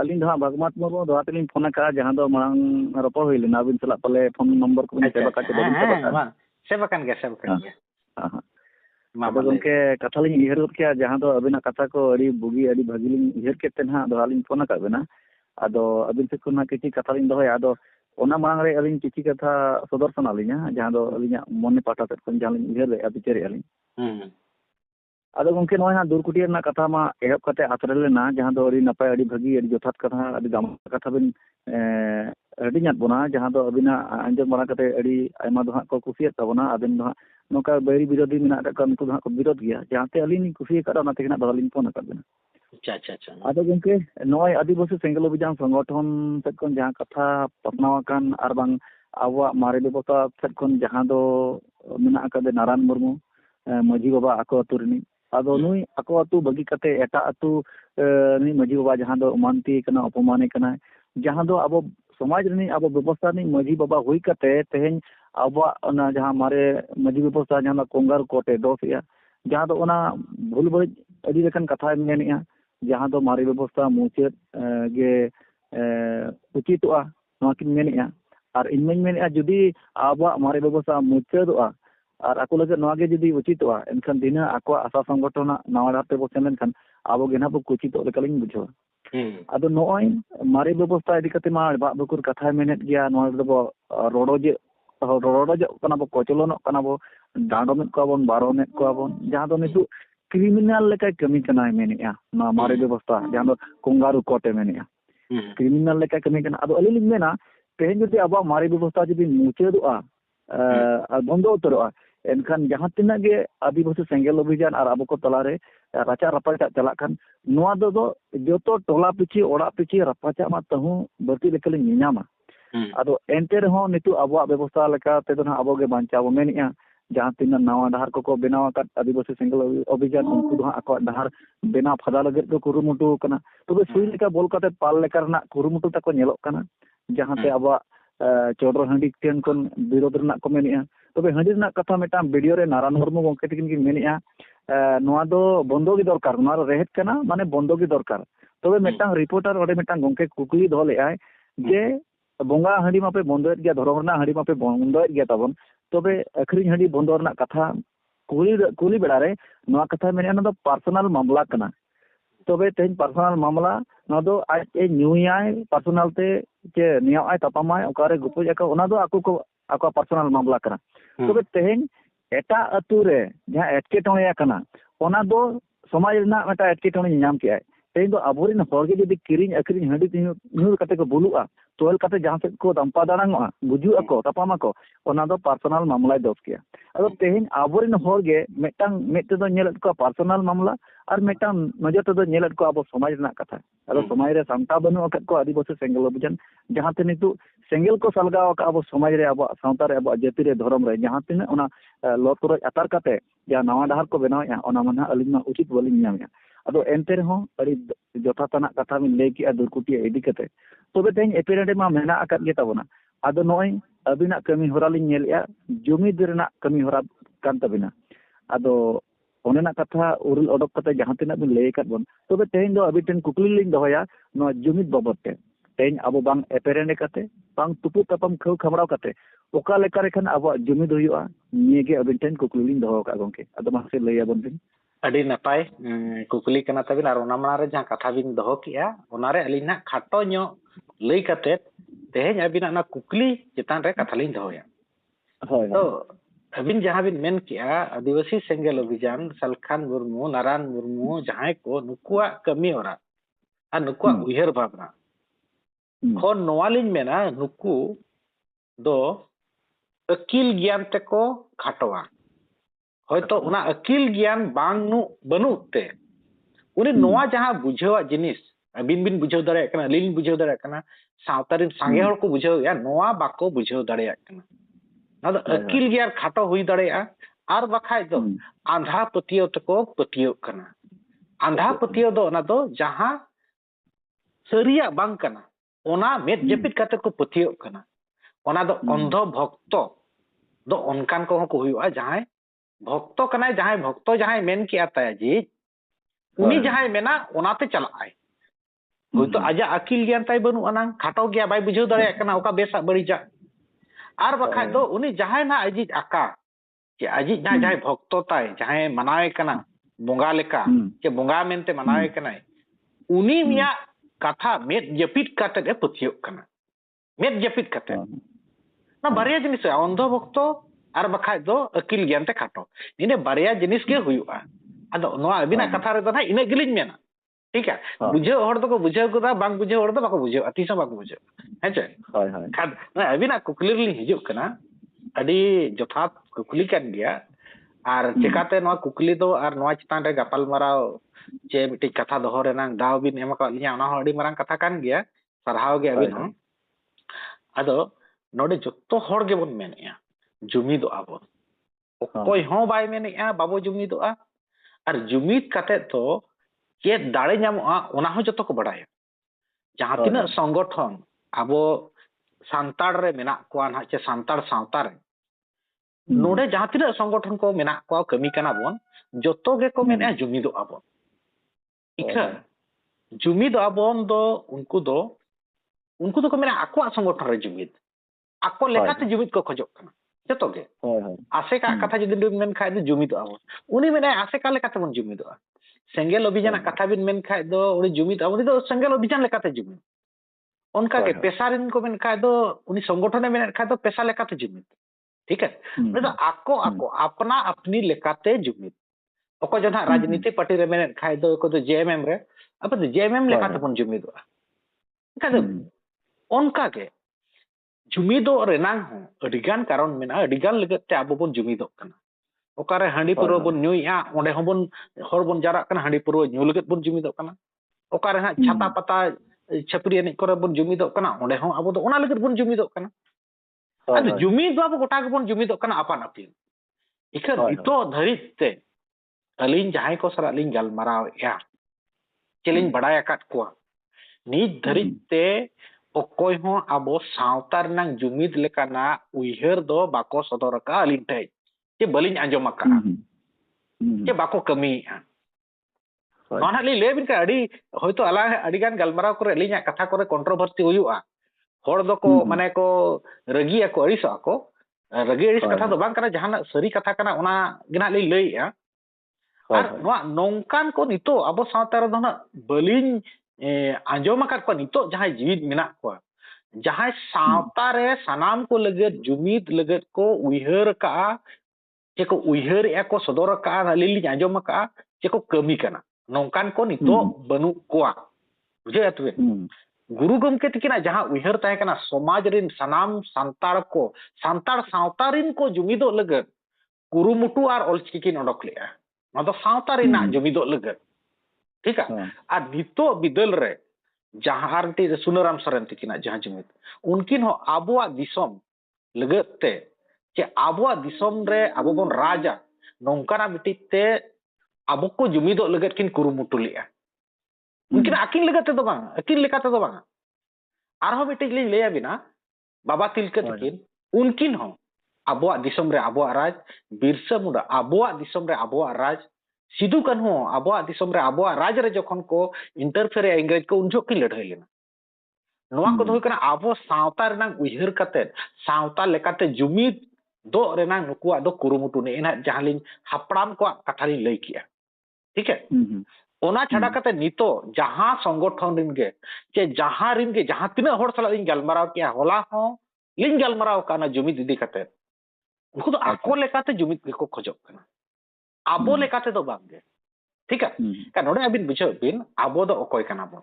ᱟᱹᱞᱤᱧ ᱫᱚ ᱦᱟᱸᱜ ᱵᱷᱟᱜᱽᱢᱟᱛ ᱢᱩᱨᱢᱩ ᱫᱚᱦᱟ ᱛᱮᱞᱤᱧ ᱯᱷᱳᱱ ᱟᱠᱟᱫᱼᱟ ᱡᱟᱦᱟᱸ ᱫᱚ ᱢᱟᱲᱟᱝ ᱨᱚᱯᱚᱲ ᱦᱩᱭ ᱞᱮᱱᱟ ᱟᱹᱵᱤᱱ ᱥᱟᱞᱟᱜ ᱯᱟᱞᱮ ᱯᱷᱳᱱ ᱱᱚᱢᱵᱚᱨ ᱠᱚᱵᱤᱱ ᱥᱮᱵᱷ ᱟᱠᱟᱫ ᱪᱮ ᱵᱟᱹᱵᱤᱱ ᱥᱮᱵᱷ ᱟᱠᱟᱫ ᱥᱮᱵᱷ ᱟᱠᱟᱱ ᱜᱮᱭᱟ ᱥᱮᱵᱷ ᱟᱠᱟᱱ ᱜᱮᱭᱟ ᱟᱫᱚ ᱜᱚᱢᱠᱮ ᱠᱟᱛᱷᱟ ᱞᱤᱧ ᱩᱭᱦᱟᱹᱨ ᱜᱚᱫ ᱠᱮᱫᱼᱟ ᱡᱟᱦᱟᱸ ᱫᱚ ᱟᱹᱵᱤᱱᱟᱜ ᱠᱟᱛᱷᱟ ᱠᱚ ᱟᱹᱰᱤ ᱵᱩᱜᱤ ᱟᱹᱰᱤ ᱵᱷᱟᱹᱜᱤ ᱞᱤᱧ ᱩᱭᱦᱟᱹᱨ ᱠᱮᱫ ᱛᱮ ᱱᱟᱦᱟᱜ ᱫᱚᱦᱲᱟ ᱞᱤᱧ ᱯᱷᱳᱱ ᱟᱠᱟᱫ ᱵᱮᱱᱟ ᱟᱫᱚ ᱟᱹᱵᱤᱱ ᱥᱮᱫ ᱠᱷᱚᱱ ᱦᱟᱸᱜ ᱠᱤᱪᱷᱩ ᱠᱟᱛᱷᱟ ᱞᱤᱧ ᱫᱚᱦᱚᱭᱟ ᱟᱫᱚ ᱚᱱᱟ ᱢᱟᱲᱟᱝ ᱨᱮ ᱟᱹᱞᱤᱧ ᱠᱤᱪᱷᱩ ᱠᱟᱛᱷᱟ ᱥᱚᱫᱚᱨ ᱥᱟᱱᱟ ᱞᱤᱧᱟ ᱡᱟᱦᱟᱸ ᱫᱚ ᱟᱹᱞᱤᱧᱟᱜ ᱢᱚᱱᱮ ᱯᱟᱦᱴᱟ ᱥᱮᱫ ᱠᱷᱚᱱ ᱡᱟᱦᱟᱸ ᱞᱤᱧ ᱩᱭᱦᱟᱹᱨ ᱞᱮᱫᱼᱟ ᱵᱤᱪᱟᱹᱨᱮᱫᱼᱟ ᱞᱤᱧ ᱟᱫᱚ ᱜᱚᱝᱠᱮ ᱱᱚᱜᱼᱚᱭ ᱦᱟᱸᱜ ᱫᱩᱨ ᱠᱩᱴᱤᱭᱟᱹ ᱨᱮᱱᱟᱜ ᱠᱟᱛᱷᱟ ᱢᱟ ᱮᱦᱚᱵ ᱠᱟᱛᱮ ᱟᱛᱨᱮ ᱞᱮᱱᱟ ᱡᱟᱦᱟᱸ ᱫᱚ ᱟᱹᱰᱤ ᱱᱟᱯᱟᱭ ᱟᱹᱰᱤ ᱵᱷᱟᱹᱜᱤ ᱟᱹᱰᱤ ᱡᱚᱛᱷᱟᱛ ᱠᱟᱛᱷᱟ ᱟᱹᱰᱤ ᱫᱟᱢᱟᱱ ᱠᱟᱛᱷᱟ ᱵᱮᱱ ᱦᱟᱹᱴᱤᱧᱟᱫ ᱵᱚᱱᱟ ᱡᱟᱦᱟᱸ ᱫᱚ ᱟᱹᱵᱤᱱᱟᱜ ᱟᱸᱡᱚᱢ ᱵᱟᱲᱟ ᱠᱟᱛᱮ ᱟᱹᱰᱤ ᱟᱭᱢᱟ ᱫᱚ ᱦᱟᱸᱜ ᱠᱚ ᱠᱩᱥᱤᱭᱟᱜ ᱛᱟᱵᱚᱱᱟ ᱟᱵᱮᱱ ᱫᱚ ᱦᱟᱸᱜ ᱱᱚᱝᱠᱟ ᱵᱟᱹᱭᱨᱤ ᱵᱤᱨᱳᱫᱷᱤ ᱢᱮᱱᱟᱜ ᱠᱟᱜ ᱠᱚᱣᱟ ᱩᱱᱠᱩ ᱫᱚ ᱦᱟᱸᱜ ᱠᱚ ᱵᱤᱨᱳᱫᱷ ᱜᱮᱭᱟ ᱡᱟᱦᱟᱸ ᱛᱮ ᱟᱹᱞᱤᱧ ᱞᱤᱧ ᱠᱩᱥᱤᱭᱟᱠᱟᱫᱼᱟ ᱚᱱᱟ ᱛᱮᱜᱮ ᱦᱟᱸᱜ ᱫᱚᱦᱲᱟ ᱞᱤᱧ ᱯᱷᱳᱱ ᱟᱠᱟᱫ ᱵᱮᱱᱟ ᱟᱪᱪᱷᱟ ᱟᱪᱪᱷᱟ ᱟᱪᱪᱷᱟ ᱟᱫᱚ ᱜᱚᱝᱠᱮ ᱱᱚᱜᱼᱚᱭ ᱟᱹᱫᱤᱵᱟᱹᱥᱤ ᱥᱮᱸᱜᱮᱞ ᱚᱵᱷᱤᱡᱟᱱ ᱥᱚᱝᱜᱚᱴᱷᱚᱱ ᱥᱮᱫ ᱠᱷᱚᱱ ᱡᱟᱦᱟᱸ ᱠᱟᱛᱷᱟ ᱯᱟᱥᱱᱟᱣ ᱟᱠᱟᱱ ᱟᱨ ᱵᱟᱝ ᱟᱵᱚᱣᱟᱜ ᱢᱟᱨᱮ ᱵᱮᱵᱚᱥᱛᱟ ᱥᱮᱫ ᱠᱷᱚᱱ ᱡᱟᱦᱟᱸ ᱫᱚ ᱢᱮᱱᱟᱜ ᱟᱠᱟᱫᱮ ᱱᱟᱨᱟᱭᱚᱱ ᱢᱩᱨᱢᱩ ᱢᱟᱹᱡᱷᱤ ᱵᱟᱵᱟ ᱟᱠᱚ ᱟᱹᱛᱩ ᱨᱤᱱᱤᱡ ᱟᱫᱚ ᱱᱩᱭ ᱟᱠᱚ ᱟᱹᱛᱩ ᱵᱟᱹᱜᱤ ᱠᱟᱛᱮ ᱮᱴᱟᱜ ᱟᱹᱛᱩ ᱱᱩᱭ ᱢᱟᱹᱡᱷᱤ ᱵᱟᱵᱟ ᱡᱟᱦᱟᱸ ᱫᱚ ᱚᱢᱟᱱᱛᱤ ᱠᱟᱱᱟ ᱚᱯᱚᱢᱟᱱᱮ ᱠᱟᱱᱟ ᱡᱟᱦᱟᱸ ᱫᱚ ᱟᱵᱚ ᱥᱚᱢᱟᱡᱽ ᱨᱤᱱᱤᱡ ᱟᱵᱚ ᱵᱮᱵᱚᱥᱛᱟ ᱨᱤᱱᱤᱡ ᱢᱟᱹᱡᱷᱤ ᱵᱟᱵᱟ ᱦᱩᱭ ᱠᱟᱛᱮ ᱛᱮᱦᱮᱧ ᱟᱵᱚᱣᱟᱜ ᱚᱱᱟ ᱡᱟᱦᱟᱸ ᱢᱟᱨᱮ ᱢᱟᱹᱡᱷᱤ ᱵᱮᱵᱚᱥᱛᱟ ᱡᱟᱦᱟᱸ ᱫᱚ ᱠᱚᱝᱜᱟᱨᱩ ᱠᱳᱨᱴ ᱮ ᱫᱚᱥᱮᱜᱼᱟ ᱡᱟᱦᱟᱸ ᱫᱚ ᱚᱱᱟ ᱵᱷᱩᱞ ᱵᱟᱹᱲᱤᱡ ᱟᱹᱰᱤ ᱞᱮᱠᱟᱱ ᱠᱟᱛᱷᱟᱭ ᱢᱮᱱᱮᱜᱼᱟ ᱡᱟᱦᱟᱸ ᱫᱚ ᱢᱟᱨᱮ ᱵᱮᱵᱚᱥᱛᱷᱟ ᱢᱩᱪᱟᱹᱫ ᱜᱮ ᱩᱪᱤᱛᱚᱜᱼᱟ ᱱᱚᱣᱟ ᱠᱤᱱ ᱢᱮᱱᱮᱜᱼᱟ ᱟᱨ ᱤᱧ ᱢᱟᱹᱧ ᱢᱮᱱᱮᱜᱼᱟ ᱡᱩᱫᱤ ᱟᱵᱚᱣᱟᱜ ᱢᱟᱨᱮ ᱵᱮᱵᱚᱥᱛᱷᱟ ᱢᱩᱪᱟᱹᱫᱚᱜᱼᱟ ᱟᱨ ᱟᱠᱚ ᱞᱟᱹᱜᱤᱫ ᱱᱚᱣᱟ ᱜᱮ ᱡᱩᱫᱤ ᱩᱪᱤᱛᱚᱜᱼᱟ ᱮᱱᱠᱷᱟᱱ ᱫᱷᱤᱱᱟᱹᱝ ᱟᱠᱚᱣᱟᱜ ᱟᱥᱟ ᱥᱚᱝᱜᱚᱴᱷᱚᱱ ᱨᱮᱱᱟᱜ ᱱᱟᱣᱟ ᱰᱟᱦᱟᱨ ᱛᱮᱵᱚᱱ ᱥᱮᱱ ᱞᱮᱱᱠᱷᱟᱱ ᱟᱵᱚ ᱜᱮ ᱱᱟᱜ ᱵᱚᱱ ᱠᱩᱪᱤᱛᱚᱜ ᱞᱮᱠᱟᱞᱤᱧ ᱵᱩᱡᱷᱟᱹᱣᱟ ᱟᱫᱚ ᱱᱚᱜᱼᱚᱭ ᱢᱟᱨᱮ ᱵᱮᱵᱚᱥᱛᱟ ᱤᱫᱤ ᱠᱟᱛᱮ ᱢᱟ ᱵᱟᱜ ᱵᱟᱹᱠᱩᱲ ᱠᱟᱛᱷᱟᱭ ᱢᱮᱱᱮᱫ ᱜᱮᱭᱟ ᱱᱚᱣᱟ ᱨᱮᱫᱚ ᱵᱚ ᱨᱚᱰᱚᱡᱮᱫ ᱨᱚᱰᱚᱡᱚᱜ ᱠᱟᱱᱟ ᱵᱚ ᱠᱚᱪᱚᱞᱚᱱᱚᱜ ᱠᱟᱱᱟ ᱵᱚ ᱰᱟᱸᱰᱚᱢᱮᱫ ᱠᱚᱣᱟ ᱵᱚᱱ ᱵᱟᱨᱚᱱᱮᱫ ᱠᱚᱣᱟ ᱵᱚᱱ ᱡᱟᱦᱟᱸ ᱫᱚ ᱱᱤᱛᱚᱜ ᱠᱨᱤᱢᱤᱱᱟᱞ ᱞᱮᱠᱟᱭ ᱠᱟᱹᱢᱤ ᱠᱟᱱᱟᱭ ᱢᱮᱱᱮᱫᱼᱟ ᱱᱚᱣᱟ ᱢᱟᱨᱮ ᱵᱮᱵᱚᱥᱛᱟ ᱡᱟᱦᱟᱸ ᱫᱚ ᱠᱚᱝᱜᱟᱨᱩ ᱠᱚᱴᱮ ᱢᱮᱱᱮᱫᱼᱟ ᱠᱨᱤᱢᱤᱱᱟᱞ ᱞᱮᱠᱟᱭ ᱠᱟᱹᱢᱤ ᱠᱟᱱᱟ ᱟᱫᱚ ᱟᱹᱞᱤᱧ ᱞᱤᱧ ᱢᱮᱱᱟ ᱛᱮᱦᱮᱧ ᱡᱩᱫᱤ ᱟᱵᱚᱣᱟᱜ ᱢᱟᱨᱮ ᱵᱮᱵᱚᱥᱛᱟ ᱡᱩᱫᱤ ᱢᱩᱪᱟᱹᱫᱚᱜᱼᱟ ᱵᱚᱱᱫᱚ ᱩᱛᱟᱹᱨᱚᱜᱼᱟ ᱮᱱᱠᱷᱟᱱ ᱡᱟᱦᱟᱸ ᱛᱤᱱᱟᱹᱜ ᱜᱮ ᱟᱹᱫᱤᱵᱟᱹᱥᱤ ᱥᱮᱸᱜᱮᱞ ᱚᱵᱷᱤᱡᱟᱱ ᱟᱨ ᱟᱵᱚ ᱠᱚ ᱛᱟᱞᱟᱨᱮ ᱨᱟᱪᱟᱜ ᱨᱟᱯᱟᱪᱟᱜ ᱪᱟᱞᱟᱜ ᱠᱟᱱ ᱱᱚᱣᱟ ᱫᱚ ᱡᱚᱛᱚ ᱴᱚᱞᱟ ᱯᱤᱪᱷᱤ ᱚᱲᱟᱜ ᱯᱤᱪᱷᱤ ᱨᱟᱯᱟᱪᱟᱜ ᱢᱟ ᱛᱟᱹᱦᱩ ᱵᱟᱹᱲᱛᱤ ᱞᱮᱠᱟᱞᱤᱧ ᱧᱮᱧᱟᱢᱟ ᱟᱫᱚ ᱮᱱᱛᱮ ᱨᱮᱦᱚᱸ ᱱᱤᱛᱚᱜ ᱟᱵᱚᱣᱟᱜ ᱵᱮᱵᱚᱥᱛᱷᱟ ᱞᱮᱠᱟ ᱛᱮᱫᱚ ᱱᱟᱦᱟᱜ ᱟᱵᱚᱜᱮ ᱵᱟᱧᱪᱟᱣ ᱵᱚ ᱢᱮᱱᱮᱫᱼᱟ ᱡᱟᱦᱟᱸ ᱛᱤᱱᱟᱹᱜ ᱱᱟᱣᱟ ᱰᱟᱦᱟᱨ ᱠᱚᱠᱚ ᱵᱮᱱᱟᱣ ᱟᱠᱟᱫ ᱟᱹᱫᱤᱵᱟᱹᱥᱤ ᱥᱮᱸᱜᱮᱞ ᱚᱵᱷᱤᱡᱟᱱ ᱩᱱᱠᱩ ᱫᱚ ᱦᱟᱸᱜ ᱟᱠᱚᱣᱟᱜ ᱰᱟᱦᱟᱨ ᱵᱮᱱᱟᱣ ᱯᱷᱟᱫᱟ ᱞᱟᱹᱜᱤᱫ ᱠᱚ ᱠᱩᱨᱩᱢᱩᱴᱩ ᱟᱠᱟᱱᱟ ᱛᱚᱵᱮ ᱥᱩᱭ ᱞᱮᱠᱟ ᱵᱚᱞ ᱠᱟᱛᱮ ᱯᱟᱞ ᱞᱮᱠᱟ ᱨᱮᱱᱟᱜ ᱠᱩᱨᱩᱢᱩᱴᱩ ᱛᱟᱠᱚ ᱧᱮᱞᱚᱜ ᱠᱟᱱᱟ ᱡᱟᱦᱟᱸ ᱛᱮ ᱟᱵᱚᱣᱟᱜ ᱪᱚᱰᱚᱨ ᱦᱟᱺᱰᱤ ᱴᱷᱮᱱ ᱠᱷᱚᱱ ᱵᱤᱨᱳᱫᱷ ᱨᱮᱱᱟᱜ ᱠᱚ ᱢᱮᱱᱮᱜᱼᱟ ᱛᱚᱵᱮ ᱦᱟᱺᱰᱤ ᱨᱮᱱᱟᱜ ᱠᱟᱛᱷᱟ ᱢᱤᱫᱴᱟᱝ ᱵᱷᱤᱰᱤᱭᱳ ᱨᱮ ᱱᱟᱨᱟᱱ ᱢᱩᱨᱢᱩ ᱜᱚᱝᱠᱮ ᱛᱟᱹᱠᱤᱱ ᱠᱤᱱ ᱢᱮᱱᱮᱜᱼᱟ ᱱᱚᱣᱟ ᱫᱚ ᱵᱚᱱᱫᱚ ᱜᱮ ᱫᱚᱨᱠᱟᱨ ᱱᱚᱣᱟ ᱫᱚ ᱨᱮᱦᱮᱫ ᱠᱟᱱᱟ ᱢᱟᱱᱮ ᱵᱚᱱᱫᱚ ᱜᱮ ᱫᱚᱨᱠᱟᱨ ᱛᱚᱵᱮ ᱢᱤᱫᱴᱟᱝ ᱨᱤᱯᱳᱨᱴᱟᱨ ᱚᱸᱰᱮ ᱢᱤᱫᱴᱟᱝ ᱜᱚᱝᱠᱮ ᱠᱩᱠᱞᱤ ᱫᱚᱦᱚ ᱞᱮᱜᱼᱟᱭ ᱡᱮ ᱵᱚᱸᱜᱟ ᱦᱟᱺᱰᱤ ᱢᱟᱯᱮ ᱵᱚᱱᱫᱚᱭᱮᱫ ᱜᱮᱭᱟ ᱫᱷᱚᱨᱚᱢ ᱨᱮᱱᱟᱜ ᱦᱟᱺᱰᱤ ᱢᱟᱯᱮ ᱵᱚᱱᱫᱚᱭᱮᱫ ᱜᱮᱭᱟ ᱛᱟᱵᱚᱱ ᱛᱚᱵᱮ ᱟᱹᱠᱷᱨᱤᱧ ᱦᱟᱺᱰᱤ ᱵᱚᱱᱫᱚ ᱨᱮᱱᱟᱜ ᱠᱟᱛᱷᱟ ᱠᱩᱞᱤ ᱫᱚ ᱠᱩᱞᱤ ᱵᱮᱲᱟ ᱨᱮ ᱱᱚᱣᱟ ᱠᱟᱛᱷᱟ ᱢᱮᱱᱮᱜᱼᱟ ᱱᱚᱣᱟ ᱫᱚ ᱯᱟᱨᱥᱚᱱᱟᱞ ᱢᱟᱢᱞᱟ ᱠᱟᱱᱟ ᱛᱚᱵᱮ ᱛᱮᱦᱮᱧ ᱯᱟᱨᱥᱚᱱᱟᱞ ᱢᱟᱢᱞᱟ ᱱᱚᱣᱟ ᱫᱚ ᱟᱡ ᱮ ᱧᱩᱭᱟᱭ ᱯᱟᱨᱥᱚᱱᱟᱞ ᱛᱮ ᱪᱮ ᱱᱮᱭᱟᱣ ᱟᱭ ᱛᱟᱯᱟᱢᱟᱭ ᱚᱠᱟᱨᱮ ᱜᱩᱯᱩᱡ ᱟᱠᱚ ᱚᱱᱟ ᱫᱚ ᱟᱠᱚ ᱠᱚ ᱟᱠᱚᱣᱟᱜ ᱯᱟᱨᱥᱚᱱᱟᱞ ᱢᱟᱢᱞᱟ ᱠᱟᱱᱟ ᱛᱚᱵᱮ ᱛᱮᱦᱮᱧ ᱮᱴᱟᱜ ᱟᱹᱛᱩ ᱨᱮ ᱡᱟᱦᱟᱸ ᱮᱴᱠᱮᱴᱚᱬᱮ ᱟᱠᱟᱱᱟ ᱚᱱᱟ ᱫᱚ ᱥᱚᱢᱟᱡᱽ ᱨᱮᱱᱟᱜ ᱢᱤᱫᱴᱟᱝ ᱮᱴᱠᱮᱴᱚᱬᱮ ᱧᱟᱢ ᱠᱮᱜᱼᱟᱭ ᱛᱮᱦᱮᱧ ᱫᱚ ᱟᱵᱚᱨᱮᱱ ᱦᱚᱲ ᱜᱮ ᱡᱩᱫᱤ ᱠᱤᱨᱤᱧ ᱟᱹᱠᱷᱨᱤᱧ ᱦᱟᱺᱰᱤ ᱧᱩ ᱠᱟᱛᱮ ᱠᱚ ᱵᱩᱞᱩᱜᱼᱟ ᱛᱚᱞ ᱠᱟᱛᱮ ᱡᱟᱦᱟᱸ ᱥᱮᱫ ᱠᱚ ᱫᱟᱢᱯᱟ ᱫᱟᱲᱟᱝᱚᱜᱼᱟ ᱜᱩᱡᱩᱜ ᱟᱠᱚ ᱛᱟᱯᱟᱢ ᱟᱠᱚ ᱚᱱᱟ ᱫᱚ ᱯᱟᱨᱥᱚᱱᱟᱞ ᱢᱟᱢᱞᱟᱭ ᱫᱚᱥ ᱠᱮᱭᱟ ᱟᱫᱚ ᱛᱮᱦᱮᱧ ᱟᱵᱚᱨᱮᱱ ᱦᱚᱲ ᱜᱮ ᱢᱤᱫᱴᱟᱝ ᱢᱮᱫ ᱛᱮᱫᱚ ᱧᱮᱞᱮᱫ ᱠᱚᱣᱟ ᱯᱟᱨᱥᱚᱱᱟᱞ ᱢᱟᱢᱞᱟ ᱟᱨ ᱢᱤᱫᱴᱟᱝ ᱱᱚᱡᱚᱨ ᱛᱮᱫᱚ ᱧᱮᱞᱮᱫ ᱠᱚᱣᱟ ᱟᱵᱚ ᱥᱚᱢᱟᱡᱽ ᱨᱮᱱᱟᱜ ᱠᱟᱛᱷᱟ ᱟᱫᱚ ᱥᱚᱢᱟᱡᱽ ᱨᱮ ᱥᱟᱢᱴᱟᱣ ᱵᱟᱹᱱᱩᱜ ᱟᱠᱟᱫ ᱠᱚᱣᱟ ᱟᱹᱫᱤᱵᱟᱹᱥᱤ ᱥᱮᱸᱜᱮᱞ ᱚᱵᱷᱤᱡᱟᱱ ᱡᱟᱦᱟᱸ ᱛᱮ ᱱᱤᱛᱚᱜ ᱥᱮᱸᱜᱮᱞ ᱠᱚ ᱥᱟᱞᱜᱟᱣ ᱟᱠᱟᱫ ᱟᱵᱚ ᱥᱚᱢᱟᱡᱽ ᱨᱮ ᱟᱵᱚᱣᱟᱜ ᱥᱟᱶᱛᱟ ᱨᱮ ᱟᱵᱚᱣᱟᱜ ᱡᱟᱹᱛᱤ ᱨᱮ ᱫᱷᱚᱨᱚᱢ ᱨᱮ ᱡᱟᱦᱟᱸ ᱛᱤᱱᱟᱹᱜ ᱚᱱᱟ ᱞᱚ ᱛᱚᱨᱚᱡ ᱟᱛᱟᱨ ᱠᱟᱛᱮ ᱡᱟᱦᱟᱸ ᱱᱟᱣᱟ ᱰᱟᱦᱟᱨ ᱠᱚ ᱵᱮᱱᱟᱣᱮᱫᱼᱟ ᱚᱱᱟ ᱢᱟ ᱱᱟᱦᱟᱜ ᱟᱹᱞᱤᱧ ᱢᱟ ᱩᱪᱤᱛ ᱵᱟᱹᱞᱤᱧ ᱧᱟᱢᱮᱫᱼᱟ ᱟᱫᱚ ᱮᱱᱛᱮ ᱨᱮᱦᱚᱸ ᱟᱹᱰᱤ ᱡᱚᱛᱷᱟᱛᱟᱱᱟᱜ ᱠᱟᱛᱷᱟ ᱵᱤᱱ ᱞᱟᱹᱭ ᱠᱮᱜᱼᱟ ᱫᱩᱨᱠᱩᱴᱤᱭᱟᱹ ᱤᱫᱤ ᱠᱟᱛᱮ ᱛᱚᱵᱮ ᱛᱮᱦᱮᱧ ᱮᱯᱮᱨᱦᱮᱸᱰᱮ ᱢᱟ ᱢᱮᱱᱟᱜ ᱟᱠᱟᱫ ᱜᱮ ᱛᱟᱵᱚᱱᱟ ᱟᱫᱚ ᱱᱚᱜᱼᱚᱭ ᱟᱹᱵᱤᱱᱟᱜ ᱠᱟᱹᱢᱤ ᱦᱚᱨᱟ ᱞᱤᱧ ᱧᱮᱞᱮᱜᱼᱟ ᱡᱩᱢᱤᱫ ᱨᱮᱱᱟᱜ ᱠᱟᱹᱢᱤ ᱦᱚᱨᱟ ᱠᱟᱱ ᱛᱟᱵᱤᱱᱟ ᱟᱫᱚ ᱚᱱᱮᱱᱟᱜ ᱠᱟᱛᱷᱟ ᱩᱨᱩᱞ ᱚᱰᱚᱠ ᱠᱟᱛᱮ ᱡᱟᱦᱟᱸ ᱛᱤᱱᱟᱹᱜ ᱵᱤᱱ ᱞᱟᱹᱭ ᱟᱠᱟᱫ ᱵᱚᱱ ᱛᱚᱵᱮ ᱛᱮᱦᱮᱧ ᱫᱚ ᱟᱹᱵᱤᱱ ᱴᱷᱮᱱ ᱠᱩᱠᱞᱤ ᱞᱤᱧ ᱫᱚᱦᱚᱭᱟ ᱱᱚᱣᱟ ᱡᱩᱢᱤᱫ ᱵᱟᱵᱚᱫ ᱛᱮ ᱛᱮᱦᱮᱧ ᱟᱵᱚ ᱵᱟᱝ ᱮᱯᱮᱨᱮᱱᱰᱮ ᱠᱟᱛᱮ ᱵᱟᱝ ᱛᱩᱯᱩ ᱛᱟᱯᱟᱢ ᱠᱷᱟᱹᱣ ᱠᱷᱟᱢᱲᱟᱣ ᱠᱟᱛᱮ ᱚᱠᱟ ᱞᱮᱠᱟ ᱨᱮᱠᱷᱟᱱ ᱟᱵᱚᱣᱟᱜ ᱡᱩᱢᱤᱫ ᱦᱩᱭᱩᱜᱼᱟ ᱱᱤᱭᱟᱹ ᱜᱮ ᱟᱹᱵᱤᱱ ᱴᱷᱮᱱ ᱠᱩᱠᱞᱤ ᱞᱤᱧ ᱫᱚᱦᱚ ᱟᱠᱟᱫ ᱜᱚᱝᱠᱮ ᱟᱫᱚ ᱢᱟᱥᱮ ᱞᱟᱹᱭ ᱟᱵᱚᱱ ᱵᱤᱱ ᱟᱹᱰᱤ ᱱᱟᱯᱟᱭ ᱠᱩᱠᱞᱤ ᱠᱟᱱᱟ ᱛᱟᱵᱤᱱ ᱟᱨ ᱚᱱᱟ ᱢᱟᱲᱟᱝ ᱨᱮ ᱡᱟᱦᱟᱸ ᱠᱟᱛᱷᱟ ᱵᱤᱱ ᱫᱚᱦᱚ ᱠᱮᱜᱼᱟ ᱚᱱᱟᱨᱮ ᱟᱹᱞᱤᱧ ᱱᱟᱜ ᱠᱷᱟᱴᱚ ᱧᱚᱜ ᱞᱟᱹᱭ ᱠᱟᱛᱮ ᱛᱮᱦᱮᱧ ᱟᱹᱵᱤᱱᱟᱜ ᱚᱱᱟ ᱠᱩᱠᱞᱤ ᱪᱮᱛᱟᱱ ᱨᱮ ᱠᱟᱛᱷᱟ ᱞᱤᱧ ᱫᱚᱦᱚᱭᱟ ᱦᱳᱭ ᱛᱚ ᱟᱹᱵᱤᱱ ᱡᱟᱦᱟᱸ ᱵᱤᱱ ᱢᱮᱱ ᱠᱮᱜᱼᱟ ᱟᱹᱫᱤᱵᱟᱹᱥᱤ ᱥᱮᱸᱜᱮᱞ ᱚᱵᱷᱤᱡᱟᱱ ᱥᱟᱞᱠᱷᱟᱱ ᱢᱩᱨᱢᱩ ᱱᱟᱨᱟᱭᱚᱱ ᱢᱩᱨᱢᱩ ᱡᱟᱦᱟᱸᱭ ᱠᱚ ᱱᱩᱠᱩᱣᱟᱜ ᱠᱟᱹᱢᱤ ᱦᱚᱨᱟ ᱟᱨ ᱱᱩᱠᱩᱣᱟᱜ ᱩᱭᱦᱟᱹᱨ ᱵᱷᱟᱵᱽᱱᱟ ᱠᱷᱚᱱ ᱱᱚᱣᱟ ᱞᱤᱧ ᱢᱮᱱᱟ ᱱᱩᱠᱩ ᱫᱚ ᱟᱹᱠᱤᱞ ᱜᱮᱭᱟᱱ ᱛᱮᱠᱚ ᱠᱷᱟᱴᱚᱣᱟ ᱦᱚᱭᱛᱚ ᱚᱱᱟ ᱟᱹᱠᱤᱞ ᱜᱮᱭᱟᱱ ᱵᱟᱝ ᱵᱟᱹᱱᱩᱜ ᱛᱮ ᱩᱱᱤ ᱱᱚᱣᱟ ᱡᱟᱦᱟᱸ ᱵᱩᱡᱷᱟᱹᱣᱟᱜ ᱡᱤᱱᱤᱥ ᱟᱹᱵᱤᱱ ᱵᱤᱱ ᱵᱩᱡᱷᱟᱹᱣ ᱫᱟᱲᱮᱭᱟᱜ ᱠᱟᱱᱟ ᱟᱹᱞᱤᱧ ᱞᱤᱧ ᱵᱩᱡᱷᱟᱹᱣ ᱫᱟᱲᱮᱭᱟᱜ ᱠᱟᱱᱟ ᱥᱟᱶᱛᱟ ᱨᱮᱱ ᱥᱟᱸᱜᱮ ᱦᱚᱲ ᱠᱚ ᱵᱩᱡᱷᱟᱹᱣᱮᱫᱼᱟ ᱱᱚᱣᱟ ᱵᱟᱠᱚ ᱵᱩᱡᱷᱟᱹᱣ ᱫᱟᱲᱮᱭᱟᱜ ᱠᱟᱱᱟ ᱱᱚᱣᱟ ᱫᱚ ᱟᱹᱠᱤᱞ ᱜᱮᱭᱟᱱ ᱠᱷᱟᱴᱚ ᱦᱩᱭ ᱫᱟᱲᱮᱭᱟᱜᱼᱟ ᱟᱨ ᱵᱟᱠᱷᱟᱡ ᱫᱚ ᱟᱸᱫᱷᱟ ᱯᱟᱹᱛᱭᱟᱹᱣ ᱛᱮᱠᱚ ᱯᱟᱹᱛᱭᱟᱹᱣᱜ ᱠᱟᱱᱟ ᱟᱸᱫᱷᱟ ᱯᱟᱹᱛᱭᱟᱹᱣ ᱫᱚ ᱚᱱᱟ ᱫᱚ ᱡᱟᱦᱟᱸ ᱥᱟᱹᱨᱤᱭᱟᱜ ᱵᱟᱝ ᱠᱟᱱᱟ ᱚᱱᱟ ᱢᱮᱫ ᱡᱟᱹᱯᱤᱫ ᱠᱟᱛᱮ ᱠᱚ ᱯᱟᱹᱛᱭᱟᱹᱜ ᱠᱟᱱᱟ ᱚᱱᱟ ᱫᱚ ᱚᱱᱫᱷᱚ ᱵᱷᱚᱠᱛᱚ ᱫᱚ ᱚᱱᱠᱟᱱ ᱠᱚᱦᱚᱸ ᱠᱚ ᱦᱩᱭᱩᱜᱼᱟ ᱡᱟᱦᱟᱸᱭ ᱵᱷᱚᱠᱛᱚ ᱠᱟᱱᱟᱭ ᱡᱟᱦᱟᱸᱭ ᱵᱷᱚᱠᱛᱚ ᱡᱟᱦᱟᱸᱭ ᱢᱮᱱ ᱠᱮᱜᱼᱟ ᱛᱟᱭ ᱡᱮ ᱩᱱᱤ ᱡᱟᱦᱟᱸᱭ ᱢᱮᱱᱟ ᱚᱱᱟᱛᱮ ᱪᱟᱞᱟᱜ ᱟᱭ ᱦᱳᱭᱛᱳ ᱟᱡᱟᱜ ᱟᱹᱠᱤᱞ ᱜᱮᱭᱟᱱ ᱛᱟᱭ ᱵᱟᱹᱱᱩᱜ ᱟᱱᱟᱝ ᱠᱷᱟᱴᱚ ᱜᱮᱭᱟ ᱵᱟᱭ ᱵᱩᱡᱷᱟᱹᱣ ᱫᱟᱲᱮᱭᱟᱜ ᱠᱟᱱᱟ ᱚᱠᱟ ᱵᱮᱥᱟᱜ ᱵᱟᱹᱲᱤᱡᱟᱜ ᱟᱨ ᱵᱟᱠᱷᱟᱡ ᱫᱚ ᱩᱱᱤ ᱡᱟᱦᱟᱸᱭ ᱱᱟᱜ ᱟᱡᱤᱡ ᱟᱠᱟ ᱡᱮ ᱟᱡᱤᱡ ᱡᱟᱦᱟᱸᱭ ᱡᱟᱦᱟᱸᱭ ᱵᱷᱚᱠᱛᱚ ᱛᱟᱭ ᱡᱟᱦᱟᱸᱭ ᱢᱟᱱᱟᱣᱮ ᱠᱟᱱᱟ ᱵᱚᱸᱜᱟ ᱞᱮᱠᱟ ᱡᱮ ᱵᱚᱸᱜᱟ ᱢᱮᱱᱛᱮ ᱢᱟᱱᱟᱣᱮ ᱠᱟᱱᱟᱭ ᱩᱱᱤ ᱢᱮᱭᱟᱜ ᱠᱟᱛᱷᱟ ᱢᱮᱫ ᱡᱟᱹᱯᱤᱫ ᱠᱟᱛᱮ ᱮ ᱯᱟᱹᱛᱭᱟᱹᱜ ᱠᱟᱱᱟ ᱢᱮᱫ ᱡᱟᱹᱯᱤᱫ ᱠᱟᱛᱮ ᱚᱱᱟ ᱵᱟᱨᱭᱟ ᱡᱤᱱᱤᱥ ᱦᱩᱭᱩᱜᱼᱟ ᱚᱱᱫᱷᱚ ᱵᱷᱚᱠᱛᱚ ᱟᱨ ᱵᱟᱠᱷᱟᱡ ᱫᱚ ᱟᱹᱠᱤᱞ ᱜᱮᱭᱟᱱ ᱛᱮ ᱠᱷᱟᱴᱚ ᱤᱱᱟᱹ ᱵᱟᱨᱭᱟ ᱡᱤᱱᱤᱥ ᱜᱮ ᱦᱩᱭᱩᱜᱼᱟ ᱟᱫᱚ ᱱᱚᱣᱟ ᱟᱹᱵᱤᱱᱟᱜ ᱠᱟᱛᱷᱟ ᱨᱮᱫᱚ ᱱᱟᱦᱟᱜ ᱤᱱᱟᱹᱜ ᱜᱮᱞᱤᱧ ᱢᱮᱱᱟ ᱴᱷᱤᱠ ᱜᱮᱭᱟ ᱵᱩᱡᱷᱟᱹᱣ ᱦᱚᱲ ᱫᱚᱠᱚ ᱵᱩᱡᱷᱟᱹᱣ ᱜᱚᱫᱟ ᱵᱟᱝ ᱵᱩᱡᱷᱟᱹᱣ ᱦᱚᱲ ᱫᱚ ᱵᱟᱠᱚ ᱵᱩᱡᱷᱟᱹᱣᱟ ᱛᱤᱥ ᱦᱚᱸ ᱵᱟᱠᱚ ᱵᱩᱡᱷᱟᱹᱣᱟ ᱦᱮᱸ ᱪᱮ ᱦᱳᱭ ᱦᱳᱭ ᱠᱷᱟᱱ ᱟᱹᱵᱤᱱᱟᱜ ᱠᱩᱠᱞᱤ ᱨᱮᱞᱤᱧ ᱦᱤᱡᱩᱜ ᱠᱟᱱᱟ ᱟᱹᱰᱤ ᱡᱚᱛᱷᱟᱛ ᱠᱩᱠᱞᱤ ᱠᱟᱱ ᱜᱮᱭᱟ ᱟᱨ ᱪᱮᱠᱟᱛᱮ ᱱᱚᱣᱟ ᱠᱩᱠᱞᱤ ᱫᱚ ᱟᱨ ᱱᱚᱣᱟ ᱪᱮᱛᱟᱱ ᱨᱮ ᱜᱟᱯᱟᱞᱢᱟᱨᱟᱣ ᱪᱮ ᱢᱤᱫᱴᱤᱡ ᱠᱟᱛᱷᱟ ᱫᱚᱦᱚ ᱨᱮᱱᱟᱝ ᱫᱟᱣ ᱵᱤᱱ ᱮᱢ ᱟᱠᱟᱫ ᱞᱤᱧᱟ ᱚᱱᱟ ᱦᱚᱸ ᱟᱹᱰᱤ ᱢᱟᱨᱟᱝ ᱠᱟᱛᱷᱟ ᱠᱟᱱ ᱜᱮᱭᱟ ᱥᱟᱨᱦᱟᱣ ᱜᱮ ᱟᱹᱵᱤᱱ ᱦᱚᱸ ᱟᱫᱚ ᱱᱚᱰᱮ ᱡᱚᱛᱚ ᱦᱚᱲ ᱜᱮᱵᱚᱱ ᱢᱮᱱᱮᱜᱼᱟ ᱡᱩᱢᱤᱫᱚᱜᱼᱟ ᱵᱚᱱ ᱚᱠᱚᱭ ᱦᱚᱸ ᱵᱟᱭ ᱢᱮᱱᱮᱜᱼᱟ ᱵᱟᱵᱚ ᱡᱩᱢᱤᱫᱚᱜᱼᱟ ᱟᱨ ᱡᱩᱢᱤᱫ ᱠᱟᱛᱮᱫ ᱫᱚ ᱪᱮᱫ ᱫᱟᱲᱮ ᱧᱟᱢᱚᱜᱼᱟ ᱚᱱᱟ ᱦᱚᱸ ᱡᱚᱛᱚ ᱠᱚ ᱵᱟᱲᱟᱭᱟ ᱡᱟᱦᱟᱸ ᱛᱤᱱᱟᱹᱜ ᱥᱚᱝᱜᱚᱴᱷᱚᱱ ᱟᱵᱚ ᱥᱟᱱᱛᱟᱲ ᱨᱮ ᱢᱮᱱᱟᱜ ᱠᱚᱣᱟ ᱱᱟᱦᱟᱜ ᱪᱮ ᱥᱟᱱᱛᱟᱲ ᱥᱟᱶᱛᱟ ᱨᱮ ᱱᱚᱰᱮ ᱡᱟᱦᱟᱸ ᱛᱤᱱᱟᱹᱜ ᱥᱚᱝᱜᱚᱴᱷᱚᱱ ᱠᱚ ᱢᱮᱱᱟᱜ ᱠᱚᱣᱟ ᱠᱟᱹᱢᱤ ᱠᱟᱱᱟ ᱵᱚᱱ ᱡᱚᱛᱚ ᱜᱮᱠᱚ ᱢᱮᱱᱮᱜᱼᱟ ᱡᱩᱢᱤᱫᱚᱜᱼᱟ ᱵᱚᱱ ᱤᱠᱷᱟᱹᱱ ᱡᱩᱢᱤᱫ ᱟᱵᱚᱱ ᱫᱚ ᱩᱱᱠᱩ ᱫᱚ ᱩᱱᱠᱩ ᱫᱚᱠᱚ ᱢᱮᱱᱟ ᱟᱠᱚᱣᱟᱜ ᱥᱚᱝᱜᱚᱴᱷᱚᱱ ᱨᱮ ᱡᱩᱢᱤᱫ ᱟᱠᱚ ᱞᱮᱠᱟᱛᱮ ᱡᱩᱢᱤᱫ ᱠᱚ ᱠᱷᱚᱡᱚᱜ ᱠᱟᱱᱟ ᱡᱚᱛᱚ ᱜᱮ ᱟᱥᱮᱠᱟ ᱠᱟᱛᱷᱟ ᱡᱩᱫᱤ ᱵᱤᱱ ᱢᱮᱱ ᱠᱷᱟᱡ ᱫᱚ ᱡᱩᱢᱤᱫᱚᱜᱼᱟ ᱵᱚᱱ ᱩᱱᱤ ᱢᱮᱱᱟᱭ ᱟᱥᱮᱠᱟ ᱞᱮᱠᱟᱛᱮ ᱵᱚᱱ ᱡᱩᱢᱤᱫᱚᱜᱼᱟ ᱥᱮᱸᱜᱮᱞ ᱚᱵᱷᱤᱡᱟᱱᱟᱜ ᱠᱟᱛᱷᱟ ᱵᱤᱱ ᱢᱮᱱ ᱠᱷᱟᱡ ᱫᱚ ᱩᱱᱤ ᱡᱩᱢᱤᱫ ᱟᱵᱚᱱ ᱫᱚ ᱥᱮᱸᱜᱮᱞ ᱚᱵᱷᱤᱡᱟᱱ ᱞᱮᱠᱟᱛᱮ ᱡᱩᱢᱤᱫ ᱚᱱᱠᱟᱜᱮ ᱯᱮᱥᱟ ᱨᱮᱱ ᱠᱚ ᱢᱮᱱ ᱠᱷᱟᱡ ᱫᱚ ᱩᱱᱤ ᱥᱚᱝᱜᱚᱴᱷᱚᱱᱮ ᱢᱮᱱᱮᱫ ᱠᱷᱟᱡ ᱫᱚ ᱯᱮᱥᱟ ᱞᱮᱠᱟᱛᱮ ᱡᱩᱢᱤᱫ ᱴᱷᱤᱠ ᱟᱪᱷᱮ ᱚᱱᱟ ᱫᱚ ᱟᱠᱚ ᱟᱠᱚ ᱟᱯᱱᱟ ᱟᱯᱱᱤ ᱞᱮᱠᱟᱛᱮ ᱡᱩᱢᱤᱫ ᱚᱠᱚᱭ ᱡᱮ ᱱᱟᱦᱟᱜ ᱨᱟᱡᱽᱱᱤᱛᱤ ᱯᱟᱨᱴᱤ ᱨᱮ ᱢᱮᱱᱮᱫ ᱠᱷᱟᱡ ᱫᱚ ᱚᱠᱚᱭ ᱫᱚ ᱡᱮ ᱮᱢ ᱮᱢ ᱨᱮ ᱟᱵᱚ ᱫᱚ ᱡᱮ ᱮᱢ ᱮᱢ ᱞᱮᱠᱟ ᱛᱮᱵᱚᱱ ᱡᱩᱢᱤᱫᱚᱜᱼᱟ ᱮᱱᱠᱷᱟᱱ ᱫᱚ ᱚᱱᱠᱟ ᱜᱮ ᱡᱩᱢᱤᱫᱚᱜ ᱨᱮᱱᱟᱝ ᱦᱚᱸ ᱟᱹᱰᱤᱜᱟᱱ ᱠᱟᱨᱚᱱ ᱢᱮᱱᱟᱜᱼᱟ ᱟᱹᱰᱤᱜᱟᱱ ᱞᱟᱹᱜᱤᱫ ᱛᱮ ᱟᱵᱚ ᱵᱚᱱ ᱡᱩᱢᱤᱫᱚᱜ ᱠᱟᱱᱟ ᱚᱠᱟᱨᱮ ᱦᱟᱺᱰᱤ ᱯᱟᱹᱣᱨᱟᱹ ᱵᱚᱱ ᱧᱩᱭᱮᱫᱼᱟ ᱚᱸᱰᱮ ᱦᱚᱸᱵᱚᱱ ᱦᱚᱲ ᱵᱚᱱ ᱡᱟᱣᱨᱟᱜ ᱠᱟᱱᱟ ᱦᱟᱺᱰᱤ ᱯᱟᱹᱣᱨᱟᱹ ᱧᱩ ᱞᱟᱹᱜᱤᱫ ᱵᱚᱱ ᱡᱩᱢᱤᱫᱚᱜ ᱠᱟᱱᱟ ᱚᱠᱟᱨᱮ ᱦᱟᱸᱜ ᱪᱷᱟᱛᱟ ᱯᱟᱛᱟ ᱪᱷᱟᱹᱯᱨᱤ ᱮᱱᱮᱡ ᱠᱚᱨᱮ ᱵᱚᱱ ᱡᱩᱢᱤᱫᱚᱜ ᱠᱟᱱᱟ ᱚᱸᱰᱮ ᱦᱚᱸ ᱟᱵᱚ ᱫᱚ ᱚᱱᱟ ᱞᱟᱹᱜᱤᱫ ᱵᱚᱱ ᱡᱩᱢᱤᱫᱚᱜ ᱠᱟᱱᱟ ᱟᱫᱚ ᱡᱩᱢᱤᱫ ᱫᱚ ᱟᱵᱚ ᱜᱚᱴᱟ ᱜᱮᱵᱚᱱ ᱡᱩᱢᱤᱫᱚᱜ ᱠᱟᱱᱟ ᱟᱯᱟᱱ ᱟᱹᱯᱤᱱ ᱤᱠᱷᱟᱹᱱ ᱱᱤᱛᱚᱜ ᱫᱷᱟᱹᱨᱤᱡ ᱛᱮ ᱟᱹᱞᱤᱧ ᱡᱟᱦᱟᱸᱭ ᱠᱚ ᱥᱟᱞᱟᱜ ᱞᱤᱧ ᱜᱟᱞᱢᱟᱨᱟᱣᱮᱫᱼᱟ ᱪᱮᱫ ᱞᱤᱧ ᱵᱟᱰᱟᱭ ᱟᱠᱟᱫ ᱠᱚᱣᱟ ᱱᱤᱛ ᱫᱷᱟᱹᱨᱤᱡ ᱛᱮ ᱚᱠᱚᱭ ᱦᱚᱸ ᱟᱵᱚ ᱥᱟᱶᱛᱟ ᱨᱮᱱᱟᱝ ᱡᱩᱢᱤᱫ ᱞᱮᱠᱟᱱᱟᱜ ᱩᱭᱦᱟᱹᱨ ᱫᱚ ᱵᱟᱠᱚ ᱥᱚᱫᱚᱨ ᱟᱠᱟᱫᱼᱟ ᱟᱹᱞᱤᱧ ᱴᱷᱮᱡ ᱪᱮ ᱵᱟᱹᱞᱤᱧ ᱟᱸᱡᱚᱢ ᱟᱠᱟᱫᱼᱟ ᱪᱮ ᱵᱟᱠᱚ ᱠᱟᱹᱢᱤᱭᱮᱫᱼᱟ ᱱᱚᱣᱟ ᱦᱟᱸᱜ ᱞᱤᱧ ᱞᱟᱹᱭᱟᱵᱤᱱ ᱠᱟᱱᱟ ᱟᱹᱰᱤ ᱦᱳᱭᱛᱳ ᱟᱞᱟᱝ ᱟᱹᱰᱤᱜᱟᱱ ᱜᱟᱞᱢᱟᱨᱟᱣ ᱠᱚᱨᱮ ᱟᱹᱞᱤᱧᱟᱜ ᱠᱟᱛᱷᱟ ᱠᱚᱨᱮ ᱠᱚᱱᱴᱨᱳᱵᱷᱟᱨᱥᱤ ᱦᱩᱭᱩᱜᱼᱟ ᱦᱚᱲ ᱫᱚᱠᱚ ᱢᱟᱱᱮ ᱠᱚ ᱨᱟᱹᱜᱤ ᱟᱠᱚ ᱟᱹᱲᱤᱥᱚᱜ ᱟᱠᱚ ᱨᱟᱹᱜᱤ ᱟᱹᱲᱤᱥ ᱠᱟᱛᱷᱟ ᱫᱚ ᱵᱟᱝ ᱠᱟᱱᱟ ᱡᱟᱦᱟᱱᱟᱜ ᱥᱟᱹᱨᱤ ᱠᱟᱛᱷᱟ ᱠᱟᱱᱟ ᱚᱱᱟ ᱜᱮ ᱱᱟᱦᱟᱜ ᱞᱤᱧ ᱞᱟᱹᱭᱮᱜᱼᱟ ᱟᱨ ᱱᱚᱣᱟ ᱱᱚᱝᱠᱟᱱ ᱠᱚ ᱱᱤᱛᱚᱜ ᱟᱵᱚ ᱥᱟᱶᱛᱟ ᱨᱮᱫᱚ ᱱᱟᱜ ᱵᱟᱹᱞᱤᱧ ᱟᱸᱡᱚᱢ ᱟᱠᱟᱫ ᱠᱚᱣᱟ ᱱᱤᱛᱚᱜ ᱡᱟᱦᱟᱸᱭ ᱡᱤᱣᱤᱫ ᱢᱮᱱᱟᱜ ᱠᱚᱣᱟ ᱡᱟᱦᱟᱸᱭ ᱥᱟᱶᱛᱟ ᱨᱮ ᱥᱟᱱᱟᱢ ᱠᱚ ᱞᱟᱹᱜᱤᱫ ᱡᱩᱢᱤᱫ ᱞᱟᱹᱜᱤᱫ ᱠᱚ ᱩᱭᱦᱟᱹᱨ ᱟᱠᱟᱜᱼᱟ ᱪᱮᱫ ᱠᱚ ᱩᱭᱦᱟᱹᱨᱮᱜᱼᱟ ᱠᱚ ᱥᱚᱫᱚᱨ ᱟᱠᱟᱫᱼᱟ ᱟᱹᱞᱤᱧ ᱞᱤᱧ ᱟᱸᱡᱚᱢ ᱟᱠᱟᱫᱼᱟ ᱪᱮᱫ ᱠᱚ ᱠᱟᱹᱢᱤ ᱠᱟᱱᱟ ᱱᱚᱝᱠᱟᱱ ᱠᱚ ᱱᱤᱛᱚᱜ ᱵᱟᱹᱱᱩᱜ ᱠᱚᱣᱟ ᱵᱩᱡᱷᱟᱹᱣ ᱛᱚᱵᱮ ᱜᱩᱨᱩ ᱜᱚᱢᱠᱮ ᱛᱤᱠᱤᱱᱟᱜ ᱡᱟᱦᱟᱸ ᱩᱭᱦᱟᱹᱨ ᱛᱟᱦᱮᱸ ᱠᱟᱱᱟ ᱥᱚᱢᱟᱡᱽ ᱨᱤᱱ ᱥᱟᱱᱟᱢ ᱥᱟᱱᱛᱟᱲ ᱠᱚ ᱥᱟᱱᱛᱟᱲ ᱥᱟᱶᱛᱟ ᱨᱤᱱ ᱠᱚ ᱡᱩᱢᱤᱫᱚᱜ ᱞᱟᱹᱜᱤᱫ ᱠᱩᱨᱩᱢᱩᱴᱩ ᱟᱨ ᱚᱞᱪᱤᱠᱤ ᱠᱤᱱ ᱚᱰᱚᱠ ᱞᱮᱫᱼᱟ ᱱᱚᱣᱟ ᱫᱚ ᱥᱟᱶᱛᱟ ᱨᱮᱱᱟᱜ ᱡᱩᱢᱤᱫᱚᱜ ᱞᱟᱹᱜᱤᱫ ᱴᱷᱤᱠᱟ ᱟᱨ ᱱᱤᱛᱚᱜ ᱵᱤᱫᱟᱹᱞ ᱨᱮ ᱡᱟᱦᱟᱸ ᱟᱨ ᱢᱤᱫᱴᱤᱡ ᱥᱩᱱᱟᱹᱨᱟᱢ ᱥᱚᱨᱮᱱ ᱛᱤᱠᱤᱱᱟᱜ ᱡᱟᱦᱟᱸ ᱡᱩᱢᱤᱫ ᱩᱱᱠᱤᱱ ᱦᱚᱸ ᱟᱵᱚᱣᱟᱜ ᱫᱤᱥᱚᱢ ᱞᱟᱹᱜᱤᱫ ᱛᱮ ᱡᱮ ᱟᱵᱚᱣᱟᱜ ᱫᱤᱥᱚᱢ ᱨᱮ ᱟᱵᱚ ᱵᱚᱱ ᱨᱟᱡᱟ ᱱᱚᱝᱠᱟᱱᱟᱜ ᱢᱤᱫᱴᱤᱡ ᱛᱮ ᱟᱵᱚ ᱠᱚ ᱡᱩᱢᱤᱫᱚᱜ ᱞᱟᱹᱜᱤᱫ ᱠᱤᱱ ᱠᱩᱨᱩᱢᱩᱴᱩ ᱞᱮᱫᱼᱟ ᱩᱱᱠᱤᱱ ᱟᱹᱠᱤᱱ ᱞᱟᱹᱜᱤᱫ ᱛᱮᱫᱚ ᱵᱟᱝ ᱟᱹᱠᱤᱱ ᱞᱮᱠᱟ ᱛᱮᱫᱚ ᱵᱟᱝ ᱟᱨᱦᱚᱸ ᱢᱤᱫᱴᱤᱡ ᱞᱤᱧ ᱞᱟᱹᱭ ᱟᱵᱤᱱᱟ ᱵᱟᱵᱟ ᱛᱤᱞᱠᱟᱹ ᱛᱟᱹᱠᱤᱱ ᱩᱱᱠᱤᱱ ᱦᱚᱸ ᱟᱵᱚᱣᱟᱜ ᱫᱤᱥᱚᱢ ᱨᱮ ᱟᱵᱚᱣᱟᱜ ᱨᱟᱡᱽ ᱵᱤᱨᱥᱟᱹ ᱢᱩᱰᱟ ᱟᱵᱚᱣᱟᱜ ᱫᱤᱥᱚᱢ ᱨᱮ ᱟᱵᱚᱣᱟᱜ ᱨᱟᱡᱽ ᱥᱤᱫᱩ ᱠᱟᱹᱱᱦᱩ ᱟᱵᱚᱣᱟᱜ ᱫᱤᱥᱚᱢ ᱨᱮ ᱟᱵᱚᱣᱟᱜ ᱨᱟᱡᱽ ᱨᱮ ᱡᱚᱠᱷᱚᱱ ᱠᱚ ᱤᱱᱴᱟᱨᱯᱷᱮᱨ ᱤᱝᱨᱮᱡᱽ ᱠᱚ ᱩᱱ ᱡᱚᱠᱷᱚᱱ ᱠᱤᱱ ᱞᱟᱹᱲᱦᱟᱹᱭ ᱞᱮᱱᱟ ᱱᱚᱣᱟ ᱠᱚᱫᱚ ᱦᱩᱭᱩᱜ ᱠᱟᱱᱟ ᱟᱵᱚ ᱥᱟᱶᱛᱟ ᱨᱮᱱᱟᱜ ᱩᱭᱦᱟᱹᱨ ᱠᱟᱛᱮ ᱥᱟᱶᱛᱟ ᱞᱮᱠᱟᱛᱮ ᱡᱩᱢᱤᱫ ᱫᱚᱜ ᱨᱮᱱᱟᱜ ᱱᱩᱠᱩᱣᱟᱜ ᱫᱚ ᱠᱩᱨᱩᱢᱩᱴᱩ ᱱᱮᱜᱼᱮ ᱱᱟᱦᱟᱜ ᱡᱟᱦᱟᱸ ᱞᱤᱧ ᱦᱟᱯᱲᱟᱢ ᱠᱚᱣᱟᱜ ᱠᱟᱛᱷᱟ ᱞᱤᱧ ᱞᱟᱹᱭ ᱠᱮᱜᱼᱟ ᱴᱷᱤᱠ ᱜᱮᱭᱟ ᱚᱱᱟ ᱪᱷᱟᱰᱟ ᱠᱟᱛᱮ ᱱᱤᱛᱚᱜ ᱡᱟᱦᱟᱸ ᱥᱚᱝᱜᱚᱴᱷᱚᱱ ᱨᱤᱱ ᱜᱮ ᱪᱮ ᱡᱟᱦᱟᱸ ᱨᱤᱱ ᱜᱮ ᱡᱟᱦᱟᱸ ᱛᱤᱱᱟᱹᱜ ᱦᱚᱲ ᱥᱟᱞᱟᱜ ᱞᱤᱧ ᱜᱟᱞᱢᱟᱨᱟᱣ ᱠᱮᱜᱼᱟ ᱦᱚᱞᱟ ᱦᱚᱸ ᱞᱤᱧ ᱜᱟᱞᱢᱟᱨᱟᱣ ᱠᱟᱜᱼᱟ ᱚᱱᱟ ᱡᱩᱢᱤᱫ ᱤᱫᱤ ᱠᱟᱛᱮ ᱩᱱᱠᱩ ᱫᱚ ᱟᱠᱚ ᱞᱮᱠᱟᱛᱮ ᱡᱩᱢᱤᱫ ᱜᱮᱠᱚ ᱠᱷᱚᱡᱚᱜ ᱠᱟᱱᱟ ᱟᱵᱚ ᱞᱮᱠᱟᱛᱮ ᱫᱚ ᱵᱟᱝ ᱜᱮ ᱴᱷᱤᱠ ᱟ ᱱᱚᱰᱮ ᱟᱹᱵᱤᱱ ᱵᱩᱡᱷᱟᱹᱣ ᱵᱤᱱ ᱟᱵᱚ ᱫᱚ ᱚᱠᱚᱭ ᱠᱟᱱᱟ ᱵᱚᱱ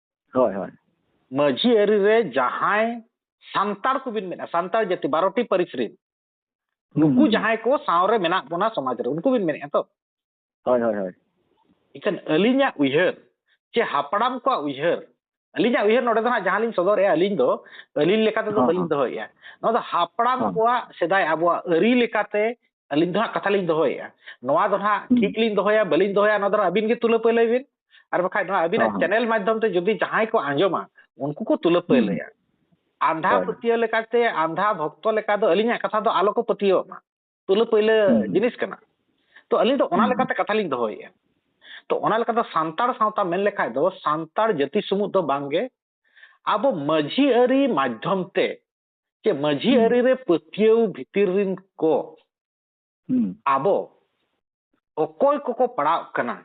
ᱦᱳᱭ ᱦᱳᱭ ᱢᱟᱹᱡᱷᱤ ᱟᱹᱨᱤ ᱨᱮ ᱡᱟᱦᱟᱸᱭ ᱥᱟᱱᱛᱟᱲ ᱠᱚᱵᱤᱱ ᱢᱮᱱᱟ ᱥᱟᱱᱛᱟᱲ ᱡᱟᱹᱛᱤ ᱵᱟᱨᱚᱴᱤ ᱯᱟᱹᱨᱤᱥ ᱨᱮᱱ ᱱᱩᱠᱩ ᱡᱟᱦᱟᱸᱭ ᱠᱚ ᱥᱟᱶᱨᱮ ᱢᱮᱱᱟᱜ ᱵᱚᱱᱟ ᱥᱚᱢᱟᱡᱽ ᱨᱮ ᱩᱱᱠᱩ ᱵᱤᱱ ᱢᱮᱱᱮᱫᱼᱟ ᱛᱚ ᱦᱳᱭ ᱦᱳᱭ ᱦᱳᱭ ᱤᱠᱷᱟᱹᱱ ᱟᱹᱞᱤᱧᱟᱜ ᱩᱭᱦᱟᱹᱨ ᱪᱮ ᱦᱟᱯᱲᱟᱢ ᱠᱚᱣᱟᱜ ᱩᱭᱦᱟᱹᱨ ᱟᱹᱞᱤᱧᱟᱜ ᱩᱭᱦᱟᱹᱨ ᱱᱚᱰᱮ ᱫᱚ ᱦᱟᱸᱜ ᱡᱟᱦᱟᱸ ᱞᱤᱧ ᱥᱚᱫᱚᱨᱮᱜᱼᱟ ᱟᱹᱞᱤᱧ ᱫᱚ ᱟᱹᱞᱤᱧ ᱞᱮᱠᱟ ᱛᱮᱫᱚ ᱵᱟᱹᱞᱤᱧ ᱫᱚᱦᱚᱭᱮᱜᱼᱟ ᱱᱚᱣᱟ ᱫᱚ ᱦᱟᱯᱲᱟᱢ ᱠᱚᱣᱟᱜ ᱥᱮᱫᱟᱭ ᱟᱵᱚᱣᱟᱜ ᱟᱹᱨᱤ ᱞᱮᱠᱟᱛᱮ ᱟᱹᱞᱤᱧ ᱫᱚ ᱦᱟᱸᱜ ᱠᱟᱛᱷᱟ ᱞᱤᱧ ᱫᱚᱦᱚᱭᱮᱫᱼᱟ ᱱᱚᱣᱟ ᱫᱚ ᱦᱟᱸᱜ ᱴᱷᱤᱠ ᱞᱤᱧ ᱫᱚᱦᱚᱭᱟ ᱵᱟᱹᱞᱤᱧ ᱫᱚᱦᱚᱭᱟ ᱱᱚᱣᱟ ᱫᱚ ᱟᱹᱵᱤᱱ ᱜᱮ ᱛᱩᱞᱟᱹ ᱯᱟᱹᱭᱞᱟᱹᱭ ᱵᱤᱱ ᱟᱨ ᱵᱟᱠᱷᱟᱡ ᱱᱚᱣᱟ ᱟᱹᱵᱤᱱᱟᱜ ᱪᱮᱱᱮᱞ ᱢᱟᱫᱽᱫᱷᱚᱢ ᱛᱮ ᱡᱩᱫᱤ ᱡᱟᱦᱟᱸᱭ ᱠᱚ ᱟᱸᱡᱚᱢᱟ ᱩᱱᱠᱩ ᱠᱚ ᱛᱩᱞᱟᱹ ᱯᱟᱹᱭᱞᱟᱹᱭᱟ ᱟᱸᱫᱷᱟ ᱯᱟᱹᱛᱭᱟᱹᱣ ᱞᱮᱠᱟᱛᱮ ᱟᱸᱫᱷᱟ ᱵᱷᱚᱠᱛᱚ ᱞᱮᱠᱟ ᱫᱚ ᱟᱹᱞᱤᱧᱟᱜ ᱠᱟᱛᱷᱟ ᱫᱚ ᱟᱞᱚ ᱠᱚ ᱯᱟᱹᱛᱭᱟᱹᱣᱟᱜ ᱢᱟ ᱛᱩᱞᱟᱹ ᱯᱟᱹᱭᱞᱟᱹ ᱡᱤᱱᱤᱥ ᱠᱟᱱᱟ ᱛᱚ ᱟᱹᱞᱤᱧ ᱫᱚ ᱚᱱᱟ ᱞᱮᱠᱟᱛᱮ ᱠᱟᱛᱷᱟ ᱞᱤᱧ ᱫᱚᱦᱚᱭᱮᱫᱼᱟ ᱛᱚ ᱚᱱᱟ ᱞᱮᱠᱟᱛᱮ ᱥᱟᱱᱛᱟᱲ ᱥᱟᱶᱛᱟ ᱢᱮᱱ ᱞᱮᱠᱷᱟᱡ ᱫᱚ ᱥᱟᱱᱛᱟᱲ ᱡᱟᱹᱛᱤ ᱥᱩᱢᱩᱝ ᱫᱚ ᱵᱟᱝᱜᱮ ᱟᱵᱚ ᱢᱟᱹᱡᱷᱤ ᱟᱹᱨᱤ ᱢᱟᱫᱽᱫᱷᱚᱢ ᱛᱮ ᱡᱮ ᱢᱟᱹᱡᱷᱤ ᱟᱹᱨᱤ ᱨᱮ ᱯᱟᱹᱛᱭᱟᱹᱣ ᱵᱷᱤᱛᱤᱨ ᱨᱤᱱ ᱠᱚ ᱟᱵᱚ ᱚᱠᱚᱭ ᱠᱚᱠᱚ ᱯᱟᱲᱟᱣ ᱠᱟᱱᱟ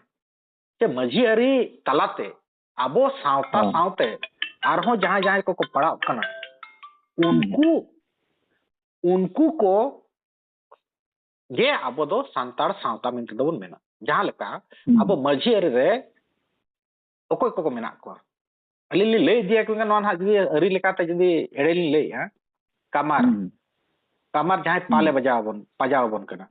ᱡᱮ ᱢᱟᱹᱡᱷᱤ ᱟᱹᱨᱤ ᱛᱟᱞᱟᱛᱮ ᱟᱵᱚ ᱥᱟᱶᱛᱟ ᱥᱟᱶᱛᱮ ᱟᱨᱦᱚᱸ ᱡᱟᱦᱟᱸᱭ ᱡᱟᱦᱟᱸᱭ ᱠᱚᱠᱚ ᱯᱟᱲᱟᱣ ᱠᱟᱱᱟ ᱩᱱᱠᱩ ᱩᱱᱠᱩ ᱠᱚ ᱜᱮ ᱟᱵᱚ ᱫᱚ ᱥᱟᱱᱛᱟᱲ ᱥᱟᱶᱛᱟ ᱢᱮᱱᱛᱮ ᱫᱚᱵᱚᱱ ᱢᱮᱱᱟ ᱡᱟᱦᱟᱸ ᱞᱮᱠᱟ ᱟᱵᱚ ᱢᱟᱹᱡᱷᱤ ᱟᱹᱨᱤ ᱨᱮ ᱚᱠᱚᱭ ᱠᱚᱠᱚ ᱢᱮᱱᱟᱜ ᱠᱚᱣᱟ ᱟᱹᱞᱤᱧ ᱞᱤᱧ ᱞᱟᱹᱭ ᱤᱫᱤᱭᱟ ᱠᱤᱱᱛᱩ ᱱᱚᱣᱟ ᱱᱟᱦᱟᱜ ᱡᱩᱫᱤ ᱟᱹᱨᱤ ᱞᱮᱠᱟᱛᱮ ᱡᱩᱫᱤ ᱮᱲᱮ ᱞᱤᱧ ᱞᱟᱹᱭᱮᱜᱼᱟ ᱠᱟᱢᱟᱨ ᱠᱟᱢᱟᱨ ᱡᱟᱦᱟᱸᱭ ᱯᱟᱞᱮ ᱵᱟᱡᱟᱣ ᱟᱵᱚᱱ ᱯᱟᱡᱟᱣ ᱟᱵᱚᱱ ᱠᱟᱱᱟ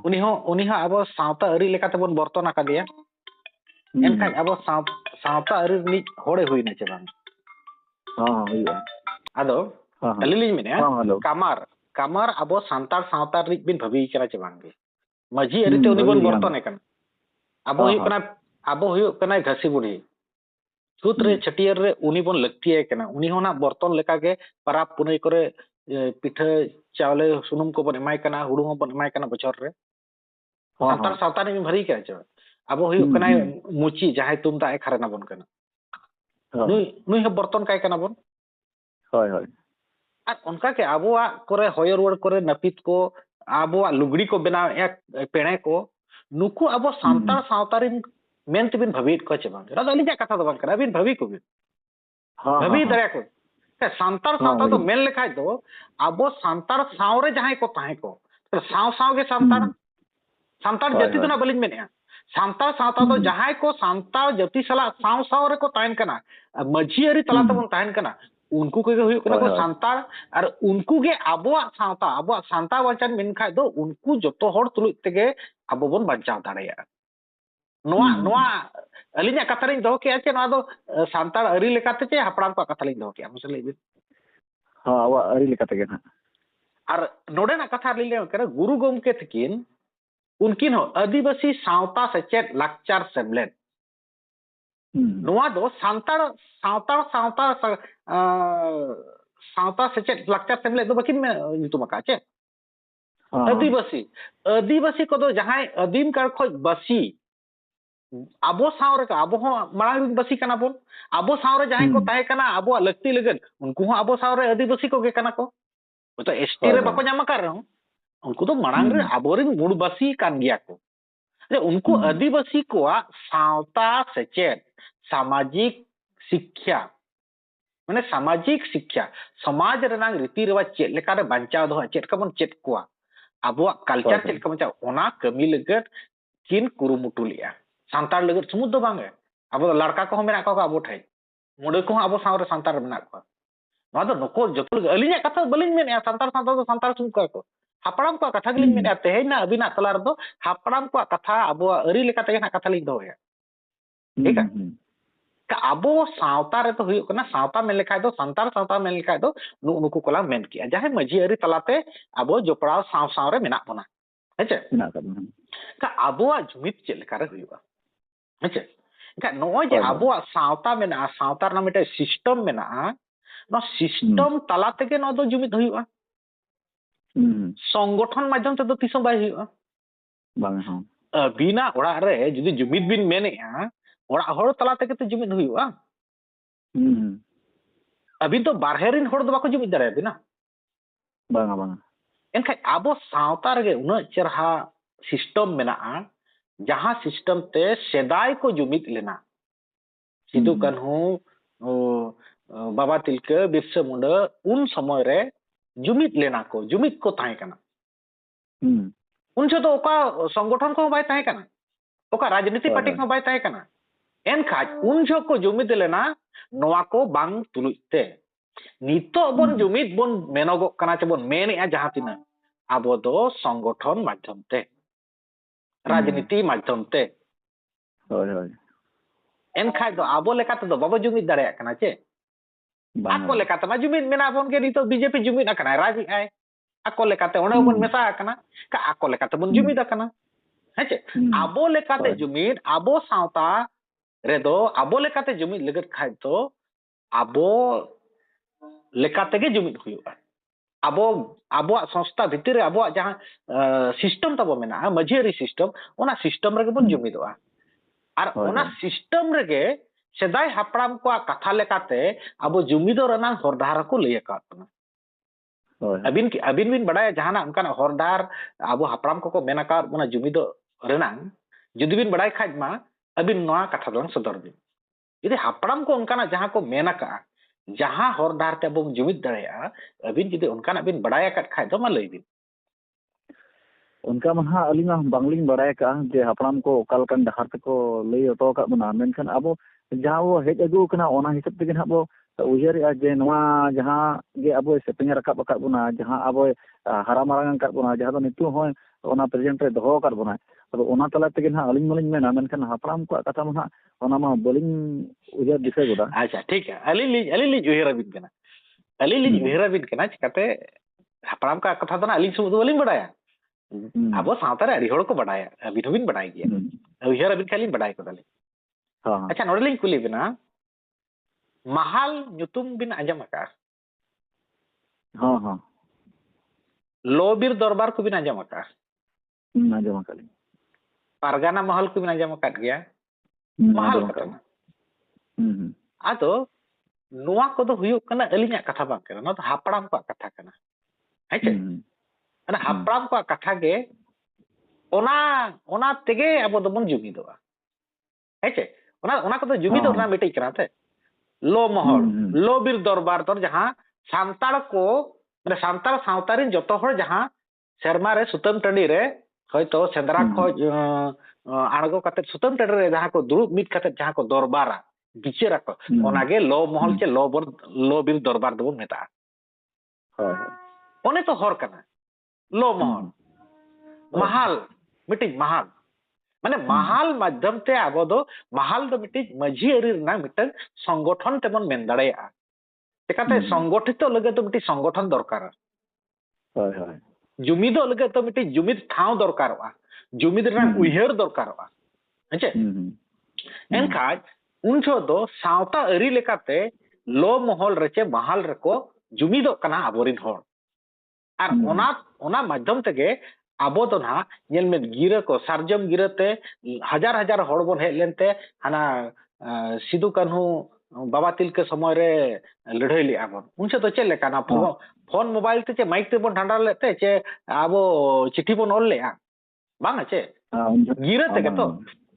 ᱩᱱᱤ ᱦᱚᱸ ᱩᱱᱤ ᱦᱚᱸ ᱟᱵᱚ ᱥᱟᱶᱛᱟ ᱟᱹᱨᱤ ᱞᱮᱠᱟᱛᱮ ᱵᱚᱱ ᱵᱚᱨᱛᱚᱱ ᱟᱠᱟᱫᱮᱭᱟ ᱮᱱᱠᱷᱟᱱ ᱟᱵᱚ ᱥᱟᱶᱛᱟ ᱟᱹᱨᱤ ᱨᱤᱱᱤᱡ ᱦᱚᱲᱮ ᱦᱩᱭᱱᱟ ᱪᱮ ᱵᱟᱝ ᱟᱫᱚ ᱟᱹᱞᱤᱧ ᱞᱤᱧ ᱢᱮᱱᱮᱫᱼᱟ ᱠᱟᱢᱟᱨ ᱠᱟᱢᱟᱨ ᱟᱵᱚ ᱥᱟᱱᱛᱟᱲ ᱥᱟᱶᱛᱟ ᱨᱤᱱᱤᱡ ᱵᱤᱱ ᱵᱷᱟᱹᱵᱤᱭᱮ ᱠᱟᱱᱟ ᱪᱮ ᱵᱟᱝᱜᱮ ᱢᱟᱹᱡᱷᱤ ᱟᱹᱨᱤᱛᱮ ᱩᱱᱤ ᱵᱚᱱ ᱵᱚᱨᱛᱚᱱᱮ ᱠᱟᱱᱟ ᱟᱵᱚ ᱦᱩᱭᱩᱜ ᱠᱟᱱᱟ ᱟᱵᱚ ᱦᱩᱭᱩᱜ ᱠᱟᱱᱟᱭ ᱜᱷᱟᱹᱥᱤ ᱵᱩᱲᱦᱤ ᱪᱷᱩᱛ ᱨᱮ ᱪᱷᱟᱹᱴᱭᱟᱹᱨ ᱨᱮ ᱩᱱᱤ ᱵᱚᱱ ᱞᱟᱹᱠᱛᱤᱭᱟᱭ ᱠᱟᱱᱟ ᱩᱱᱤ ᱦᱚᱸ ᱱᱟᱜ ᱵᱚᱨᱛᱚᱱ ᱞᱮᱠᱟᱜᱮ ᱯᱟᱨᱟᱵᱽ ᱯᱩᱱᱟᱹᱭ ᱠᱚᱨᱮ ᱯᱤᱴᱷᱟᱹ ᱪᱟᱣᱞᱮ ᱥᱩᱱᱩᱢ ᱠᱚᱵᱚᱱ ᱮᱢᱟᱭ ᱠᱟᱱᱟ ᱦᱩᱲᱩ ᱦᱚᱸᱵᱚᱱ ᱮᱢᱟᱭ ᱠᱟᱱᱟ ᱵᱚᱪᱷᱚᱨ ᱨᱮ ᱥᱟᱱᱛᱟᱲ ᱥᱟᱶᱛᱟ ᱨᱮ ᱵᱷᱟᱹᱨᱤ ᱠᱟᱱᱟ ᱪᱮ ᱟᱵᱚ ᱦᱩᱭᱩᱜ ᱠᱟᱱᱟᱭ ᱢᱩᱪᱤ ᱡᱟᱦᱟᱸᱭ ᱛᱩᱢᱫᱟᱜ ᱮ ᱠᱷᱟᱨᱮᱱᱟᱵᱚᱱ ᱠᱟᱱᱟ ᱱᱩᱭ ᱱᱩᱭ ᱦᱚᱸ ᱵᱚᱨᱛᱚᱱ ᱠᱟᱭ ᱠᱟᱱᱟ ᱵᱚᱱ ᱦᱳᱭ ᱦᱳᱭ ᱟᱨ ᱚᱱᱠᱟᱜᱮ ᱟᱵᱚᱣᱟᱜ ᱠᱚᱨᱮ ᱦᱚᱭᱚ ᱨᱩᱣᱟᱹᱲ ᱠᱚᱨᱮ ᱱᱟᱹᱯᱤᱛ ᱠᱚ ᱟᱵᱚᱣᱟᱜ ᱞᱩᱜᱽᱲᱤ ᱠᱚ ᱵᱮᱱᱟᱣᱮᱫᱼᱟ ᱯᱮᱬᱮ ᱠᱚ ᱱᱩᱠᱩ ᱟᱵᱚ ᱥᱟᱱᱛᱟᱲ ᱥᱟᱶᱛᱟ ᱨᱮᱱ ᱢᱮᱱᱛᱮᱵᱤᱱ ᱵᱷᱟᱹᱵᱤᱭᱮᱫ ᱠᱚᱣᱟ ᱪᱮ ᱵᱟᱝ ᱚᱱᱟ ᱫᱚ ᱟᱹᱞᱤᱧᱟᱜ ᱠᱟᱛᱷᱟ ᱫᱚ ᱵᱟᱝ ᱠᱟᱱᱟ ᱟᱹᱵᱤᱱ ᱵᱷᱟᱹᱵᱤ ᱠᱚᱵᱤᱱ ᱵᱷᱟᱹᱵᱤ ᱫᱟᱲᱮᱭᱟᱠᱚ ᱥᱟᱱᱛᱟᱲ ᱥᱟᱶᱛᱟ ᱫᱚ ᱢᱮᱱ ᱞᱮᱠᱷᱟᱡ ᱫᱚ ᱟᱵᱚ ᱥᱟᱱᱛᱟᱲ ᱥᱟᱶᱨᱮ ᱡᱟᱦᱟᱸᱭ ᱠᱚ ᱛᱟᱦᱮᱸ ᱠᱚ ᱥᱟᱶ ᱥᱟᱶᱜᱮ ᱥᱟᱱᱛᱟᱲ ᱥᱟᱱᱛᱟᱲ ᱡᱟᱹᱛᱤ ᱫᱚ ᱱᱟᱜ ᱵᱟᱹᱞᱤᱧ ᱢᱮᱱᱮᱜᱼᱟ ᱥᱟᱱᱛᱟᱲ ᱥᱟᱶᱛᱟ ᱫᱚ ᱡᱟᱦᱟᱸᱭ ᱠᱚ ᱥᱟᱱᱛᱟᱲ ᱡᱟᱹᱛᱤ ᱥᱟᱞᱟᱜ ᱥᱟᱶ ᱥᱟᱶ ᱨᱮᱠᱚ ᱛᱟᱦᱮᱱ ᱠᱟᱱᱟ ᱢᱟᱹᱡᱷᱤ ᱟᱹᱨᱤ ᱛᱟᱞᱟ ᱛᱮᱵᱚᱱ ᱛᱟᱦᱮᱱ ᱠᱟᱱᱟ ᱩᱱᱠᱩ ᱠᱚᱜᱮ ᱦᱩᱭᱩᱜ ᱠᱟᱱᱟ ᱠᱚ ᱥᱟᱱᱛᱟᱲ ᱟᱨ ᱩᱱᱠᱩ ᱜᱮ ᱟᱵᱚᱣᱟᱜ ᱥᱟᱶᱛᱟ ᱟᱵᱚᱣᱟᱜ ᱥᱟᱱᱛᱟᱲ ᱵᱟᱧᱪᱟᱣ ᱢᱮᱱᱠᱷᱟᱡ ᱫᱚ ᱩᱱᱠᱩ ᱡᱚᱛᱚ ᱦᱚᱲ ᱛᱩᱞᱩᱡ ᱛᱮᱜᱮ ᱟᱵᱚ ᱵᱚᱱ ᱵᱟᱧᱪᱟᱣ ᱫᱟᱲᱮᱭᱟᱜᱼᱟ ᱱᱚᱣᱟ ᱱᱚᱣᱟ ᱟᱹᱞᱤᱧᱟᱜ ᱠᱟᱛᱷᱟ ᱞᱤᱧ ᱫᱚᱦᱚ ᱠᱮᱜᱼᱟ ᱪᱮ ᱱᱚᱣᱟ ᱫᱚ ᱥᱟᱱᱛᱟᱲ ᱟᱹᱨᱤ ᱞᱮᱠᱟᱛᱮ ᱪᱮ ᱦᱟᱯᱲᱟᱢ ᱠᱚᱣᱟᱜ ᱠᱟᱛᱷᱟ ᱞᱤᱧ ᱫᱚᱦᱚ ᱠᱮᱜᱼᱟ ᱢᱟᱥᱮ ᱞᱟᱹᱭ ᱵᱤᱱ ᱦᱚᱸ ᱟᱵᱚᱣᱟᱜ ᱟᱹᱨᱤ ᱞᱮᱠᱟ ᱛᱮᱜᱮ ᱱᱟᱜ ᱟᱨ ᱱᱚᱰᱮᱱᱟᱜ ᱠᱟᱛᱷᱟ ᱞᱤᱧ ᱞᱟᱹᱭ ᱠᱟᱱᱟ ᱜᱩᱨᱩ ᱜᱚᱢᱠᱮ ᱛᱤᱠᱤᱱ ᱩᱱᱠᱤᱱ ᱦᱚᱸ ᱟᱹᱫᱤᱵᱟᱹᱥᱤ ᱥᱟᱶᱛᱟ ᱥᱮᱪᱮᱫ ᱞᱟᱠᱪᱟᱨ ᱥᱮᱢᱞᱮᱫ ᱱᱚᱣᱟ ᱫᱚ ᱥᱟᱱᱛᱟᱲ ᱥᱟᱶᱛᱟᱲ ᱥᱟᱶᱛᱟ ᱥᱟᱶᱛᱟ ᱥᱮᱪᱮᱫ ᱞᱟᱠᱪᱟᱨ ᱥᱮᱢᱞᱮᱫ ᱫᱚ ᱵᱟᱹᱠᱤᱱ ᱧᱩᱛᱩᱢ ᱟᱠᱟᱫᱼᱟ ᱪᱮ ᱟᱹᱫᱤᱵᱟᱹᱥᱤ ᱟᱹᱫᱤᱵᱟᱹᱥᱤ ᱠᱚᱫᱚ ᱡᱟᱦᱟᱸᱭ ᱟᱹᱫᱤᱢ ᱠᱟᱞ ᱠᱷᱚᱡ ᱵᱟᱹᱥᱤ ᱟᱵᱚ ᱥᱟᱶ ᱨᱮ ᱟᱵᱚ ᱦᱚᱸ ᱢᱟᱲᱟᱝ ᱨᱮᱱ ᱵᱟᱹᱥᱤ ᱠᱟᱱᱟ ᱵᱚᱱ ᱟᱵᱚ ᱥᱟᱶ ᱨᱮ ᱡᱟᱦᱟᱸᱭ ᱠᱚ ᱛᱟᱦᱮᱸ ᱠᱟᱱᱟ ᱟᱵᱚᱣᱟᱜ ᱞᱟᱹᱠᱛᱤ ᱞᱟᱹᱜᱤᱫ ᱩᱱᱠᱩ ᱦᱚᱸ ᱟᱵᱚ ᱥᱟᱶ ᱨᱮ ᱟᱹᱫᱤᱵᱟᱹᱥᱤ ᱠᱚᱜᱮ ᱠᱟᱱᱟ ᱠᱚ ᱦᱚᱭᱛᱚ ᱮᱥᱴᱤ ᱨᱮ ᱵᱟᱠᱚ ᱧᱟᱢ ᱟᱠᱟᱫ ᱨᱮᱦᱚᱸ ᱩᱱᱠᱩ ᱫᱚ ᱢᱟᱲᱟᱝ ᱨᱮ ᱟᱵᱚᱨᱮᱱ ᱢᱩᱬ ᱵᱟᱹᱥᱤ ᱠᱟᱱ ᱜᱮᱭᱟ ᱠᱚ ᱡᱮ ᱩᱱᱠᱩ ᱟᱹᱫᱤᱵᱟᱹᱥᱤ ᱠᱚᱣᱟᱜ ᱥᱟᱶᱛᱟ ᱥᱮᱪᱮᱫ ᱥᱟᱢᱟᱡᱤᱠ ᱥᱤᱠᱠᱷᱟ ᱢᱟᱱᱮ ᱥᱟᱢᱟᱡᱤᱠ ᱥᱤᱠᱠᱷᱟ ᱥᱚᱢᱟᱡᱽ ᱨᱮᱱᱟᱝ ᱨᱤᱛᱤ ᱨᱮᱣᱟᱡᱽ ᱪᱮᱫ ᱞᱮᱠᱟᱨᱮ ᱵᱟᱧᱪᱟᱣ ᱫᱚᱦᱚ ᱪᱮᱫ ᱞᱮᱠᱟ ᱵᱚᱱ ᱪᱮᱫ ᱠᱚᱣᱟ ᱟᱵᱚᱣᱟᱜ ᱠᱟᱞᱪᱟᱨ ᱪᱮᱫ ᱞᱮᱠᱟ ᱵᱟᱧᱪᱟᱣ ᱚᱱᱟ ᱠᱟᱹᱢᱤ ᱞᱟᱹᱜᱤᱫ ᱠᱤᱱ ᱠᱩᱨᱩᱢᱩᱴᱩ ᱞᱮᱫᱼᱟ ᱥᱟᱱᱛᱟᱲ ᱞᱟᱹᱜᱤᱫ ᱥᱩᱢᱩᱫ ᱫᱚ ᱵᱟᱝᱜᱮ ᱟᱵᱚ ᱫᱚ ᱞᱟᱲᱠᱟ ᱠᱚᱦᱚᱸ ᱢᱮᱱᱟᱜ ᱠᱚᱣᱟ ᱟᱵᱚ ᱴᱷᱮᱱ ᱢᱩᱰᱟᱹ ᱠᱚᱦᱚᱸ ᱟᱵᱚ ᱥᱟᱶᱨᱮ ᱥᱟᱱᱛᱟᱲ ᱢᱮᱱᱟᱜ ᱠᱚᱣᱟ ᱱᱚᱣᱟ ᱫᱚ ᱱᱩᱠᱩ ᱡᱚᱛᱚ ᱞᱟᱹᱜᱤᱫ ᱟᱹᱞᱤᱧᱟᱜ ᱠᱟᱛᱷᱟ ᱵᱟᱹᱞᱤᱧ ᱢᱮᱱᱮᱫᱼᱟ ᱥᱟᱱᱛᱟᱲ ᱥᱟᱶᱛᱟ ᱫᱚ ᱥᱟᱱᱛᱟᱲ ᱥᱩᱢᱩᱝ ᱠᱚᱣᱟ ᱠᱚ ᱦᱟᱯᱲᱟᱢ ᱠᱚᱣᱟᱜ ᱠᱟᱛᱷᱟ ᱜᱮᱞᱤᱧ ᱢᱮᱱᱮᱫᱼᱟ ᱛᱮᱦᱮᱧ ᱱᱟᱜ ᱟᱹᱵᱤᱱᱟᱜ ᱛᱟᱞᱟ ᱨᱮᱫᱚ ᱦᱟᱯᱲᱟᱢ ᱠᱚᱣᱟᱜ ᱠᱟᱛᱷᱟ ᱟᱵᱚᱣᱟᱜ ᱟᱹᱨᱤ ᱞᱮᱠᱟ ᱛᱮᱜᱮ ᱱᱟᱜ ᱠᱟᱛᱷᱟ ᱞᱤᱧ ᱫᱚᱦᱚᱭᱟ ᱴᱷᱤᱠ ᱜᱮᱭᱟ ᱟᱵᱚ ᱥᱟᱶᱛᱟ ᱨᱮᱫᱚ ᱦᱩᱭᱩᱜ ᱠᱟᱱᱟ ᱥᱟᱶᱛᱟ ᱢᱮᱱ ᱞᱮᱠᱷᱟᱱ ᱫᱚ ᱥᱟᱱᱛᱟᱲ ᱥᱟᱶᱛᱟ ᱢᱮᱱ ᱞᱮᱠᱷᱟᱱ ᱫᱚ ᱱᱩᱜᱩ ᱱᱩᱠᱩ ᱠᱚᱞᱟᱝ ᱢᱮᱱ ᱠᱮᱜᱼᱟ ᱡᱟᱦᱟᱸᱭ ᱢᱟᱹᱡᱷᱤ ᱟᱹᱨᱤ ᱛᱟᱞᱟᱛᱮ ᱟᱵᱚ ᱡᱚᱯᱲᱟᱣ ᱥᱟᱶ ᱥᱟᱶ ᱨᱮ ᱢᱮᱱᱟᱜ ᱵᱚᱱᱟ ᱦᱮᱸᱥᱮ ᱢᱮᱱᱟᱜ ᱟᱠᱟᱫ ᱵᱚᱱᱟ ᱮᱱᱠᱷᱟᱱ ᱟᱵᱚᱣᱟᱜ ᱡᱩᱢᱤᱫ ᱪᱮᱫ ᱞᱮᱠᱟᱨᱮ ᱦᱩᱭᱩᱜᱼᱟ ᱦᱮᱸᱥᱮ ᱮᱱᱠᱷᱟᱱ ᱱᱚᱜᱼᱚᱭ ᱡᱮ ᱟᱵᱚᱣᱟᱜ ᱥᱟᱶᱛᱟ ᱢᱮᱱᱟᱜᱼᱟ ᱥᱟᱶᱛᱟ ᱨᱮᱱᱟᱜ ᱢᱤᱫᱴᱮᱱ ᱥᱤᱥᱴᱮᱢ ᱢᱮᱱᱟᱜᱼᱟ ᱱᱚᱣᱟ ᱥᱤᱥᱴᱮᱢ ᱛᱟᱞᱟ ᱛᱮᱜᱮ ᱱᱚᱣᱟ ᱫᱚ ᱡᱩᱢᱤᱫ ᱦᱩᱭᱩᱜᱼᱟ ᱥᱚᱝᱜᱚᱴᱷᱚᱱ ᱢᱟᱫᱽᱫᱷᱚᱢ ᱛᱮᱫᱚ ᱛᱤᱥ ᱦᱚᱸ ᱵᱟᱭ ᱦᱩᱭᱩᱜᱼᱟ ᱵᱟᱝ ᱦᱚᱸ ᱟᱹᱵᱤᱱᱟᱜ ᱚᱲᱟᱜ ᱨᱮ ᱡᱩᱫᱤ ᱡᱩᱢᱤᱫ ᱵᱤᱱ ᱢᱮᱱᱮᱜᱼᱟ ᱚᱲᱟᱜ ᱦᱚᱲ ᱛᱟᱞᱟ ᱛᱮᱜᱮ ᱛᱚ ᱡᱩᱢᱤᱫ ᱦᱩᱭᱩᱜᱼᱟ ᱟᱹᱵᱤᱱ ᱫᱚ ᱵᱟᱨᱦᱮ ᱨᱮᱱ ᱦᱚᱲ ᱫᱚ ᱵᱟᱠᱚ ᱡᱩᱢᱤᱫ ᱫᱟᱲᱮᱭᱟᱵᱤᱱᱟ ᱵᱟᱝᱟ ᱵᱟᱝᱟ ᱮᱱᱠᱷᱟᱡ ᱟᱵᱚ ᱥᱟᱶᱛᱟ ᱨᱮᱜᱮ ᱩᱱᱟᱹᱜ ᱪᱮᱨᱦᱟ ᱥᱤᱥᱴᱚᱢ ᱢᱮᱱᱟᱜᱼᱟ ᱡᱟᱦᱟᱸ ᱥᱤᱥᱴᱚᱢ ᱛᱮ ᱥᱮᱫᱟᱭ ᱠᱚ ᱡᱩᱢᱤᱫ ᱞᱮᱱᱟ ᱥᱤᱫᱩ ᱠᱟᱹᱱᱦᱩ ᱵᱟᱵᱟ ᱛᱤᱞᱠᱟᱹ ᱵᱤᱨᱥᱟᱹ ᱢᱩᱸᱰᱟᱹ ᱩᱱ ᱥᱚᱢᱚᱭ ᱨᱮ ᱡᱩᱢᱤᱫ ᱞᱮᱱᱟ ᱠᱚ ᱡᱩᱢᱤᱫ ᱠᱚ ᱛᱟᱦᱮᱸ ᱠᱟᱱᱟ ᱩᱱ ᱡᱚᱦᱚᱜ ᱫᱚ ᱚᱠᱟ ᱥᱚᱝᱜᱚᱴᱷᱚᱱ ᱠᱚᱦᱚᱸ ᱵᱟᱭ ᱛᱟᱦᱮᱸ ᱠᱟᱱᱟ ᱚᱠᱟ ᱨᱟᱡᱽᱱᱤᱛᱤ ᱯᱟᱨᱴᱤ ᱠᱚᱦᱚᱸ ᱵᱟᱭ ᱛᱟᱦᱮᱸ ᱠᱟᱱᱟ ᱮᱱᱠᱷᱟᱡ ᱩᱱ ᱡᱚᱦᱚᱜ ᱠᱚ ᱡᱩᱢᱤᱫ ᱞᱮᱱᱟ ᱱᱚᱣᱟ ᱠᱚ ᱵᱟᱝ ᱛᱩᱞᱩᱡ ᱛᱮ ᱱᱤᱛᱚᱜ ᱵᱚᱱ ᱡᱩᱢᱤᱫ ᱵᱚᱱ ᱢᱮᱱᱚᱜᱚᱜ ᱠᱟᱱᱟ ᱪᱮ ᱵᱚᱱ ᱢᱮᱱᱮᱜᱼᱟ ᱡᱟᱦᱟᱸ ᱛᱤᱱᱟᱹᱜ ᱟᱵᱚ ᱫᱚ ᱥᱚᱝᱜᱚᱴᱷᱚᱱ ᱢᱟᱫᱽᱫᱷᱚᱢ ᱛᱮ ᱨᱟᱡᱽᱱᱤᱛᱤ ᱢᱟᱫᱽᱫᱷᱚᱢ ᱛᱮ ᱦᱳᱭ ᱦᱳᱭ ᱮᱱᱠᱷᱟᱡ ᱫᱚ ᱟᱵᱚ ᱞᱮᱠᱟ ᱛᱮᱫᱚ ᱵᱟᱵᱚ ᱡᱩᱢᱤᱫ ᱫᱟᱲᱮᱭᱟᱜ ᱠᱟᱱᱟ ᱪᱮ ᱟᱠᱚ ᱞᱮᱠᱟ ᱛᱮᱢᱟ ᱡᱩᱢᱤᱫ ᱢᱮᱱᱟᱜ ᱵᱚᱱ ᱜᱮ ᱱᱤᱛᱚᱜ ᱵᱤᱡᱮᱯᱤ ᱡᱩᱢᱤᱫ ᱟᱠᱟᱱᱟᱭ ᱨᱟᱡᱽ ᱮᱜᱼᱟᱭ ᱟᱠᱚ ᱞᱮᱠᱟᱛᱮ ᱚᱸᱰᱮ ᱵᱚᱱ ᱢᱮᱥᱟ ᱟᱠᱟᱱᱟ ᱟᱠᱚ ᱞᱮᱠᱟᱛᱮ ᱵᱚᱱ ᱡᱩᱢᱤᱫ ᱟᱠᱟᱱᱟ ᱦᱮᱸ ᱪᱮ ᱟᱵᱚ ᱞᱮᱠᱟᱛᱮ ᱡᱩᱢᱤᱫ ᱟᱵᱚ ᱥᱟᱶᱛᱟ ᱨᱮᱫᱚ ᱟᱵᱚ ᱞᱮᱠᱟᱛᱮ ᱡᱩᱢᱤᱫ ᱞᱟᱹᱜᱤᱫ ᱠᱷᱟᱡ ᱫᱚ ᱟᱵᱚ ᱞᱮᱠᱟᱛᱮ ᱜᱮ ᱡᱩᱢᱤᱫ ᱦᱩᱭᱩᱜᱼᱟ ᱟᱵᱚ ᱟᱵᱚᱣᱟᱜ ᱥᱚᱝᱥᱛᱷᱟ ᱵᱷᱤᱛᱤᱨ ᱨᱮ ᱟᱵᱚᱣᱟᱜ ᱡᱟᱦᱟᱸ ᱥᱤᱥᱴᱮᱢ ᱛᱟᱵᱚ ᱢᱮᱱᱟᱜᱼᱟ ᱢᱟᱹᱡᱷᱤᱭᱟᱹᱨᱤ ᱥᱤᱥᱴᱮᱢ ᱚᱱᱟ ᱥᱤᱥᱴᱮᱢ ᱨᱮᱜᱮ ᱵᱚᱱ ᱡᱩᱢᱤᱫᱚᱜᱼᱟ ᱟᱨ ᱚᱱᱟ ᱥᱤᱥᱴᱮᱢ ᱨᱮᱜᱮ ᱥᱮᱫᱟᱭ ᱦᱟᱯᱲᱟᱢ ᱠᱚᱣᱟᱜ ᱠᱟᱛᱷᱟ ᱞᱮᱠᱟᱛᱮ ᱟᱵᱚ ᱡᱩᱢᱤᱫᱚᱜ ᱨᱮᱱᱟᱜ ᱦᱚᱨ ᱰᱟᱦᱟᱨ ᱦᱚᱸᱠᱚ ᱞᱟᱹᱭ ᱟᱠᱟᱫ ᱵᱚᱱᱟ ᱟᱹᱵᱤᱱ ᱟᱹᱵᱤᱱ ᱵᱤᱱ ᱵᱟᱰᱟᱭᱟ ᱡᱟᱦᱟᱱᱟᱜ ᱚᱱᱠᱟᱱᱟᱜ ᱦᱚᱨ ᱰᱟᱦᱟᱨ ᱟᱵᱚ ᱦᱟᱯᱲᱟᱢ ᱠᱚᱠᱚ ᱢᱮᱱ ᱟᱠᱟᱫ ᱵᱚᱱᱟ ᱡᱩᱢᱤ ᱫᱚ ᱨᱮᱱᱟᱝ ᱡᱩᱫᱤ ᱵᱤᱱ ᱵᱟᱰᱟᱭ ᱠᱷᱟᱡ ᱢᱟ ᱟᱹᱵᱤᱱ ᱱᱚᱣᱟ ᱠᱟᱛᱷᱟ ᱫᱚᱞᱟᱝ ᱥᱚᱫᱚᱨ ᱵᱤᱱ ᱡᱩᱫᱤ ᱦᱟᱯᱲᱟᱢ ᱠᱚ ᱚᱱᱠᱟᱱᱟᱜ ᱡᱟᱦᱟᱸ ᱠᱚ ᱢᱮᱱ ᱟᱠᱟᱜᱼᱟ ᱡᱟᱦᱟᱸ ᱦᱚᱨ ᱰᱟᱦᱟᱨ ᱛᱮ ᱟᱵᱚ ᱵᱚᱱ ᱡᱩᱢᱤᱫ ᱫᱟᱲᱮᱭᱟᱜᱼᱟ ᱟᱹᱵᱤᱱ ᱡᱩᱫᱤ ᱚᱱᱠᱟᱱᱟᱜ ᱵᱤᱱ ᱵᱟᱰᱟᱭ ᱟᱠᱟᱫ ᱠᱷᱟᱡ ᱫᱚ ᱢᱟ ᱞᱟᱹᱭ ᱵᱤᱱ ᱚᱱᱠᱟ ᱢᱟ ᱦᱟᱸᱜ ᱟᱹᱞᱤᱧ ᱢᱟ ᱵᱟᱝᱞᱤᱧ ᱵᱟᱲᱟᱭ ᱟᱠᱟᱫᱼᱟ ᱡᱮ ᱦᱟᱯᱲᱟᱢ ᱠᱚ ᱚᱠᱟ ᱞᱮᱠᱟᱱ ᱰᱟᱦᱟᱨ ᱛᱮᱠᱚ ᱞᱟᱹᱭ ᱦᱚᱴᱚ ᱟᱠᱟᱫ ᱵᱚᱱᱟ ᱢᱮᱱᱠᱷᱟᱱ ᱟᱵᱚ ᱡᱟᱦᱟᱸ ᱵᱚᱱ ᱦᱮᱡ ᱟᱹᱜᱩ ᱟᱠᱟᱱᱟ ᱚᱱᱟ ᱦᱤᱥᱟᱹᱵ ᱛᱮᱜᱮ ᱦᱟᱸᱜ ᱵᱚ ᱩᱭᱦᱟᱹᱨᱮᱫᱼᱟ ᱡᱮ ᱱᱚᱣᱟ ᱡᱟᱦᱟᱸ ᱜᱮ ᱟᱵᱚᱭ ᱥᱮᱯᱮᱧ ᱨᱟᱠᱟᱵ ᱟᱠᱟᱫ ᱵᱚᱱᱟ ᱡᱟᱦᱟᱸ ᱟᱵᱚᱭ ᱦᱟᱨᱟ ᱢᱟᱨᱟᱝ ᱟᱠᱟᱫ ᱵᱚᱱᱟ ᱡᱟᱦᱟᱸ ᱫᱚ ᱱᱤᱛᱚᱜ ᱦᱚᱸ ᱚᱱᱟ ᱯᱨᱮᱡᱮᱱᱴ ᱨᱮ ᱫᱚᱦᱚ ᱟᱠᱟᱫ ᱵᱚᱱᱟᱭ ᱟᱫᱚ ᱚᱱᱟ ᱛᱟᱞᱟ ᱛᱮᱜᱮ ᱦᱟᱸᱜ ᱟᱹᱞᱤᱧ ᱢᱟᱞᱤᱧ ᱢᱮᱱᱟ ᱢᱮᱱᱠᱷᱟᱱ ᱦᱟᱯᱲᱟᱢ ᱠᱚᱣᱟᱜ ᱠᱟᱛᱷᱟ ᱢᱟ ᱦᱟᱸᱜ ᱚᱱᱟ ᱢᱟ ᱵᱟᱹᱞᱤᱧ ᱩᱭᱦᱟᱹᱨ ᱫᱤᱥᱟᱹ ᱜᱚᱫᱟ ᱟᱪᱪᱷᱟ ᱴᱷᱤᱠ ᱜᱮᱭᱟ ᱟᱹᱞᱤᱧ ᱞᱤᱧ ᱟᱹᱞᱤᱧ ᱞᱤᱧ ᱩᱭᱦᱟᱹᱨ ᱟᱹᱵᱤᱱ ᱠᱟᱱᱟ ᱟᱹᱞᱤᱧ ᱞᱤᱧ ᱩᱭᱦᱟᱹᱨ ᱟᱹᱵᱤᱱ ᱠᱟᱱᱟ ᱪᱤᱠᱟᱹᱛᱮ ᱦᱟᱯᱲᱟᱢ ᱠᱚᱣᱟᱜ ᱠᱟᱛᱷᱟ ᱫᱚ ᱱᱟᱜ ᱟᱹᱞᱤᱧ ᱥᱩᱢᱩᱝ ᱫᱚ ᱵᱟᱞᱤᱧ ᱵᱟᱰᱟᱭᱟ ᱟᱵᱚ ᱥᱟᱶᱛᱟ ᱨᱮ ᱟᱹᱰᱤ ᱦᱚᱲ ᱠᱚ ᱵᱟᱰᱟᱭᱟ ᱟᱹᱵᱤᱱ ᱦᱚᱸᱵᱤᱱ ᱵᱟᱰᱟᱭ ᱜᱮᱭᱟ ᱩᱭᱦᱟᱹᱨ ᱟᱹᱵᱤᱱ ᱠᱷᱟᱱ ᱞᱤᱧ ᱵᱟᱰᱟᱭ ᱠᱟᱫᱟᱞᱤᱧ ᱟᱪᱪᱷᱟ ᱱᱚᱰᱮ ᱞᱤᱧ ᱠᱩᱞᱤ ᱵᱤᱱᱟ ᱢᱟᱦᱟᱞ ᱧᱩᱛᱩᱢ ᱵᱤᱱ ᱟᱸᱡᱚᱢ ᱟᱠᱟᱜᱼᱟ ᱦᱚᱸ ᱦᱚᱸ ᱞᱚ ᱵᱤᱨ ᱫᱚᱨᱵᱟᱨ ᱠᱚᱵᱤᱱ ᱟᱸᱡᱚᱢ ᱟᱠᱟᱜᱼᱟ ᱦᱩᱸ ᱟᱸᱡᱚᱢ ᱟᱠᱟᱫ ᱞᱤᱧ ᱯᱟᱨᱜᱟᱱᱟ ᱢᱚᱦᱚᱞ ᱠᱚᱵᱤᱱ ᱟᱸᱡᱚᱢ ᱟᱠᱟᱫ ᱜᱮᱭᱟ ᱢᱚᱦᱚᱞ ᱜᱷᱚᱴᱚᱱᱟ ᱟᱫᱚ ᱱᱚᱣᱟ ᱠᱚᱫᱚ ᱦᱩᱭᱩᱜ ᱠᱟᱱᱟ ᱟᱹᱞᱤᱧᱟᱜ ᱠᱟᱛᱷᱟ ᱵᱟᱝ ᱠᱟᱱᱟ ᱱᱚᱣᱟ ᱫᱚ ᱦᱟᱯᱲᱟᱢ ᱠᱚᱣᱟᱜ ᱠᱟᱛᱷᱟ ᱠᱟᱱᱟ ᱦᱮᱸ ᱪᱮ ᱚᱱᱟ ᱦᱟᱯᱲᱟᱢ ᱠᱚᱣᱟᱜ ᱠᱟᱛᱷᱟ ᱜᱮ ᱚᱱᱟ ᱚᱱᱟ ᱛᱮᱜᱮ ᱟᱵᱚ ᱫᱚᱵᱚᱱ ᱡᱩᱢᱤᱫᱚᱜᱼᱟ ᱦᱮᱸ ᱪᱮ ᱚᱱᱟ ᱚᱱᱟ ᱠᱚᱫᱚ ᱡᱩᱢᱤᱫᱚᱜ ᱨᱮᱱᱟᱜ ᱢᱤᱫᱴᱤᱡ ᱠᱟᱱᱟ ᱥᱮ ᱞᱚ ᱢᱚᱦᱚᱞ ᱞᱚ ᱵᱤᱨ ᱫᱚᱨᱵᱟᱨ ᱫᱚ ᱡᱟᱦᱟᱸ ᱥᱟᱱᱛᱟᱲ ᱠᱚ ᱢᱟᱱᱮ ᱥᱟᱱᱛᱟᱲ ᱥᱟᱶᱛᱟ ᱨᱮᱱ ᱡᱚᱛᱚ ᱦᱚᱲ ᱡᱟᱦᱟᱸ ᱥᱮᱨᱢᱟ ᱨᱮ ᱥᱩᱛᱟᱹᱢ ᱴᱟᱺᱰᱤ ᱨᱮ ᱦᱚᱭᱛᱚ ᱥᱮᱸᱫᱽᱨᱟ ᱠᱷᱚᱡ ᱟᱬᱜᱚ ᱠᱟᱛᱮ ᱥᱩᱛᱟᱹᱢ ᱴᱟᱺᱰᱤ ᱨᱮ ᱡᱟᱦᱟᱸ ᱠᱚ ᱫᱩᱲᱩᱵ ᱢᱤᱫ ᱠᱟᱛᱮ ᱡᱟᱦᱟᱸ ᱠᱚ ᱫᱚᱨᱵᱟᱨᱟ ᱵᱤᱪᱟᱹᱨ ᱟᱠᱚ ᱚᱱᱟᱜᱮ ᱞᱚ ᱢᱚᱦᱚᱞ ᱪᱮ ᱞᱚ ᱵᱚᱨ ᱞᱚ ᱵᱤᱨ ᱫᱚᱨᱵᱟᱨ ᱫᱚᱵᱚᱱ ᱢᱮᱛᱟᱜᱼᱟ ᱦᱳᱭ ᱚᱱᱮ ᱛᱚ ᱦᱚᱨ ᱠᱟᱱᱟ ᱞᱚ ᱢᱚᱦᱚᱞ ᱢᱟᱦᱟᱞ ᱢᱤᱫᱴᱤᱡ ᱢᱟᱦᱟᱞ ᱢᱟᱱᱮ ᱢᱟᱦᱟᱞ ᱢᱟᱫᱽᱫᱷᱚᱢ ᱛᱮ ᱟᱵᱚ ᱫᱚ ᱢᱟᱦᱟᱞ ᱫᱚ ᱢᱤᱫᱴᱤᱡ ᱢᱟᱹᱡᱷᱤ ᱟᱹᱨᱤ ᱨᱮᱱᱟᱜ ᱢᱤᱫᱴᱟᱝ ᱥᱚᱝᱜᱚᱴᱷᱚᱱ ᱛᱮᱵᱚᱱ ᱢᱮᱱ ᱫᱟᱲᱮᱭᱟᱜᱼᱟ ᱪᱮᱠᱟᱛᱮ ᱥᱚᱝᱜᱚᱴᱷᱤᱛᱚ ᱞᱟᱹᱜᱤᱫ ᱫᱚ ᱢᱤᱫᱴᱤᱡ ᱥᱚᱝᱜᱚᱴᱷᱚᱱ ᱫᱚᱨᱠᱟᱨᱟ ᱦᱳᱭ ᱦᱳᱭ ᱡᱩᱢᱤᱫᱚᱜ ᱞᱟᱹᱜᱤᱫ ᱫᱚ ᱢᱤᱫᱴᱤᱡ ᱡᱩᱢᱤᱫ ᱴᱷᱟᱶ ᱫᱚᱨᱠᱟᱨᱚᱜᱼᱟ ᱡᱩᱢᱤᱫ ᱨᱮᱱᱟᱜ ᱩᱭᱦᱟᱹᱨ ᱫᱚᱨᱠᱟᱨᱚᱜᱼᱟ ᱦᱮᱸᱪᱮ ᱮᱱᱠᱷᱟᱱ ᱩᱱ ᱡᱚᱦᱚᱜ ᱫᱚ ᱥᱟᱶᱛᱟ ᱟᱹᱨᱤ ᱞᱮᱠᱟᱛᱮ ᱞᱚ ᱢᱚᱦᱚᱞ ᱨᱮ ᱪᱮ ᱢᱟᱦᱟᱞ ᱨᱮᱠᱚ ᱡᱩᱢᱤᱫᱚᱜ ᱠᱟᱱᱟ ᱟᱵᱚᱨᱤᱱ ᱦᱚᱲ ᱟᱨ ᱚᱱᱟ ᱚᱱᱟ ᱢᱟᱫᱽᱫᱷᱚᱢ ᱛᱮᱜᱮ ᱟᱵᱚ ᱫᱚ ᱱᱟᱦᱟᱜ ᱧᱮᱞ ᱢᱮ ᱜᱤᱨᱟᱹ ᱠᱚ ᱥᱟᱨᱡᱚᱢ ᱜᱤᱨᱟᱹ ᱛᱮ ᱦᱟᱡᱟᱨ ᱦᱟᱡᱟᱨ ᱦᱚᱲ ᱵᱚᱱ ᱦᱮᱡ ᱞᱮᱱᱛᱮ ᱦᱟᱱᱟ ᱥᱤᱫᱩ ᱠᱟᱹᱱᱦᱩ ᱵᱟᱵᱟ ᱛᱤᱞᱠᱟᱹ ᱥᱚᱢᱚᱭ ᱨᱮ ᱞᱟᱹᱲᱦᱟᱹᱭ ᱞᱮᱜᱼᱟ ᱵᱚᱱ ᱩᱱ ᱥᱮᱫ ᱫᱚ ᱪᱮᱫ ᱞᱮᱠᱟ ᱱᱟ ᱯᱷᱳᱱ ᱢᱳᱵᱟᱭᱤᱞ ᱛᱮ ᱪᱮ ᱢᱟᱭᱤᱠ ᱛᱮᱵᱚᱱ ᱰᱟᱸᱰᱟ ᱞᱮᱫ ᱛᱮ ᱪᱮ ᱟᱵᱚ ᱪᱤᱴᱷᱤ ᱵᱚᱱ ᱚᱞ ᱞᱮᱜᱼᱟ ᱵᱟᱝ ᱟᱪᱮ ᱜᱤᱨᱟᱹ ᱛᱮᱜᱮ ᱛᱚ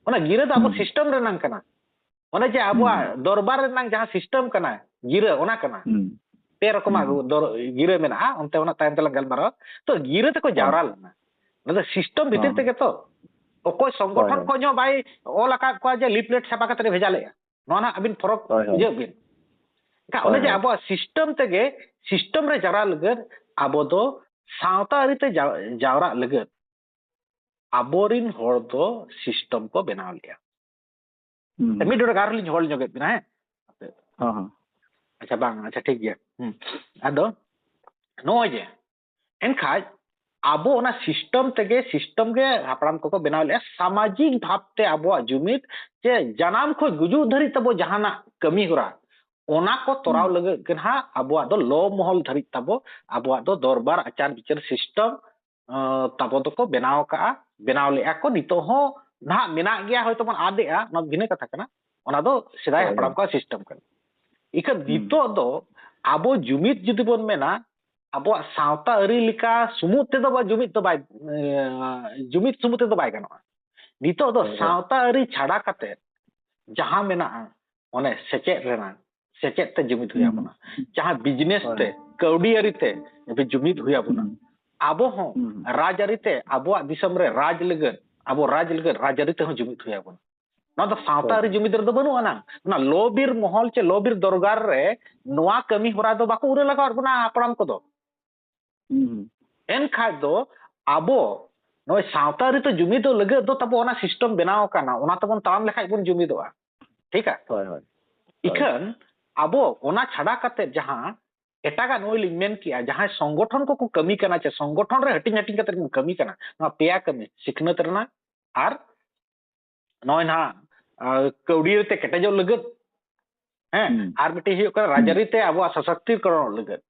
ᱚᱱᱟ ᱜᱤᱨᱟᱹ ᱫᱚ ᱟᱵᱚ ᱥᱤᱥᱴᱮᱢ ᱨᱮᱱᱟᱝ ᱠᱟᱱᱟ ᱚᱱᱮ ᱡᱮ ᱟᱵᱚᱣᱟᱜ ᱫᱚᱨᱵᱟᱨ ᱨᱮᱱᱟᱝ ᱡᱟᱦᱟᱸ ᱥᱤᱥᱴᱮᱢ ᱠᱟᱱᱟ ᱜᱤᱨᱟᱹ ᱚᱱᱟ ᱠᱟᱱᱟ ᱯᱮ ᱨᱚᱠᱚᱢᱟᱜ ᱜᱤᱨᱟᱹ ᱢᱮᱱᱟᱜᱼᱟ ᱚᱱᱛᱮ ᱚᱱᱟ ᱛᱟᱭᱚᱢ ᱛᱮᱞᱟᱝ ᱜᱟᱞᱢᱟᱨᱟᱣᱟ ᱛᱚ ᱜᱤᱨᱟᱹ ᱛᱮᱠᱚ ᱡᱟᱣᱨᱟ ᱞᱮᱱᱟ ᱚᱱᱟ ᱫᱚ ᱥᱤᱥᱴᱮᱢ ᱵᱷᱤᱛᱤᱨ ᱛᱮᱜᱮ ᱛᱚ ᱚᱠᱚᱭ ᱥᱚᱝᱜᱚᱴᱷᱚᱱ ᱠᱷᱚᱱ ᱦᱚᱸ ᱵᱟᱭ ᱚᱞ ᱟᱠᱟᱫ ᱠᱚᱣᱟ ᱡᱮ ᱞᱤᱯᱞᱮᱴ ᱪᱷᱟᱯᱟ ᱠᱟᱛᱮ ᱵᱷᱮᱡᱟ ᱞᱮᱫᱼᱟ ᱱᱚᱣᱟ ᱱᱟᱜ ᱟᱹᱵᱤᱱ ᱯᱷᱚᱨᱚᱠ ᱵᱩᱡᱷᱟᱹᱣ ᱵᱤᱱ ᱮᱱᱠᱷᱟᱱ ᱚᱱᱮ ᱡᱮ ᱟᱵᱚᱣᱟᱜ ᱥᱤᱥᱴᱮᱢ ᱛᱮᱜᱮ ᱥᱤᱥᱴᱮᱢ ᱨᱮ ᱡᱟᱣᱨᱟ ᱞᱟᱹᱜᱤᱫ ᱟᱵᱚ ᱫᱚ ᱥᱟᱶᱛᱟ ᱟᱹᱨᱤᱛᱮ ᱡᱟᱣᱨᱟᱜ ᱞᱟᱹᱜᱤᱫ ᱟᱵᱚᱨᱤᱱ ᱦᱚᱲ ᱫᱚ ᱥᱤᱥᱴᱮᱢ ᱠᱚ ᱵᱮᱱᱟᱣ ᱞᱮᱜᱼᱟ ᱢᱤᱫ ᱰᱚᱰᱮ ᱟᱨᱦᱚᱸ ᱞᱤᱧ ᱦᱚᱲ ᱧᱚᱜᱮᱫ ᱵᱤᱱᱟ ᱦᱮᱸ ᱟᱪᱪᱷᱟ ᱵᱟᱝ ᱟᱪᱪᱷᱟ ᱴᱷᱤᱠ ᱜᱮᱭᱟ ᱟᱫᱚ ᱱᱚᱜᱼᱚᱭ ᱡᱮ ᱮᱱᱠᱷᱟᱡ ᱟᱵᱚ ᱚᱱᱟ ᱥᱤᱥᱴᱮᱢ ᱛᱮᱜᱮ ᱥᱤᱥᱴᱮᱢ ᱜᱮ ᱦᱟᱯᱲᱟᱢ ᱠᱚᱠᱚ ᱵᱮᱱᱟᱣ ᱞᱮᱫᱼᱟ ᱥᱟᱢᱟᱡᱤᱠ ᱵᱷᱟᱵᱽᱛᱮ ᱟᱵᱚᱣᱟᱜ ᱡᱩᱢᱤᱫ ᱡᱮ ᱡᱟᱱᱟᱢ ᱠᱷᱚᱱ ᱜᱩᱡᱩᱜ ᱫᱷᱟᱹᱨᱤᱡ ᱛᱟᱵᱚ ᱡᱟᱦᱟᱱᱟᱜ ᱠᱟᱹᱢᱤ ᱦᱚᱨᱟ ᱚᱱᱟ ᱠᱚ ᱛᱚᱨᱟᱣ ᱞᱟᱹᱜᱤᱫ ᱜᱮ ᱱᱟᱦᱟᱜ ᱟᱵᱚᱣᱟᱜ ᱫᱚ ᱞᱚ ᱢᱚᱦᱚᱞ ᱫᱷᱟᱹᱨᱤᱡ ᱛᱟᱵᱚ ᱟᱵᱚᱣᱟᱜ ᱫᱚ ᱫᱚᱨᱵᱟᱨ ᱟᱪᱟᱨ ᱵᱤᱪᱟᱹᱨ ᱥᱤᱥᱴᱮᱢ ᱛᱟᱵᱚ ᱫᱚᱠᱚ ᱵᱮᱱᱟᱣ ᱠᱟᱜᱼᱟ ᱵᱮᱱᱟᱣ ᱞᱮᱫᱼᱟ ᱠᱚ ᱱᱤᱛᱚᱜ ᱦᱚᱸ ᱱᱟᱦᱟᱜ ᱢᱮᱱᱟᱜ ᱜᱮᱭᱟ ᱦᱚᱭᱛᱚ ᱵᱚᱱ ᱟᱫᱮᱜᱼᱟ ᱚᱱᱟ ᱵᱷᱤᱱᱟᱹ ᱠᱟᱛᱷᱟ ᱠᱟᱱᱟ ᱚᱱᱟ ᱫᱚ ᱥᱮᱫᱟᱭ ᱦᱟᱯᱲᱟᱢ ᱠᱚᱣᱟᱜ ᱥᱤᱥᱴᱮᱢ ᱠᱟᱱᱟ ᱤᱠᱷᱟᱹᱱ ᱱᱤᱛᱚᱜ ᱫᱚ ᱟᱵᱚ ᱡᱩᱢᱤᱫ ᱡᱩᱫᱤ ᱵᱚᱱ ᱢᱮᱱᱟ ᱟᱵᱚᱣᱟᱜ ᱥᱟᱶᱛᱟ ᱟᱹᱨᱤ ᱞᱮᱠᱟ ᱥᱩᱢᱩᱫ ᱛᱮᱫᱚ ᱵᱟ ᱡᱩᱢᱤᱫ ᱫᱚ ᱵᱟᱭ ᱡᱩᱢᱤᱫ ᱥᱩᱢᱩᱫ ᱛᱮᱫᱚ ᱵᱟᱭ ᱜᱟᱱᱚᱜᱼᱟ ᱱᱤᱛᱚᱜ ᱫᱚ ᱥᱟᱶᱛᱟ ᱟᱹᱨᱤ ᱪᱷᱟᱰᱟ ᱠᱟᱛᱮ ᱡᱟᱦᱟᱸ ᱢᱮᱱᱟᱜᱼᱟ ᱚᱱᱮ ᱥᱮᱪᱮᱫ ᱨᱮᱱᱟᱜ ᱥᱮᱪᱮᱫ ᱛᱮ ᱡᱩᱢᱤᱫ ᱦᱩᱭ ᱟᱵᱚᱱᱟ ᱡᱟᱦᱟᱸ ᱵᱤᱡᱽᱱᱮᱥ ᱛᱮ ᱠᱟᱹᱣᱰᱤ ᱟᱹᱨᱤ ᱛᱮ ᱡᱩᱢᱤᱫ ᱦᱩᱭ ᱟᱵᱚᱱᱟ ᱟᱵᱚ ᱦᱚᱸ ᱨᱟᱡᱽ ᱟᱹᱨᱤ ᱛᱮ ᱟᱵᱚᱣᱟᱜ ᱫᱤᱥᱚᱢ ᱨᱮ ᱨᱟᱡᱽ ᱞᱟᱹᱜᱤᱫ ᱟᱵᱚ ᱨᱟᱡᱽ ᱞᱟᱹᱜᱤᱫ ᱨᱟᱡᱽ ᱟᱹᱨᱤ ᱛᱮᱦᱚᱸ ᱡᱩᱢᱤᱫ ᱦᱩᱭ ᱟᱵᱚᱱᱟ ᱱᱚᱣᱟ ᱫᱚ ᱥᱟᱶᱛᱟ ᱟᱹᱨᱤ ᱡᱩᱢᱤᱫ ᱨᱮᱫᱚ ᱵᱟᱹᱱᱩᱜ ᱟᱱᱟᱝ ᱚᱱᱟ ᱞᱚᱵᱤᱨ ᱢᱚᱦᱚᱞ ᱪᱮ ᱞᱚᱵᱤᱨ ᱫᱚᱨᱜᱟᱨ ᱨᱮ ᱱᱚᱣᱟ ᱠᱟᱹᱢᱤ ᱦᱚᱨᱟ ᱫᱚ ᱵᱟᱠᱚ ᱩᱨᱟᱹ ᱞᱟᱜᱟᱣᱟᱫ ᱵᱚᱱᱟ ᱦᱟᱯᱲᱟᱢ ᱠᱚᱫᱚ ᱮᱱᱠᱷᱟᱡ ᱫᱚ ᱟᱵᱚ ᱱᱚᱜᱼᱚᱭ ᱥᱟᱶᱛᱟ ᱟᱹᱨᱤ ᱛᱮ ᱡᱩᱢᱤᱫᱚᱜ ᱞᱟᱹᱜᱤᱫ ᱫᱚ ᱛᱟᱵᱚ ᱚᱱᱟ ᱥᱤᱥᱴᱮᱢ ᱵᱮᱱᱟᱣ ᱟᱠᱟᱱᱟ ᱚᱱᱟ ᱛᱮᱵᱚᱱ ᱛᱟᱲᱟᱢ ᱞᱮᱠᱷᱟᱡ ᱵᱚᱱ ᱡᱩᱢᱤᱫᱚᱜᱼᱟ ᱴᱷᱤᱠ ᱟ ᱦᱳᱭ ᱦᱳᱭ ᱤᱠᱷᱟᱹᱱ ᱟᱵᱚ ᱚᱱᱟ ᱪᱷᱟᱰᱟ ᱠᱟᱛᱮ ᱡᱟᱦᱟᱸ ᱮᱴᱟᱜᱟᱜ ᱱᱚᱜᱼᱚᱭ ᱞᱤᱧ ᱢᱮᱱ ᱠᱮᱜᱼᱟ ᱡᱟᱦᱟᱸᱭ ᱥᱚᱝᱜᱚᱴᱷᱚᱱ ᱠᱚᱠᱚ ᱠᱟᱹᱢᱤ ᱠᱟᱱᱟ ᱪᱮ ᱥᱚᱝᱜᱚᱴᱷᱚᱱ ᱨᱮ ᱦᱟᱹᱴᱤᱧ ᱦᱟᱹᱴᱤᱧ ᱠᱟᱛᱮ ᱠᱚ ᱠᱟᱹᱢᱤ ᱠᱟᱱᱟ ᱱᱚᱣᱟ ᱯᱮᱭᱟ ᱠᱟᱹᱢᱤ ᱥᱤᱠᱷᱱᱟᱹᱛ ᱨᱮᱱᱟᱜ ᱟᱨ ᱱᱚᱜᱼᱚᱭ ᱱᱟᱦᱟᱜ ᱠᱟᱹᱣᱰᱤ ᱛᱮ ᱠᱮᱴᱮᱡᱚᱜ ᱞᱟᱹᱜᱤᱫ ᱦᱮᱸ ᱟᱨ ᱢᱤᱫᱴᱤᱡ ᱦᱩᱭᱩᱜ ᱠᱟᱱᱟ ᱨᱟᱡᱽᱟᱹᱨᱤ ᱛᱮ ᱟᱵᱚᱣᱟᱜ ᱥᱚᱥᱚᱠᱛᱤᱠᱚᱨᱚᱱ ᱞᱟᱹᱜᱤᱫ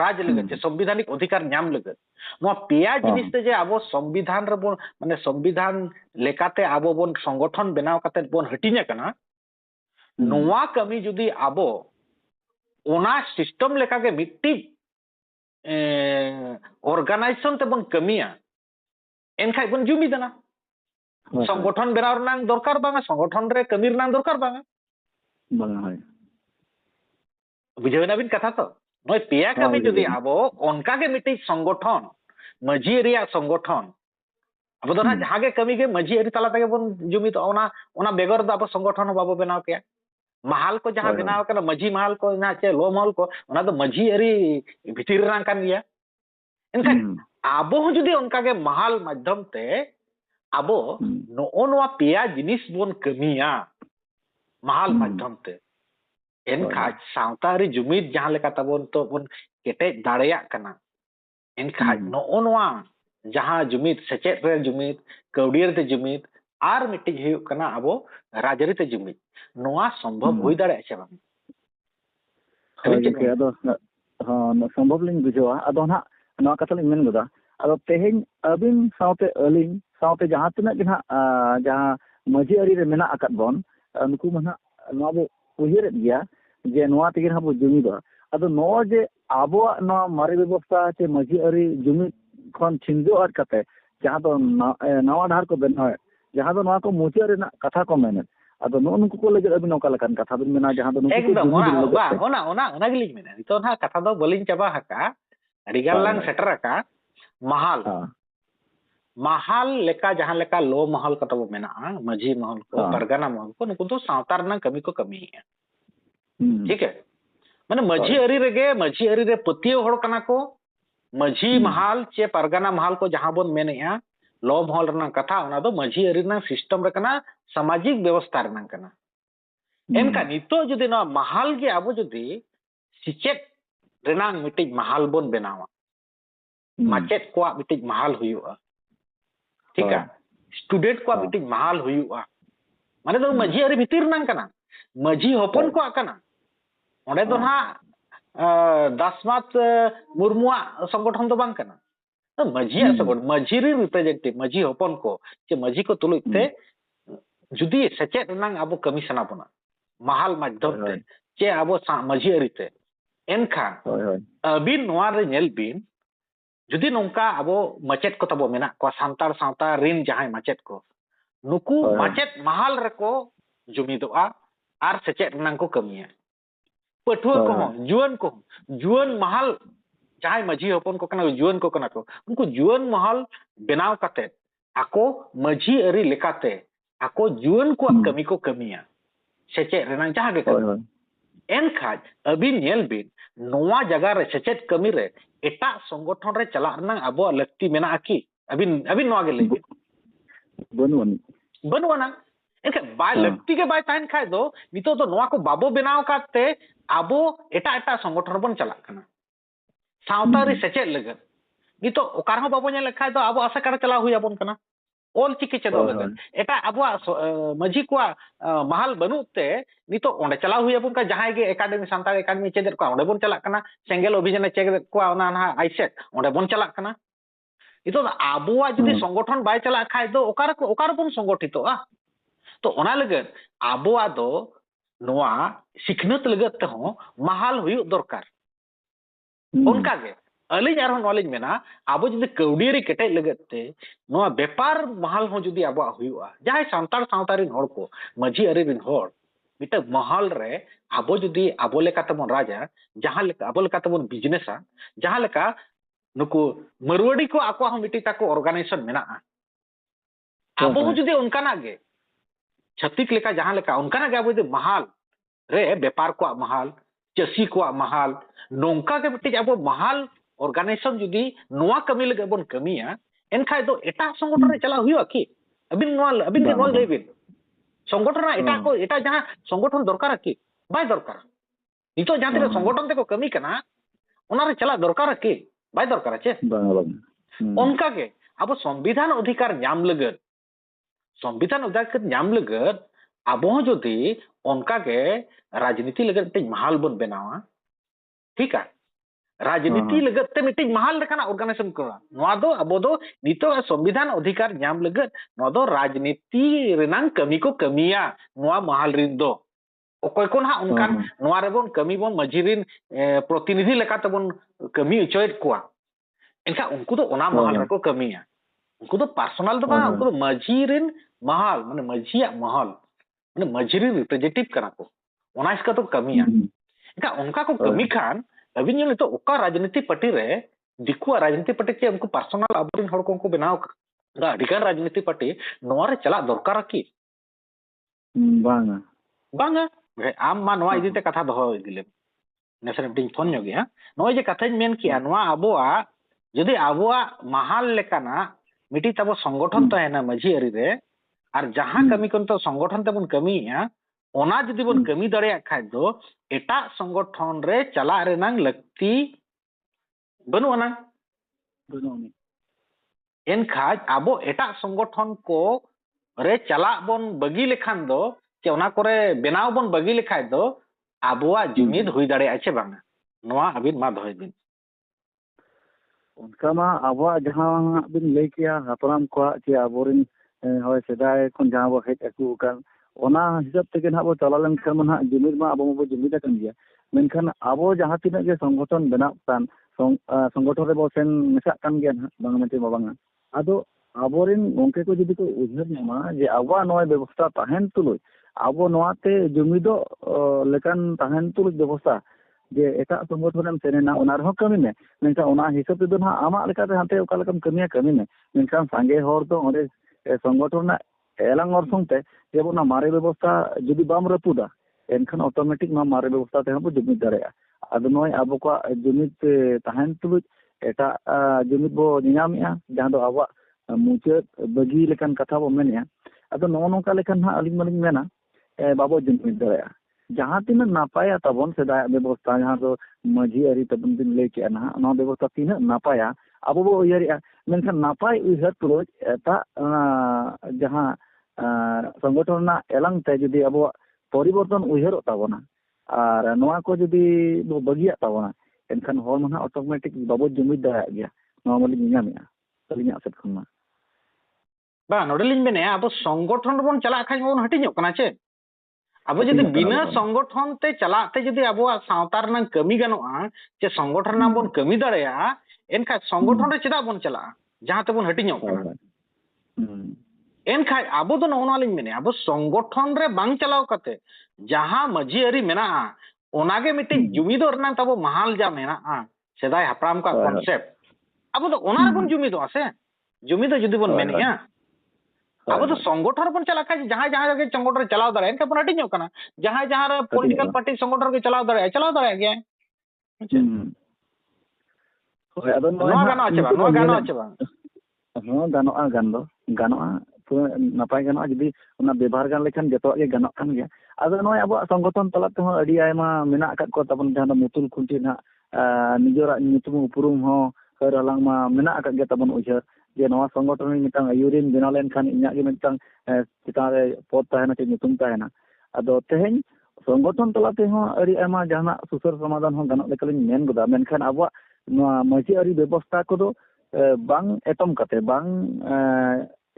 ᱨᱟᱡᱽ ᱞᱟᱹᱜᱤᱫ ᱥᱮ ᱥᱚᱝᱵᱤᱫᱷᱟᱱᱤᱠ ᱚᱫᱷᱤᱠᱟᱨ ᱧᱟᱢ ᱞᱟᱹᱜᱤᱫ ᱱᱚᱣᱟ ᱯᱮᱭᱟ ᱡᱤᱱᱤᱥ ᱛᱮ ᱡᱮ ᱟᱵᱚ ᱥᱚᱝᱵᱤᱫᱷᱟᱱ ᱨᱮᱵᱚᱱ ᱢᱟᱱᱮ ᱥᱚᱝᱵᱤᱫᱷᱟᱱ ᱞᱮᱠᱟᱛᱮ ᱟᱵᱚ ᱵᱚᱱ ᱥᱚᱝᱜᱚᱴᱷᱚᱱ ᱵᱮᱱᱟᱣ ᱠᱟᱛᱮ ᱵᱚᱱ ᱦᱟᱹᱴᱤᱧ ᱟᱠᱟᱱᱟ ᱱᱚᱣᱟ ᱠᱟᱹᱢᱤ ᱡᱩᱫᱤ ᱟᱵᱚ ᱚᱱᱟ ᱥᱤᱥᱴᱮᱢ ᱞᱮᱠᱟᱜᱮ ᱢᱤᱫᱴᱤᱡ ᱚᱨᱜᱟᱱᱟᱭᱡᱮᱥᱚᱱ ᱛᱮᱵᱚᱱ ᱠᱟᱹᱢᱤᱭᱟ ᱮᱱᱠᱷᱟᱡ ᱵᱚᱱ ᱡᱩᱢᱤᱫ ᱮᱱᱟ ᱥᱚᱝᱜᱚᱴᱷᱚᱱ ᱵᱮᱱᱟᱣ ᱨᱮᱱᱟᱝ ᱫᱚᱨᱠᱟᱨ ᱵᱟᱝᱟ ᱥᱚᱝᱜᱚᱴᱷᱚᱱ ᱨᱮ ᱠᱟᱹᱢᱤ ᱨᱮᱱᱟᱝ ᱫᱚᱨᱠᱟর ᱵᱟᱝᱟ ᱵᱟᱝᱟ ᱦᱳᱭ ᱵᱩᱡᱷᱟᱹᱣ ᱮᱱᱟᱵᱤᱱ ᱠᱟᱛᱷᱟ ᱛᱚ ᱱᱚᱜᱼᱚᱭ ᱯᱮᱭᱟ ᱠᱟᱹᱢᱤ ᱡᱩᱫᱤ ᱟᱵᱚ ᱚᱱᱠᱟᱜᱮ ᱢᱤᱫᱴᱤᱡ ᱥᱚᱝᱜᱚᱴᱷᱚᱱ ᱢᱟᱹᱡᱷᱤ ᱨᱮᱭᱟᱜ ᱥᱚᱝᱜᱚᱴᱷᱚᱱ ᱟᱵᱚ ᱫᱚ ᱱᱟᱦᱟᱜ ᱡᱟᱦᱟᱸ ᱜᱮ ᱠᱟᱹᱢᱤ ᱜᱮ ᱢᱟᱹᱡᱷᱤ ᱟᱹᱨᱤ ᱛᱟᱞᱟ ᱛᱮᱜᱮ ᱵᱚᱱ ᱡᱩᱢᱤᱫᱚᱜᱼᱟ ᱚᱱᱟ ᱚᱱᱟ ᱵᱮᱜᱚᱨ ᱫᱚ ᱟᱵᱚ ᱥᱚᱝᱜᱚᱴᱷᱚᱱ ᱦᱚᱸ ᱵᱟᱵᱚ ᱵᱮᱱᱟᱣ ᱠᱮᱭᱟ ᱢᱟᱦᱟᱞ ᱠᱚ ᱡᱟᱦᱟᱸ ᱵᱮᱱᱟᱣ ᱠᱟᱱᱟ ᱢᱟᱹᱡᱷᱤ ᱢᱟᱦᱟᱞ ᱠᱚ ᱱᱟᱦᱟᱜ ᱪᱮ ᱞᱚ ᱢᱚᱦᱚᱞ ᱠᱚ ᱚᱱᱟ ᱫᱚ ᱢᱟᱹᱡᱷᱤ ᱟᱹᱨᱤ ᱵᱷᱤᱛᱤᱨ ᱨᱮᱱᱟᱝ ᱠᱟᱱ ᱜᱮᱭᱟ ᱮᱱᱠᱷᱟᱱ ᱟᱵᱚ ᱦᱚᱸ ᱡᱩᱫᱤ ᱚᱱᱠᱟᱜᱮ ᱢᱟᱦᱟᱞ ᱢᱟᱫᱽᱫᱷᱚᱢ ᱛᱮ ᱟᱵᱚ ᱱᱚᱜᱼᱚ ᱱᱚᱣᱟ ᱯᱮᱭᱟ ᱡᱤᱱᱤᱥ ᱵᱚᱱ ᱠᱟᱹᱢᱤᱭᱟ ᱢᱟᱦᱟᱞ ᱢᱟᱫᱽᱫᱷᱚᱢ ᱛᱮ ᱮᱱᱠᱷᱟᱡ ᱥᱟᱶᱛᱟ ᱟᱹᱨᱤ ᱡᱩᱢᱤᱫ ᱡᱟᱦᱟᱸ ᱞᱮᱠᱟ ᱛᱟᱵᱚᱱ ᱛᱚ ᱵᱚᱱ ᱠᱮᱴᱮᱡ ᱫᱟᱲᱮᱭᱟᱜ ᱠᱟᱱᱟ ᱮᱱᱠᱷᱟᱡ ᱱᱚᱜᱼᱚ ᱱᱚᱣᱟ ᱡᱟᱦᱟᱸ ᱡᱩᱢᱤᱫ ᱥᱮᱪᱮᱫ ᱨᱮ ᱡᱩᱢᱤᱫ ᱠᱟᱹᱣᱰᱤ ᱨᱮ ᱡᱩᱢᱤᱫ ᱟᱨ ᱢᱤᱫᱴᱤᱡ ᱦᱩᱭᱩᱜ ᱠᱟᱱᱟ ᱟᱵᱚ ᱨᱟᱡᱽᱟᱹᱨᱤ ᱛᱮ ᱡᱩᱢᱤᱫ ᱱᱚᱣᱟ ᱥᱚᱢᱵᱷᱚᱵ ᱦᱩᱭ ᱫᱟᱲᱮᱭᱟᱜᱼᱟ ᱥᱮ ᱵᱟᱝ ᱦᱳᱭ ᱟᱫᱚ ᱦᱚᱸ ᱥᱚᱢᱵᱷᱚᱵ ᱞᱤᱧ ᱵᱩᱡᱷᱟᱹᱣᱟ ᱟᱫᱚ ᱱᱟᱦᱟᱜ ᱱᱚᱣᱟ ᱠᱟᱛᱷᱟ ᱞᱤᱧ ᱢᱮᱱ ᱜᱚᱫᱟ ᱟᱫᱚ ᱛᱮᱦᱮᱧ ᱟᱹᱵᱤᱱ ᱥᱟᱶᱛᱮ ᱟᱹᱞᱤᱧ ᱥᱟᱶᱛᱮ ᱡᱟᱦᱟᱸ ᱛᱤᱱᱟᱹᱜ ᱜᱮ ᱱᱟᱦᱟᱜ ᱡᱟᱦᱟᱸ ᱢᱟᱹᱡᱷᱤ ᱟᱹᱨᱤ ᱨᱮ ᱢᱮᱱᱟᱜ ᱟᱠᱟᱫ ᱵᱚᱱ ᱩᱱᱠᱩ ᱢᱟ ᱱᱟᱦᱟᱜ ᱱᱚᱣᱟ ᱵᱚ ᱩᱭᱦᱟᱹᱨᱮᱫ ᱜᱮᱭᱟ ᱡᱮ ᱱᱚᱣᱟ ᱛᱮᱜᱮ ᱱᱟᱦᱟᱜ ᱵᱚ ᱡᱩᱢᱤᱫᱚᱜᱼᱟ ᱟᱫᱚ ᱱᱚᱜᱼᱚᱭ ᱡᱮ ᱟᱵᱚᱣᱟᱜ ᱱᱚᱣᱟ ᱢᱟᱨᱮ ᱵᱮᱵᱚᱥᱛᱟ ᱥᱮ ᱢᱟᱹᱡᱷᱤ ᱟᱹᱨᱤ ᱡᱩᱢᱤᱫ ᱠᱷᱚᱱ ᱪᱷᱤᱱᱡᱟᱹᱣ ᱟᱫ ᱠᱟᱛᱮ ᱡᱟᱦᱟᱸ ᱫᱚ ᱱᱟᱣᱟ ᱰᱟᱦᱟᱨ ᱠᱚ ᱵᱮᱱᱟᱣᱮᱫ ᱡᱟᱦᱟᱸ ᱫᱚ ᱱᱚᱣᱟ ᱠᱚ ᱢᱩᱪᱟᱹᱫ ᱨᱮᱱᱟᱜ ᱠᱟᱛᱷᱟ ᱠᱚ ᱢᱮᱱᱮᱫ ᱟᱫᱚ ᱱᱚᱜᱼᱚ ᱱᱩᱠᱩ ᱠᱚ ᱞᱟᱹᱜᱤᱫ ᱟᱹᱵᱤᱱ ᱚᱠᱟ ᱞᱮᱠᱟᱱ ᱠᱟᱛᱷᱟ ᱵᱤᱱ ᱢᱮᱱᱟ ᱡᱟᱦᱟᱸ ᱫᱚ ᱱᱩᱠᱩ ᱮᱠᱫᱚᱢ ᱚᱱᱟ ᱚᱱᱟ ᱚᱱᱟ ᱜᱮᱞᱤᱧ ᱢᱮᱱᱟ ᱱᱤᱛᱚᱜ ᱱᱟᱦᱟᱜ ᱠᱟᱛᱷᱟ ᱫᱚ ᱵᱟᱹᱞᱤᱧ ᱪᱟᱵᱟ ᱟᱠᱟᱜᱼᱟ ᱟᱹᱰᱤ ᱜᱟᱱ ᱞᱟᱝ ᱥᱮᱴᱮᱨ ᱟᱠᱟᱜᱼᱟ ᱢᱟᱦᱟᱞ ᱢᱟᱦᱟᱞ ᱞᱮᱠᱟ ᱡᱟᱦᱟᱸ ᱞᱮᱠᱟ ᱞᱚ ᱢᱟᱦᱟᱞ ᱠᱚ ᱛᱟᱵᱚ ᱢᱮᱱᱟᱜᱼᱟ ᱢᱟᱹᱡᱷᱤ ᱢᱟᱦᱟᱞ ᱠᱚ ᱯᱟᱨᱜᱟᱱᱟ ᱢᱟᱦᱟᱞ ᱠᱚ ᱱᱩᱠᱩ ᱫᱚ ᱥᱟᱶᱛᱟ ᱨᱮᱱᱟᱜ ᱠᱟᱹᱢᱤ ᱠᱚ ᱠᱟᱹᱢᱤᱭᱮᱫᱼᱟ ᱴᱷᱤᱠ ᱟᱪᱷᱮ ᱢᱟᱱᱮ ᱢᱟᱹᱡᱷᱤ ᱟᱹᱨᱤ ᱨᱮᱜᱮ ᱢᱟᱹᱡᱷᱤ ᱟᱹᱨᱤ ᱨᱮ ᱯᱟᱹᱛᱭᱟᱹᱣ ᱦᱚᱲ ᱠᱟᱱᱟ ᱠᱚ ᱢᱟᱹᱡᱷᱤ ᱢᱟᱦᱟᱞ ᱪᱮ ᱯᱟᱨᱜᱟᱱᱟ ᱢᱟᱦᱟᱞ ᱠᱚ ᱡᱟᱦᱟᱸ ᱵᱚᱱ ᱢᱮᱱᱮᱜᱼᱟ ᱞᱚ ᱢᱚᱦᱚᱞ ᱨᱮᱱᱟᱜ ᱠᱟᱛᱷᱟ ᱚᱱᱟ ᱫᱚ ᱢᱟᱹᱡᱷᱤ ᱟᱹᱨᱤ ᱨᱮᱱᱟᱜ ᱥᱤᱥᱴᱮᱢ ᱨᱮ ᱠᱟᱱᱟ ᱥᱟᱢᱟᱡᱤᱠ ᱵᱮᱵᱚᱥᱛᱷᱟ ᱨᱮᱱᱟᱜ ᱠᱟᱱᱟ ᱮᱱᱠᱷᱟᱱ ᱱᱤᱛᱚᱜ ᱡᱩᱫᱤ ᱱᱚᱣᱟ ᱢᱟᱦᱟᱞ ᱜᱮ ᱟᱵᱚ ᱡᱩᱫᱤ ᱥᱮᱪᱮᱫ ᱨᱮᱱᱟᱝ ᱢᱤᱫᱴᱤᱡ ᱢᱟᱦᱟᱞ ᱵᱚᱱ ᱵᱮᱱᱟᱣᱟ ᱢᱟᱪᱮᱫ ᱠᱚᱣᱟᱜ ᱢᱤᱫᱴᱤᱡ ᱢᱟᱦᱟᱞ ᱦᱩᱭᱩᱜᱼᱟ ᱴᱷᱤᱠᱟ ᱥᱴᱩᱰᱮᱱᱴ ᱠᱚᱣᱟᱜ ᱢᱤᱫᱴᱤᱡ ᱢᱟᱦᱟᱞ ᱦᱩᱭᱩᱜᱼᱟ ᱢᱟᱱᱮ ᱫᱚ ᱢᱟᱹᱡᱷᱤ ᱟᱹᱨᱤ ᱵᱷᱤᱛᱤᱨ ᱨᱮᱱᱟᱝ ᱠᱟᱱᱟ ᱢᱟᱹᱡᱷᱤ ᱦᱚᱯᱚᱱ ᱠᱚᱣᱟᱜ ᱠᱟᱱᱟ ᱚᱸᱰᱮ ᱫᱚ ᱱᱟᱦᱟᱜ ᱫᱟᱥᱢᱟᱛ ᱢᱩᱨᱢᱩᱣᱟᱜ ᱥᱚᱝᱜᱚᱴᱷᱚᱱ ᱫᱚ ᱵᱟᱝ ᱠᱟᱱᱟ ᱢᱟᱹᱡᱷᱤᱭᱟᱜ ᱥᱚᱝᱜᱚᱴᱷᱚᱱ ᱢᱟᱹᱡᱷᱤ ᱨᱮ ᱨᱤᱯᱨᱮᱡᱮᱱᱴᱮᱴᱤᱵᱷ ᱢᱟᱹᱡᱷᱤ ᱦᱚᱯᱚᱱ ᱠᱚ ᱥᱮ ᱢᱟᱹᱡᱷᱤ ᱠᱚ ᱛᱩᱞᱩᱡ ᱛᱮ ᱡᱩᱫᱤ ᱥᱮᱪᱮᱫ ᱨᱮᱱᱟᱝ ᱟᱵᱚ ᱠᱟᱹᱢᱤ ᱥᱟᱱᱟ ᱵᱚᱱᱟ ᱢᱟᱦᱟᱞ ᱢᱟᱫᱽᱫᱷᱚᱢ ᱛᱮ ᱪᱮ ᱟᱵᱚ ᱢᱟᱹᱡᱷᱤ ᱟᱹᱨᱤ ᱛᱮ ᱮᱱᱠᱷᱟᱱ ᱟᱹᱵᱤᱱ ᱱᱚᱣᱟ ᱨᱮ ᱧᱮᱞ ᱵᱤᱱ ᱡᱩᱫᱤ ᱱᱚᱝᱠᱟ ᱟᱵᱚ ᱢᱟᱪᱮᱫ ᱠᱚ ᱛᱟᱵᱚ ᱢᱮᱱᱟᱜ ᱠᱚᱣᱟ ᱥᱟᱱᱛᱟᱲ ᱥᱟᱶᱛᱟ ᱨᱤᱱ ᱡᱟᱦᱟᱸᱭ ᱢᱟᱪᱮᱫ ᱠᱚ ᱱᱩᱠᱩ ᱢᱟᱪᱮᱫ ᱢᱟᱦᱟᱞ ᱨᱮᱠᱚ ᱡᱩᱢᱤᱫᱚᱜᱼᱟ ᱟᱨ ᱥᱮᱪᱮᱫ ᱨᱮᱱᱟᱝ ᱠᱚ ᱠᱟᱹᱢᱤᱭᱟ ᱯᱟᱹᱴᱷᱩᱣᱟᱹ ᱠᱚᱦᱚᱸ ᱡᱩᱣᱟᱹᱱ ᱠᱚ ᱡᱩᱣᱟᱹᱱ ᱢᱟᱦᱟᱞ ᱡᱟᱦᱟᱸᱭ ᱢᱟᱹᱡᱷᱤ ᱦᱚᱯᱚᱱ ᱠᱚ ᱠᱟᱱᱟ ᱡᱩᱣᱟᱹᱱ ᱠᱚ ᱠᱟᱱᱟ ᱠᱚ ᱩᱱᱠᱩ ᱡᱩᱣᱟᱹᱱ ᱢᱟᱦᱟᱞ ᱵᱮᱱᱟᱣ ᱠᱟᱛᱮ ᱟᱠᱚ ᱢᱟᱹᱡᱷᱤ ᱟᱹᱨᱤ ᱞᱮᱠᱟᱛᱮ ᱟᱠᱚ ᱡᱩᱣᱟᱹᱱ ᱠᱚᱣᱟᱜ ᱦᱩᱸ ᱠᱟᱹᱢᱤ ᱠᱚ ᱠᱟᱹᱢᱤᱭᱟ ᱥᱮᱪᱮᱫ ᱨᱮᱱᱟᱜ ᱡᱟᱦᱟᱸ ᱜᱮ ᱦᱳᱭ ᱠᱟᱹᱢᱤ ᱦᱳᱭ ᱮᱱᱠᱷᱟᱡ ᱟᱹᱵᱤᱱ ᱧᱮᱞ ᱵᱤᱱ ᱱᱚᱣᱟ ᱡᱟᱭᱜᱟ ᱨᱮ ᱥᱮᱪᱮᱫ ᱠᱟᱹᱢᱤ ᱨᱮ ᱮᱴᱟᱜ ᱥᱚᱝᱜᱚᱴᱷᱚᱱ ᱨᱮ ᱪᱟᱞᱟᱜ ᱨᱮᱱᱟᱜ ᱟᱵᱚᱣᱟᱜ ᱞᱟᱹᱠᱛᱤ ᱢᱮᱱᱟᱜᱼᱟ ᱠᱤ ᱟᱹᱵᱤᱱ ᱟᱹᱵᱤᱱ ᱱᱚᱣᱟ ᱜᱮ ᱞᱟᱹᱭ ᱵᱤᱱ ᱵᱟᱹᱱᱩᱜ ᱟᱹᱱᱤᱡ ᱵᱟᱹᱱᱩᱜ ᱟᱱᱟᱝ ᱮᱱᱠᱷᱟᱱ ᱵᱟᱭ ᱦᱮᱸ ᱞᱟᱹᱠᱛᱤ ᱜᱮ ᱵᱟᱭ ᱛᱟᱦᱮᱱ ᱠᱷᱟᱡ ᱫᱚ ᱱᱤᱛᱚᱜ ᱫᱚ ᱱᱚᱣᱟ ᱠᱚ ᱵᱟᱵᱚ ᱵᱮᱱᱟᱣ ᱟᱠᱟᱫ ᱛᱮ ᱟᱵᱚ ᱮᱴᱟᱜ ᱮᱴᱟᱜ ᱥᱚᱝᱜᱚᱴᱷᱚᱱ ᱨᱮᱵᱚᱱ ᱪᱟᱞᱟᱜ ᱠᱟᱱᱟ ᱥᱟᱶᱛᱟ ᱟᱹᱨᱤ ᱥᱮᱪᱮᱫ ᱞᱟᱹᱜᱤᱫ ᱱᱤᱛᱚᱜ ᱚᱠᱟ ᱨᱮᱦᱚᱸ ᱵᱟᱵᱚ ᱧᱮᱞᱮᱫ ᱠᱷᱟᱱ ᱫᱚ ᱟᱵᱚ ᱟᱥᱮᱠᱟ ᱨᱮ ᱪᱟᱞᱟᱣ ᱦᱩᱭ ᱟᱵᱚᱱ ᱠᱟᱱᱟ ᱚᱞ ᱪᱤᱠᱤ ᱪᱮᱫᱚᱜ ᱦᱳᱭ ᱞᱟᱹᱜᱤᱫ ᱦᱳᱭ ᱮᱴᱟᱜ ᱟᱵᱚᱣᱟᱜ ᱥᱚ- ᱮ, ᱢᱟᱺᱡᱷᱤ ᱠᱚᱣᱟᱜ ᱮ, ᱢᱟᱦᱟᱞ ᱵᱟᱹᱱᱩᱜ ᱛᱮ ᱱᱤᱛᱚᱜ ᱚᱸᱰᱮ ᱪᱟᱞᱟᱣ ᱦᱩᱭ ᱟᱵᱚᱱ ᱠᱟᱱᱟ ᱡᱟᱦᱟᱸᱭ ᱜᱮ ᱮᱠᱟᱰᱮᱢᱤ ᱥᱟᱱᱛᱟᱲ ᱮᱠᱟᱰᱮᱢᱤ ᱪᱮᱫᱮᱫ ᱠᱚᱣᱟ ᱚᱸᱰᱮ ᱵᱚᱱ ᱪᱟᱞᱟᱜ ᱠᱟᱱᱟ ᱥᱮᱸᱜᱮᱞ ᱚᱵᱷᱤᱡᱟᱱᱮ ᱪᱮᱫᱮᱫ ᱠᱚᱣᱟ ᱚᱱᱟ ᱱᱟᱦᱟᱜ ᱟᱭᱥᱮᱠ ᱚᱸᱰᱮ ᱵᱚᱱ ᱪᱟᱞᱟᱜ ᱠᱟᱱᱟ ᱱᱤᱛᱚᱜ ᱫᱚ ᱟᱵᱚᱣᱟᱜ ᱡᱩᱫᱤ ᱥᱚᱝᱜᱚᱴᱷᱚᱱ ᱵᱟᱭ ᱪᱟᱞᱟᱜ ᱠᱷᱟᱡ ᱫᱚ ᱚᱠᱟᱨᱮ ᱚᱠᱟᱨᱮ ᱵᱚᱱ ᱥᱚᱝᱜᱚᱴᱷᱤᱛᱚᱜᱼᱟ ᱛᱚ ᱚᱱᱟ ᱞᱟᱹᱜᱤᱫ ᱟᱵᱚᱣᱟᱜ ᱫᱚ ᱱᱚᱣᱟ ᱥᱤᱠᱷᱱᱟᱹᱛ ᱞᱟᱹᱜᱤᱫ ᱛᱮᱦᱚᱸ ᱢᱟᱦᱟᱞ ᱦᱩᱭᱩᱜ ᱫᱚᱨᱠᱟᱨ ᱚᱱᱠᱟᱜᱮ ᱟᱹᱞᱤᱧ ᱟᱨᱦᱚᱸ ᱱᱚᱣᱟ ᱞᱤᱧ ᱢᱮᱱᱟ ᱟᱵᱚ ᱡᱩᱫᱤ ᱠᱟᱹᱣᱰᱤᱭᱟᱹᱨᱤ ᱠᱮᱴᱮᱡ ᱞᱟᱹᱜᱤᱫ ᱛᱮ ᱱᱚᱣᱟ ᱵᱮᱯᱟᱨ ᱢᱟᱦᱟᱞ ᱦᱚᱸ ᱡᱩᱫᱤ ᱟᱵᱚᱣᱟᱜ ᱦᱩᱭᱩᱜᱼᱟ ᱡᱟᱦᱟᱸᱭ ᱥᱟᱱᱛᱟᱲ ᱥᱟᱶᱛᱟ ᱨᱮᱱ ᱦᱚᱲ ᱠᱚ ᱢᱟᱹᱡᱷᱤ ᱟᱹᱨᱤ ᱨᱮᱱ ᱦᱚᱲ ᱢᱤᱫᱴᱟᱝ ᱢᱟᱦᱟᱞ ᱨᱮ ᱟᱵᱚ ᱡᱩᱫᱤ ᱟᱵᱚ ᱞᱮᱠᱟ ᱛᱮᱵᱚᱱ ᱨᱟᱡᱟ ᱡᱟᱦᱟᱸ ᱞᱮᱠᱟ ᱟᱵᱚ ᱞᱮᱠᱟ ᱛᱮᱵᱚᱱ ᱵᱤᱡᱽᱱᱮᱥᱟ ᱡᱟᱦᱟᱸ ᱞᱮᱠᱟ ᱱᱩᱠᱩ ᱢᱟᱹᱨᱣᱟᱹᱰᱤ ᱠᱚ ᱟᱠᱚᱣᱟᱜ ᱦᱚᱸ ᱢᱤᱫᱴᱤᱡ ᱛᱟᱠᱚ ᱚᱨᱜᱟᱱᱟᱭᱡᱮᱥᱚᱱ ᱢᱮᱱᱟᱜᱼᱟ ᱟᱵᱚ ᱦᱚᱸ ᱡᱩᱫᱤ ᱚᱱᱠᱟᱱᱟᱜ ᱜᱮ ᱪᱷᱟᱹᱛᱤᱠ ᱞᱮᱠᱟ ᱡᱟᱦᱟᱸ ᱞᱮᱠᱟ ᱚᱱᱠᱟᱱᱟᱜ ᱜᱮ ᱟᱵᱚ ᱡᱩᱫᱤ ᱢᱟᱦᱟᱞ ᱨᱮ ᱵᱮᱯᱟᱨ ᱠᱚᱣᱟᱜ ᱢᱟᱦᱟᱞ ᱪᱟᱹᱥᱤ ᱠᱚᱣᱟᱜ ᱢᱟᱦᱟᱞ ᱱᱚᱝᱠᱟ ᱜᱮ ᱢᱤᱫᱴᱤᱡ ᱟᱵᱚ ᱢᱟᱦᱟᱞ ᱚᱨᱜᱟᱱᱟᱭᱡᱮᱥᱚᱱ ᱡᱩᱫᱤ ᱱᱚᱣᱟ ᱠᱟᱹᱢᱤ ᱞᱟᱹᱜᱤᱫ ᱵᱚᱱ ᱠᱟᱹᱢᱤᱭᱟ ᱮᱱᱠᱷᱟᱡ ᱫᱚ ᱮᱴᱟᱜ ᱥᱚᱝᱜᱚᱴᱷᱚᱱ ᱨᱮ ᱪᱟᱞᱟᱜ ᱦᱩᱭᱩᱜᱼᱟ ᱠᱤ ᱟᱹᱵᱤᱱ ᱱᱚᱣᱟ ᱟᱹᱵᱤᱱ ᱜᱮ ᱱᱚᱣᱟ ᱞᱟᱹᱭ ᱵᱤᱱ ᱥᱚᱝᱜᱚᱴᱷᱚᱱ ᱨᱮᱱᱟᱜ ᱮᱴᱟᱜ ᱠᱚ ᱮᱴᱟᱜ ᱡᱟᱦᱟᱸ ᱥᱚᱝᱜᱚᱴᱷᱚᱱ ᱫᱚᱨᱠᱟᱨᱟ ᱠᱤ ᱵᱟᱭ ᱫᱚᱨᱠᱟᱨᱟ ᱱᱤᱛᱚᱜ ᱡᱟᱦᱟᱸ ᱛᱤᱱᱟᱹᱜ ᱥᱚᱝᱜᱚᱴᱷᱚᱱ ᱛᱮᱠᱚ ᱠᱟᱹᱢᱤ ᱠᱟᱱᱟ ᱚᱱᱟᱨᱮ ᱪᱟᱞᱟᱜ ᱫᱚᱨᱠᱟᱨᱟ ᱠᱤ ᱵᱟᱭ ᱫᱚᱨᱠᱟᱨᱟ ᱪᱮ ᱚᱱᱠᱟᱜᱮ ᱟᱵᱚ ᱥᱚᱝᱵᱤᱫᱷᱟᱱ ᱚᱫᱷᱤᱠᱟᱨ ᱧᱟᱢ ᱞᱟᱹᱜᱤᱫ ᱥᱚᱝᱵᱤᱫᱷᱟᱱ ᱚᱫᱷᱤᱠᱟᱨ ᱧᱟᱢ ᱞᱟᱹᱜᱤᱫ ᱟᱵᱚ ᱦᱚᱸ ᱡᱩᱫᱤ ᱚᱱᱠᱟᱜᱮ ᱨᱟᱡᱽᱱᱤᱛᱤ ᱞᱟᱹᱜᱤᱫ ᱢᱤᱫᱴᱮᱱ ᱢᱟᱦᱟᱞ ᱵᱚᱱ ᱵᱮᱱᱟᱣᱟ ᱴᱷᱤᱠᱟ ᱨᱟᱡᱽᱱᱤᱛᱤ ᱞᱟᱹᱜᱤᱫ ᱛᱮ ᱢᱤᱫᱴᱮᱱ ᱢᱟᱦᱟᱞ ᱞᱮᱠᱟᱱᱟᱜ ᱚᱨᱜᱟᱱᱟᱭᱡᱮᱥᱚᱱ ᱠᱚᱨᱟᱣᱟ ᱱᱚᱣᱟ ᱫᱚ ᱟᱵᱚ ᱫᱚ ᱱᱤᱛᱚᱜ ᱥᱚᱝᱵᱤᱫᱷᱟᱱ ᱚᱫᱷᱤᱠᱟᱨ ᱧᱟᱢ ᱞᱟᱹᱜᱤᱫ ᱱᱚᱣᱟ ᱫᱚ ᱨᱟᱡᱽᱱᱤᱛᱤ ᱨᱮᱱᱟᱝ ᱠᱟᱹᱢᱤ ᱠᱚ ᱠᱟᱹᱢᱤᱭᱟ ᱱᱚᱣᱟ ᱢᱟᱦᱟᱞ ᱨᱤᱱ ᱫᱚ ᱚᱠᱚᱭ ᱠᱚ ᱱᱟᱦᱟᱜ ᱚᱱᱠᱟᱱ ᱱᱚᱣᱟ ᱨᱮᱵᱚᱱ ᱠᱟᱹᱢᱤ ᱵᱚᱱ ᱢᱟᱺᱡᱷᱤ ᱨᱤᱱ ᱯᱨᱚᱛᱤᱱᱤᱫᱷᱤ ᱞᱮᱠᱟᱛᱮᱵᱚᱱ ᱠᱟᱹᱢᱤ ᱚᱪᱚᱭᱮᱫ ᱠᱚᱣᱟ ᱮᱱᱠᱷᱟᱱ ᱩᱱᱠᱩ ᱫᱚ ᱚᱱᱟ ᱢᱚᱦᱟᱞ ᱨᱮᱠᱚ ᱠᱟᱹᱢᱤᱭᱟ ᱩᱱᱠᱩ ᱫᱚ ᱯᱟᱨᱥᱚᱱᱟᱞ ᱫᱚ ᱵᱟᱝ ᱩᱱᱠᱩ ᱫᱚ ᱢᱟᱺᱡᱷᱤ ᱨᱤᱱ ᱢᱚᱦᱟᱞ ᱢᱟᱱᱮ ᱢᱟᱺᱡᱷᱤᱭᱟᱜ ᱢᱚᱦᱚᱞ ᱢᱟᱱᱮ ᱢᱟᱺᱡᱷᱤ ᱨᱤᱱ ᱨᱤᱯᱨᱮᱡᱮᱱᱴᱮᱴᱤᱵᱷ ᱠᱟᱱᱟ ᱠᱚ ᱚᱱᱟ ᱦᱤᱥᱟᱹᱵ ᱛᱮᱠᱚ ᱠᱟᱹᱢᱤᱭᱟ ᱮᱱᱠᱷᱟᱱ ᱚᱱᱠᱟ ᱠᱚ ᱠᱟᱹᱢᱤ ᱠᱷᱟᱱ ᱟᱹᱵᱤᱱ ᱧᱮᱞ ᱱᱤᱛᱚᱜ ᱚᱠᱟ ᱨᱟᱡᱽᱱᱤᱛᱤ ᱯᱟᱨᱴᱤ ᱨᱮ ᱫᱤᱠᱩᱣᱟᱜ ᱨᱟᱡᱽᱱᱤᱛᱤ ᱯᱟᱨᱴᱤ ᱪᱮᱫ ᱩᱱᱠᱩ ᱯᱟᱨᱥᱚᱱᱟᱞ ᱟᱵᱚᱨᱮᱱ ᱦᱚᱲ ᱠᱚ ᱵᱮᱱᱟᱣ ᱟᱹᱰᱤᱜᱟᱱ ᱨᱟᱡᱽᱱᱤᱛᱤ ᱯᱟᱨᱴᱤ ᱱᱚᱣᱟ ᱨᱮ ᱪᱟᱞᱟᱜ ᱫᱚᱨᱠᱟᱨᱟ ᱠᱤ ᱵᱟᱝᱟ ᱵᱟᱝᱟ ᱟᱢ ᱢᱟ ᱱᱚᱣᱟ ᱤᱫᱤᱛᱮ ᱠᱟᱛᱷᱟ ᱫᱚᱦᱚ ᱤᱫᱤ ᱞᱮᱢ ᱱᱟᱥᱮᱱᱟᱜ ᱢᱤᱫᱴᱤᱧ ᱯᱷᱳᱱ ᱧᱚᱜ ᱜᱮᱭᱟ ᱱᱚᱜᱼᱚᱭ ᱡᱮ ᱠᱟᱛᱷᱟᱧ ᱢᱮᱱ ᱠᱮᱜᱼᱟ ᱱᱚᱣᱟ ᱟᱵᱚᱣᱟᱜ ᱡᱩᱫᱤ ᱟᱵᱚᱣᱟᱜ ᱢᱟᱦᱟᱞ ᱞᱮᱠᱟᱱᱟᱜ ᱢᱤᱫᱴᱤᱡ ᱛᱟᱵᱚ ᱥᱚᱝᱜᱚᱴᱷᱚᱱ ᱛᱟᱦᱮᱱᱟ ᱢᱟᱹᱡᱷᱤ ᱟᱹᱨᱤ ᱨᱮ ᱟᱨ ᱡᱟᱦᱟᱸ ᱠᱟᱹᱢᱤ ᱠᱚ ᱱᱤᱛᱚᱜ ᱥᱚᱝᱜᱚᱴᱷᱚᱱ ᱛᱮᱵᱚᱱ ᱠᱟᱹᱢᱤᱭᱮᱜᱼᱟ ᱚᱱᱟ ᱡᱩᱫᱤ ᱵᱚᱱ ᱠᱟᱹᱢᱤ ᱫᱟᱲᱮᱭᱟᱜ ᱠᱷᱟᱡ ᱫᱚ ᱮᱴᱟᱜ ᱥᱚᱝᱜᱚᱴᱷᱚᱱ ᱨᱮ ᱪᱟᱞᱟᱜ ᱨᱮᱱᱟᱝ ᱞᱟᱹᱠᱛᱤ ᱵᱟᱹᱱᱩᱜ ᱟᱱᱟ ᱵᱟᱹᱱᱩᱜ ᱟᱹᱱᱤᱡ ᱮᱱᱠᱷᱟᱡ ᱟᱵᱚ ᱮᱴᱟᱜ ᱥᱚᱝᱜᱚᱴᱷᱚᱱ ᱠᱚ ᱨᱮ ᱪᱟᱞᱟᱜ ᱵᱚᱱ ᱵᱟᱹᱜᱤ ᱞᱮᱠᱷᱟᱱ ᱫᱚ ᱪᱮ ᱚᱱᱟ ᱠᱚᱨᱮ ᱵᱮᱱᱟᱣ ᱵᱚᱱ ᱵᱟᱹᱜᱤ ᱞᱮᱠᱷᱟᱡ ᱫᱚ ᱟᱵᱚᱣᱟᱜ ᱡᱩᱢᱤᱫ ᱦᱩᱭ ᱫᱟᱲᱮᱭᱟᱜᱼᱟ ᱪᱮ ᱵᱟᱝᱟ ᱱᱚᱣᱟ ᱟᱹᱵᱤᱱ ᱢᱟ ᱫᱚᱦᱚᱭ ᱵᱤᱱ ᱚᱱᱠᱟ ᱢᱟ ᱟᱵᱚᱣᱟᱜ ᱡᱟᱦᱟᱸ ᱵᱤᱱ ᱞᱟᱹᱭ ᱠᱮᱭᱟ ᱦᱟᱯᱲᱟᱢ ᱠᱚᱣᱟᱜ ᱪᱮ ᱟᱵᱚᱨᱮᱱ ᱦᱳᱭ ᱥᱮᱫᱟᱭ ᱠᱷᱚᱱ ᱡᱟᱦᱟᱸ ᱵᱚ ᱦᱮᱡ ᱟᱹᱜᱩ ᱟᱠᱟᱱ ᱚᱱᱟ ᱦᱤᱥᱟᱹᱵ ᱛᱮᱜᱮ ᱱᱟᱦᱟᱜ ᱵᱚᱱ ᱪᱟᱞᱟᱣ ᱞᱮᱱᱠᱷᱟᱱ ᱢᱟ ᱱᱟᱦᱟᱜ ᱡᱩᱢᱤᱫ ᱢᱟ ᱟᱵᱚ ᱢᱟᱵᱚᱱ ᱡᱩᱢᱤᱫ ᱟᱠᱟᱱ ᱜᱮᱭᱟ ᱢᱮᱱᱠᱷᱟᱱ ᱟᱵᱚ ᱡᱟᱦᱟᱸ ᱛᱤᱱᱟᱹᱜ ᱜᱮ ᱥᱚᱝᱜᱚᱴᱷᱚᱱ ᱵᱮᱱᱟᱜ ᱠᱟᱱ ᱥᱚᱝᱜᱚᱴᱷᱚᱱ ᱨᱮᱵᱚᱱ ᱥᱮᱱ ᱢᱮᱥᱟᱜ ᱠᱟᱱ ᱜᱮᱭᱟ ᱱᱟᱦᱟᱜ ᱵᱟᱝ ᱢᱮᱱᱛᱮ ᱫᱚ ᱵᱟᱝᱟ ᱟᱫᱚ ᱟᱵᱚᱨᱮᱱ ᱜᱚᱢᱠᱮ ᱠᱚ ᱡᱩᱫᱤ ᱠᱚ ᱩᱭᱦᱟᱹᱨ ᱧᱟᱢᱟ ᱡᱮ ᱟᱵᱚᱣᱟᱜ ᱱᱚᱣᱟ ᱵᱮᱵᱚᱥᱛᱟ ᱛᱟᱦᱮᱱ ᱛᱩᱞᱩᱡ ᱟᱵᱚ ᱱᱚᱣᱟᱛᱮ ᱡᱩᱢᱤᱫᱚᱜ ᱞᱮᱠᱟᱱ ᱛᱟᱦᱮᱱ ᱛᱩᱞᱩᱡ ᱵᱮᱵᱚᱥᱛᱟ ᱡᱮ ᱮᱴᱟᱜ ᱥᱚᱝᱜᱚᱴᱷᱚᱱ ᱨᱮᱢ ᱥᱮᱱ ᱮᱱᱟ ᱚᱱᱟ ᱨᱮᱦᱚᱸ ᱠᱟᱹᱢᱤ ᱢᱮ ᱢᱮᱱᱠᱷᱟᱱ ᱚᱱᱟ ᱦᱤᱥᱟᱹᱵ ᱛᱮᱫᱚ ᱱᱟᱦᱟᱜ ᱟᱢᱟᱜ ᱞᱮᱠᱟᱛᱮ ᱦᱟᱱᱛᱮ ᱚᱠᱟ ᱞᱮᱠᱟᱢ ᱠᱟᱹᱢᱤᱭᱟ ᱠᱟᱹᱢᱤ ᱢᱮ ᱢᱮᱱᱠᱷᱟᱱ ᱥᱟᱸᱜᱮ ᱦᱚᱲ ᱫᱚ ᱚᱸᱰᱮ ᱥᱚᱝᱜᱚᱴᱷᱚᱱ ᱨᱮᱱᱟᱜ ᱮᱞᱟᱝ ᱚᱨᱥᱚᱝ ᱛᱮ ᱡᱮ ᱚᱱᱟ ᱢᱟᱨᱮ ᱵᱮᱵᱚᱥᱛᱷᱟ ᱡᱩᱫᱤ ᱵᱟᱢ ᱨᱟᱹᱯᱩᱫᱟ ᱮᱱᱠᱷᱟᱱ ᱚᱴᱳᱢᱮᱴᱤᱠ ᱱᱚᱣᱟ ᱢᱟᱨᱮ ᱵᱮᱵᱚᱥᱛᱷᱟ ᱛᱮᱦᱚᱸ ᱵᱚ ᱡᱩᱢᱤᱫ ᱫᱟᱲᱮᱭᱟᱜᱼᱟ ᱟᱫᱚ ᱱᱚᱜᱼᱚᱭ ᱟᱵᱚ ᱠᱚᱣᱟᱜ ᱡᱩᱢᱤᱫ ᱛᱟᱦᱮᱱ ᱛᱩᱞᱩᱡ ᱮᱴᱟᱜ ᱡᱩᱢᱤᱫ ᱵᱚ ᱧᱮᱧᱟᱢᱮᱫᱼᱟ ᱡᱟᱦᱟᱸ ᱫᱚ ᱟᱵᱚᱣᱟᱜ ᱢᱩᱪᱟᱹᱫ ᱵᱟᱹᱜᱤ ᱞᱮᱠᱟᱱ ᱠᱟᱛᱷᱟ ᱵᱚ ᱢᱮᱱᱮᱫᱼᱟ ᱟᱫᱚ ᱱᱚᱜᱼᱚ ᱱᱚᱝᱠᱟ ᱞᱮᱠᱷᱟᱱ ᱦᱟᱸᱜ ᱟᱹᱞᱤᱧ ᱢᱟᱞᱤᱧ ᱢᱮᱱᱟ ᱵᱟᱵᱚ ᱡᱩᱢᱤᱫ ᱫᱟᱲᱮᱭᱟᱜᱼᱟ ᱡᱟᱦᱟᱸ ᱛᱤᱱᱟᱹᱜ ᱱᱟᱯᱟᱭᱟ ᱛᱟᱵᱚᱱ ᱥᱮᱫᱟᱭᱟᱜ ᱵᱮᱵᱚᱥᱛᱟ ᱡᱟᱦᱟᱸ ᱫᱚ ᱢᱟᱹᱡᱷᱤ ᱟᱹᱨᱤ ᱛᱟᱵᱚᱱ ᱵᱤᱱ ᱞᱟᱹᱭ ᱠᱮᱜᱼᱟ ᱱᱟᱦᱟᱜ ᱱᱚᱣᱟ ᱵᱮᱵᱚᱥᱛᱟ ᱛᱤᱱᱟᱹᱜ ᱱᱟᱯᱟᱭᱟ ᱟᱵᱚ ᱵᱚ ᱩᱭᱦᱟᱹᱨᱮᱜᱼᱟ ᱢᱮᱱᱠᱷᱟᱱ ᱱᱟᱯᱟᱭ ᱩᱭᱦᱟᱹᱨ ᱛᱩᱞᱩᱡ ᱮᱴᱟᱜ ᱚᱱᱟ ᱡᱟᱦᱟᱸ ᱥᱚᱝᱜᱚᱴᱷᱚᱱ ᱨᱮᱱᱟᱜ ᱮᱞᱟᱝ ᱛᱮ ᱡᱩᱫᱤ ᱟᱵᱚᱣᱟᱜ ᱯᱚᱨᱤᱵᱚᱨᱛᱚᱱ ᱩᱭᱦᱟᱹᱨᱚᱜ ᱛᱟᱵᱚᱱᱟ ᱟᱨ ᱱᱚᱣᱟ ᱠᱚ ᱡᱩᱫᱤ ᱵᱚ ᱵᱟᱹᱜᱤᱭᱟᱜ ᱛᱟᱵᱚᱱᱟ ᱮᱱᱠᱷᱟᱱ ᱦᱚᱲ ᱢᱟ ᱱᱟᱦᱟᱜ ᱚᱴᱳᱢᱮᱴᱤᱠ ᱵᱟᱵᱚ ᱡᱩᱢᱤᱫ ᱫᱟᱲᱮᱭᱟᱜ ᱜᱮᱭᱟ ᱱᱚᱣᱟ ᱢᱟᱞᱤᱧ ᱧᱮᱧᱟᱢᱮᱜᱼᱟ ᱟᱹᱞᱤᱧᱟᱜ ᱥᱮᱫ ᱠᱷᱚᱱ ᱢᱟ ᱵᱟᱝ ᱱᱚᱰᱮ ᱞᱤᱧ ᱢᱮᱱᱮᱫᱼᱟ ᱟᱵᱚ ᱥᱚᱝᱜᱚᱴᱷᱚᱱ ᱨᱮᱵᱚᱱ ᱪᱟᱞᱟᱜ ᱠᱷᱟᱱ ᱵᱚᱱ ᱦᱟᱹᱴᱤᱧᱚᱜ ᱠᱟᱱᱟ ᱪᱮ ᱟᱵᱚ ᱡᱩᱫᱤ ᱵᱤᱱᱟᱹ ᱥᱚᱝᱜᱚᱴᱷᱚᱱ ᱛᱮ ᱪᱟᱞᱟᱜ ᱛᱮ ᱡᱩᱫᱤ ᱟᱵᱚᱣᱟᱜ ᱥᱟᱶᱛᱟ ᱨᱮᱱᱟᱜ ᱠᱟᱹᱢᱤ ᱜᱟᱱᱚᱜᱼᱟ ᱥᱮ ᱥᱚᱝᱜᱚᱴᱷᱚᱱ ᱨᱮᱱᱟᱜ ᱵᱚᱱ ᱠᱟᱹᱢᱤ ᱫᱟᱲᱮᱭᱟᱜᱼᱟ ᱮᱱᱠᱷᱟᱱ ᱥᱚᱝᱜᱚᱴᱷᱚᱱ ᱨᱮ ᱪᱮᱫᱟᱜ ᱵᱚᱱ ᱪᱟᱞᱟᱜᱼᱟ ᱡᱟᱦᱟᱸ ᱛᱮᱵᱚᱱ ᱦᱟᱹᱴᱤᱧᱚᱜ ᱠᱟᱱᱟ ᱮᱱᱠᱷᱟᱱ ᱟᱵᱚ ᱫᱚ ᱱᱚᱜᱼᱚ ᱱᱚᱣᱟ ᱞᱤᱧ ᱢᱮᱱᱮᱫᱼᱟ ᱟᱵᱚ ᱥᱚᱝᱜᱚᱴᱷᱚᱱ ᱨᱮ ᱵᱟᱝ ᱪᱟᱞᱟᱣ ᱠᱟᱛᱮ ᱡᱟᱦᱟᱸ ᱢᱟᱹᱡᱷᱤ ᱟᱹᱨᱤ ᱢᱮᱱᱟᱜᱼᱟ ᱚᱱᱟᱜᱮ ᱢᱤᱫᱴᱤᱡ ᱡᱩᱢᱤᱫᱚᱜ ᱨᱮᱱᱟᱜ ᱛᱟᱵᱚ ᱢᱟᱦᱟᱞ ᱡᱟ ᱢᱮᱱᱟᱜᱼᱟ ᱥᱮᱫᱟᱭ ᱦᱟᱯᱲᱟᱢ ᱠᱚᱣᱟᱜ ᱠᱚᱱᱥᱮᱯᱴ ᱟᱵᱚ ᱫᱚ ᱚᱱᱟ ᱨᱮᱵᱚᱱ ᱡᱩᱢᱤᱫᱚᱜᱼᱟ ᱥᱮ ᱡᱩᱢᱤᱫ ᱫᱚ ᱡᱩᱫᱤ ᱵᱚᱱ ᱢᱮᱱᱮᱜᱼᱟ ᱟᱵᱚ ᱫᱚ ᱥᱚᱝᱜᱚᱴᱷᱚᱱ ᱨᱮᱵᱚᱱ ᱪᱟᱞᱟᱜ ᱠᱷᱟᱱ ᱡᱟᱦᱟᱸᱭ ᱡᱟᱦᱟᱸ ᱨᱮᱜᱮ ᱥᱚᱝᱜᱚᱴᱷᱚᱱ ᱨᱮ ᱪᱟᱞᱟᱣ ᱫᱟᱲᱮᱭᱟᱜᱼᱟ ᱮᱱᱠᱷᱟᱱ ᱵᱚᱱ ᱦᱟᱹᱴᱤᱧᱚᱜ ᱠᱟᱱᱟ ᱡᱟᱦᱟᱸᱭ ᱡᱟᱦᱟᱸ ᱨᱮ ᱯᱚᱞᱤᱴᱤᱠᱟᱞ ᱯᱟᱨᱴᱤ ᱥᱚᱝᱜᱚᱴᱷᱚᱱ ᱨᱮᱜᱮ ᱪᱟᱞᱟᱣ ᱫᱟᱲᱮᱭᱟᱜᱼᱟ ᱪᱟᱞᱟᱣ ᱫᱟᱲᱮᱭᱟᱜ ᱜᱮᱭᱟᱭ ᱦᱳᱭ ᱟᱫᱚ ᱱᱚᱣᱟ ᱜᱟᱱᱚᱜᱼᱟ ᱪᱮ ᱵᱟᱝ ᱱᱚᱣᱟ ᱜᱟᱱᱚᱜᱼᱟ ᱪᱮ ᱵᱟᱝ ᱦᱮᱸ ᱜᱟᱱᱚᱜᱼᱟ ᱜᱟᱱ ᱫᱚ ᱜᱟᱱᱚᱜᱼᱟ ᱯᱩᱨᱟᱹ ᱱᱟᱯᱟᱭ ᱜᱟᱱᱚᱜᱼᱟ ᱡᱩᱫᱤ ᱚᱱᱟ ᱵᱮᱵᱚᱦᱟᱨ ᱜᱟᱱ ᱞᱮᱠᱷᱟᱱ ᱡᱚᱛᱚᱣᱟᱜ ᱜᱮ ᱜᱟᱱᱚᱜ ᱠᱟᱱ ᱜᱮᱭᱟ ᱟᱫᱚ ᱱᱚᱜᱼᱚᱭ ᱟᱵᱚᱣᱟᱜ ᱥᱚᱝᱜᱚᱴᱷᱚᱱ ᱛᱟᱞᱟ ᱛᱮᱦᱚᱸ ᱟᱹᱰᱤ ᱟᱭᱢᱟ ᱢᱮᱱᱟᱜ ᱟᱠᱟᱫ ᱠᱚᱣᱟ ᱛᱟᱵᱚᱱ ᱡᱟᱦᱟᱸ ᱫᱚ ᱢᱩᱛᱩᱞ ᱠᱷᱩᱱᱴᱤ ᱨᱮᱱᱟᱜ ᱱᱤᱡᱮᱨᱟᱜ ᱧᱩᱛᱩᱢ ᱩᱯᱨᱩᱢ ᱦᱚᱸ ᱦᱟᱹᱨ ᱟᱞᱟᱝ ᱢᱟ ᱢᱮᱱᱟᱜ ᱟᱠᱟᱫ ᱜᱮ ᱛᱟᱵᱚᱱ ᱩᱭᱦᱟᱹᱨ ᱡᱮ ᱱᱚᱣᱟ ᱥᱚᱝᱜᱚᱴᱷᱚᱱ ᱨᱮᱱ ᱢᱤᱫᱴᱟᱝ ᱟᱹᱭᱩᱨᱤᱭᱟᱹᱧ ᱵᱮᱱᱟᱣ ᱞᱮᱱᱠᱷᱟᱱ ᱤᱧᱟᱹᱜ ᱜᱮ ᱢᱤᱫᱴᱟᱝ ᱪᱮᱛᱟᱱ ᱨᱮ ᱯᱚᱫᱽ ᱛᱟᱦᱮᱱᱟ ᱥᱮ ᱧᱩᱛᱩᱢ ᱛᱟᱦᱮᱱᱟ ᱟᱫᱚ ᱛᱮᱦᱮᱧ ᱥᱚᱝᱜᱚᱴᱷᱚᱱ ᱛᱟᱞᱟ ᱛᱮᱦᱚᱸ ᱟᱹᱰᱤ ᱟᱭᱢᱟ ᱡᱟᱦᱟᱱᱟᱜ ᱥᱩᱥᱟᱹᱨ ᱥᱚᱢᱟᱫᱷᱟᱱ ᱦᱚᱸ ᱜᱟᱱᱚᱜ ᱞᱮᱠᱟᱞᱤᱧ ᱢᱮᱱ ᱜᱚᱫᱟ ᱢᱮᱱᱠᱷᱟᱱ ᱟᱵᱚᱣᱟᱜ ᱱᱚᱣᱟ ᱢᱟᱹᱡᱷᱤ ᱟᱹᱨᱤ ᱵᱮᱵᱚᱥᱛᱷᱟ ᱠᱚᱫᱚ ᱵᱟᱝ ᱮᱛᱚᱢ ᱠᱟᱛᱮ ᱵᱟᱝ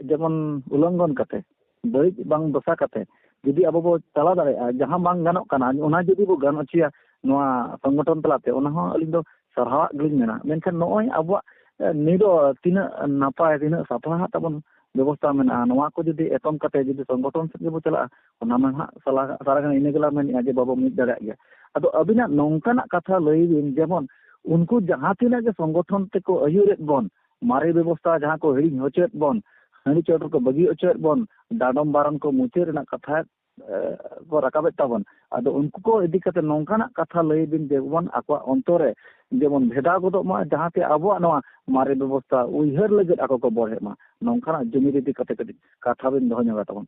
ᱡᱮᱢᱚᱱ ᱩᱞᱚᱝᱜᱷᱚᱱ ᱠᱟᱛᱮ ᱵᱟᱹᱲᱤᱡ ᱵᱟᱝ ᱫᱚᱥᱟ ᱠᱟᱛᱮ ᱡᱩᱫᱤ ᱟᱵᱚ ᱵᱚ ᱪᱟᱞᱟᱣ ᱫᱟᱲᱮᱭᱟᱜᱼᱟ ᱡᱟᱦᱟᱸ ᱵᱟᱝ ᱜᱟᱱᱚᱜ ᱠᱟᱱᱟ ᱚᱱᱟ ᱡᱩᱫᱤ ᱵᱚ ᱜᱟᱱ ᱦᱚᱪᱚᱭᱟ ᱱᱚᱣᱟ ᱥᱚᱝᱜᱚᱴᱷᱚᱱ ᱛᱟᱞᱟᱛᱮ ᱚᱱᱟ ᱦᱚᱸ ᱟᱹᱞᱤᱧ ᱫᱚ ᱥᱟᱨᱦᱟᱣᱟᱜ ᱜᱮᱞᱤᱧ ᱢᱮᱱᱟ ᱢᱮᱱᱠᱷᱟᱱ ᱱᱚᱜᱼᱚᱭ ᱟᱵᱚᱣᱟᱜ ᱱᱤᱨᱚ ᱛᱤᱱᱟᱹᱜ ᱱᱟᱯᱟᱭ ᱛᱤᱱᱟᱹᱜ ᱥᱟᱯᱲᱟᱣ ᱛᱟᱵᱚᱱ ᱵᱮᱵᱚᱥᱛᱟ ᱢᱮᱱᱟᱜᱼᱟ ᱱᱚᱣᱟ ᱠᱚ ᱡᱩᱫᱤ ᱮᱛᱚᱢ ᱠᱟᱛᱮ ᱡᱩᱫᱤ ᱥᱚᱝᱜᱚᱴᱷᱚᱱ ᱥᱮᱫ ᱜᱮᱵᱚ ᱪᱟᱞᱟᱜᱼᱟ ᱚᱱᱟ ᱢᱟ ᱦᱟᱸᱜ ᱥᱟᱞᱟ ᱥᱟᱨᱟ ᱜᱷᱟᱹᱲᱤᱡ ᱤᱱᱟᱹ ᱜᱮᱞᱟᱝ ᱢᱮᱱᱮᱫᱼᱟ ᱡᱮ ᱵᱟᱵᱚ ᱢᱤᱫ ᱫᱟᱲᱮᱭᱟᱜ ᱜᱮᱭᱟ ᱟᱫᱚ ᱟᱹᱵᱤᱱᱟᱜ ᱱᱚᱝᱠᱟᱱᱟᱜ ᱠᱟᱛᱷᱟ ᱞᱟᱹᱭ ᱵᱤᱱ ᱡᱮᱢᱚᱱ ᱩᱱᱠᱩ ᱡᱟᱦᱟᱸ ᱛᱤᱱᱟᱹᱜ ᱜᱮ ᱥᱚᱝᱜᱚᱴᱷᱚᱱ ᱛᱮᱠᱚ ᱟᱹᱭᱩᱨᱮᱫ ᱵᱚᱱ ᱢᱟᱨᱮ ᱵᱮᱵᱚᱥᱛᱷᱟ ᱡᱟᱦᱟᱸ ᱠᱚ ᱦᱤᱲᱤᱧ ᱦᱚᱪᱚᱭᱮᱫ ᱵᱚᱱ ᱦᱟᱺᱰᱤ ᱪᱚᱰᱚᱨ ᱠᱚ ᱵᱟᱹᱜᱤ ᱦᱚᱪᱚᱭᱮᱫ ᱵᱚᱱ ᱰᱟᱸᱰᱚᱢ ᱵᱟᱨᱚᱱ ᱠᱚ ᱢᱩᱪᱟᱹᱫ ᱨᱮᱱᱟᱜ ᱠᱟᱛᱷᱟ ᱠᱚ ᱨᱟᱠᱟᱵᱮᱫ ᱛᱟᱵᱚᱱ ᱟᱫᱚ ᱩᱱᱠᱩ ᱠᱚ ᱤᱫᱤ ᱠᱟᱛᱮ ᱱᱚᱝᱠᱟᱱᱟᱜ ᱠᱟᱛᱷᱟ ᱞᱟᱹᱭ ᱵᱤᱱ ᱡᱮᱢᱚᱱ ᱟᱠᱚᱣᱟᱜ ᱚᱱᱛᱚᱨ ᱨᱮ ᱡᱮᱢᱚᱱ ᱵᱷᱮᱫᱟᱣ ᱜᱚᱫᱚᱜ ᱢᱟ ᱡᱟᱦᱟᱸ ᱛᱮ ᱟᱵᱚᱣᱟᱜ ᱱᱚᱣᱟ ᱢᱟᱨᱮ ᱵᱮᱵᱚᱥᱛᱷᱟ ᱩᱭᱦᱟᱹᱨ ᱞᱟᱹᱜᱤᱫ ᱟᱠᱚ ᱠᱚ ᱵᱚᱲᱦᱮᱜ ᱢᱟ ᱱᱚᱝᱠᱟᱱᱟᱜ ᱡᱩᱢᱤᱫ ᱤᱫᱤ ᱠᱟᱛᱮ ᱠᱟᱹᱴᱤᱡ ᱠᱟᱛᱷᱟ ᱵᱤᱱ ᱫᱚᱦᱚ ᱧᱚᱜᱟ ᱛᱟᱵᱚᱱ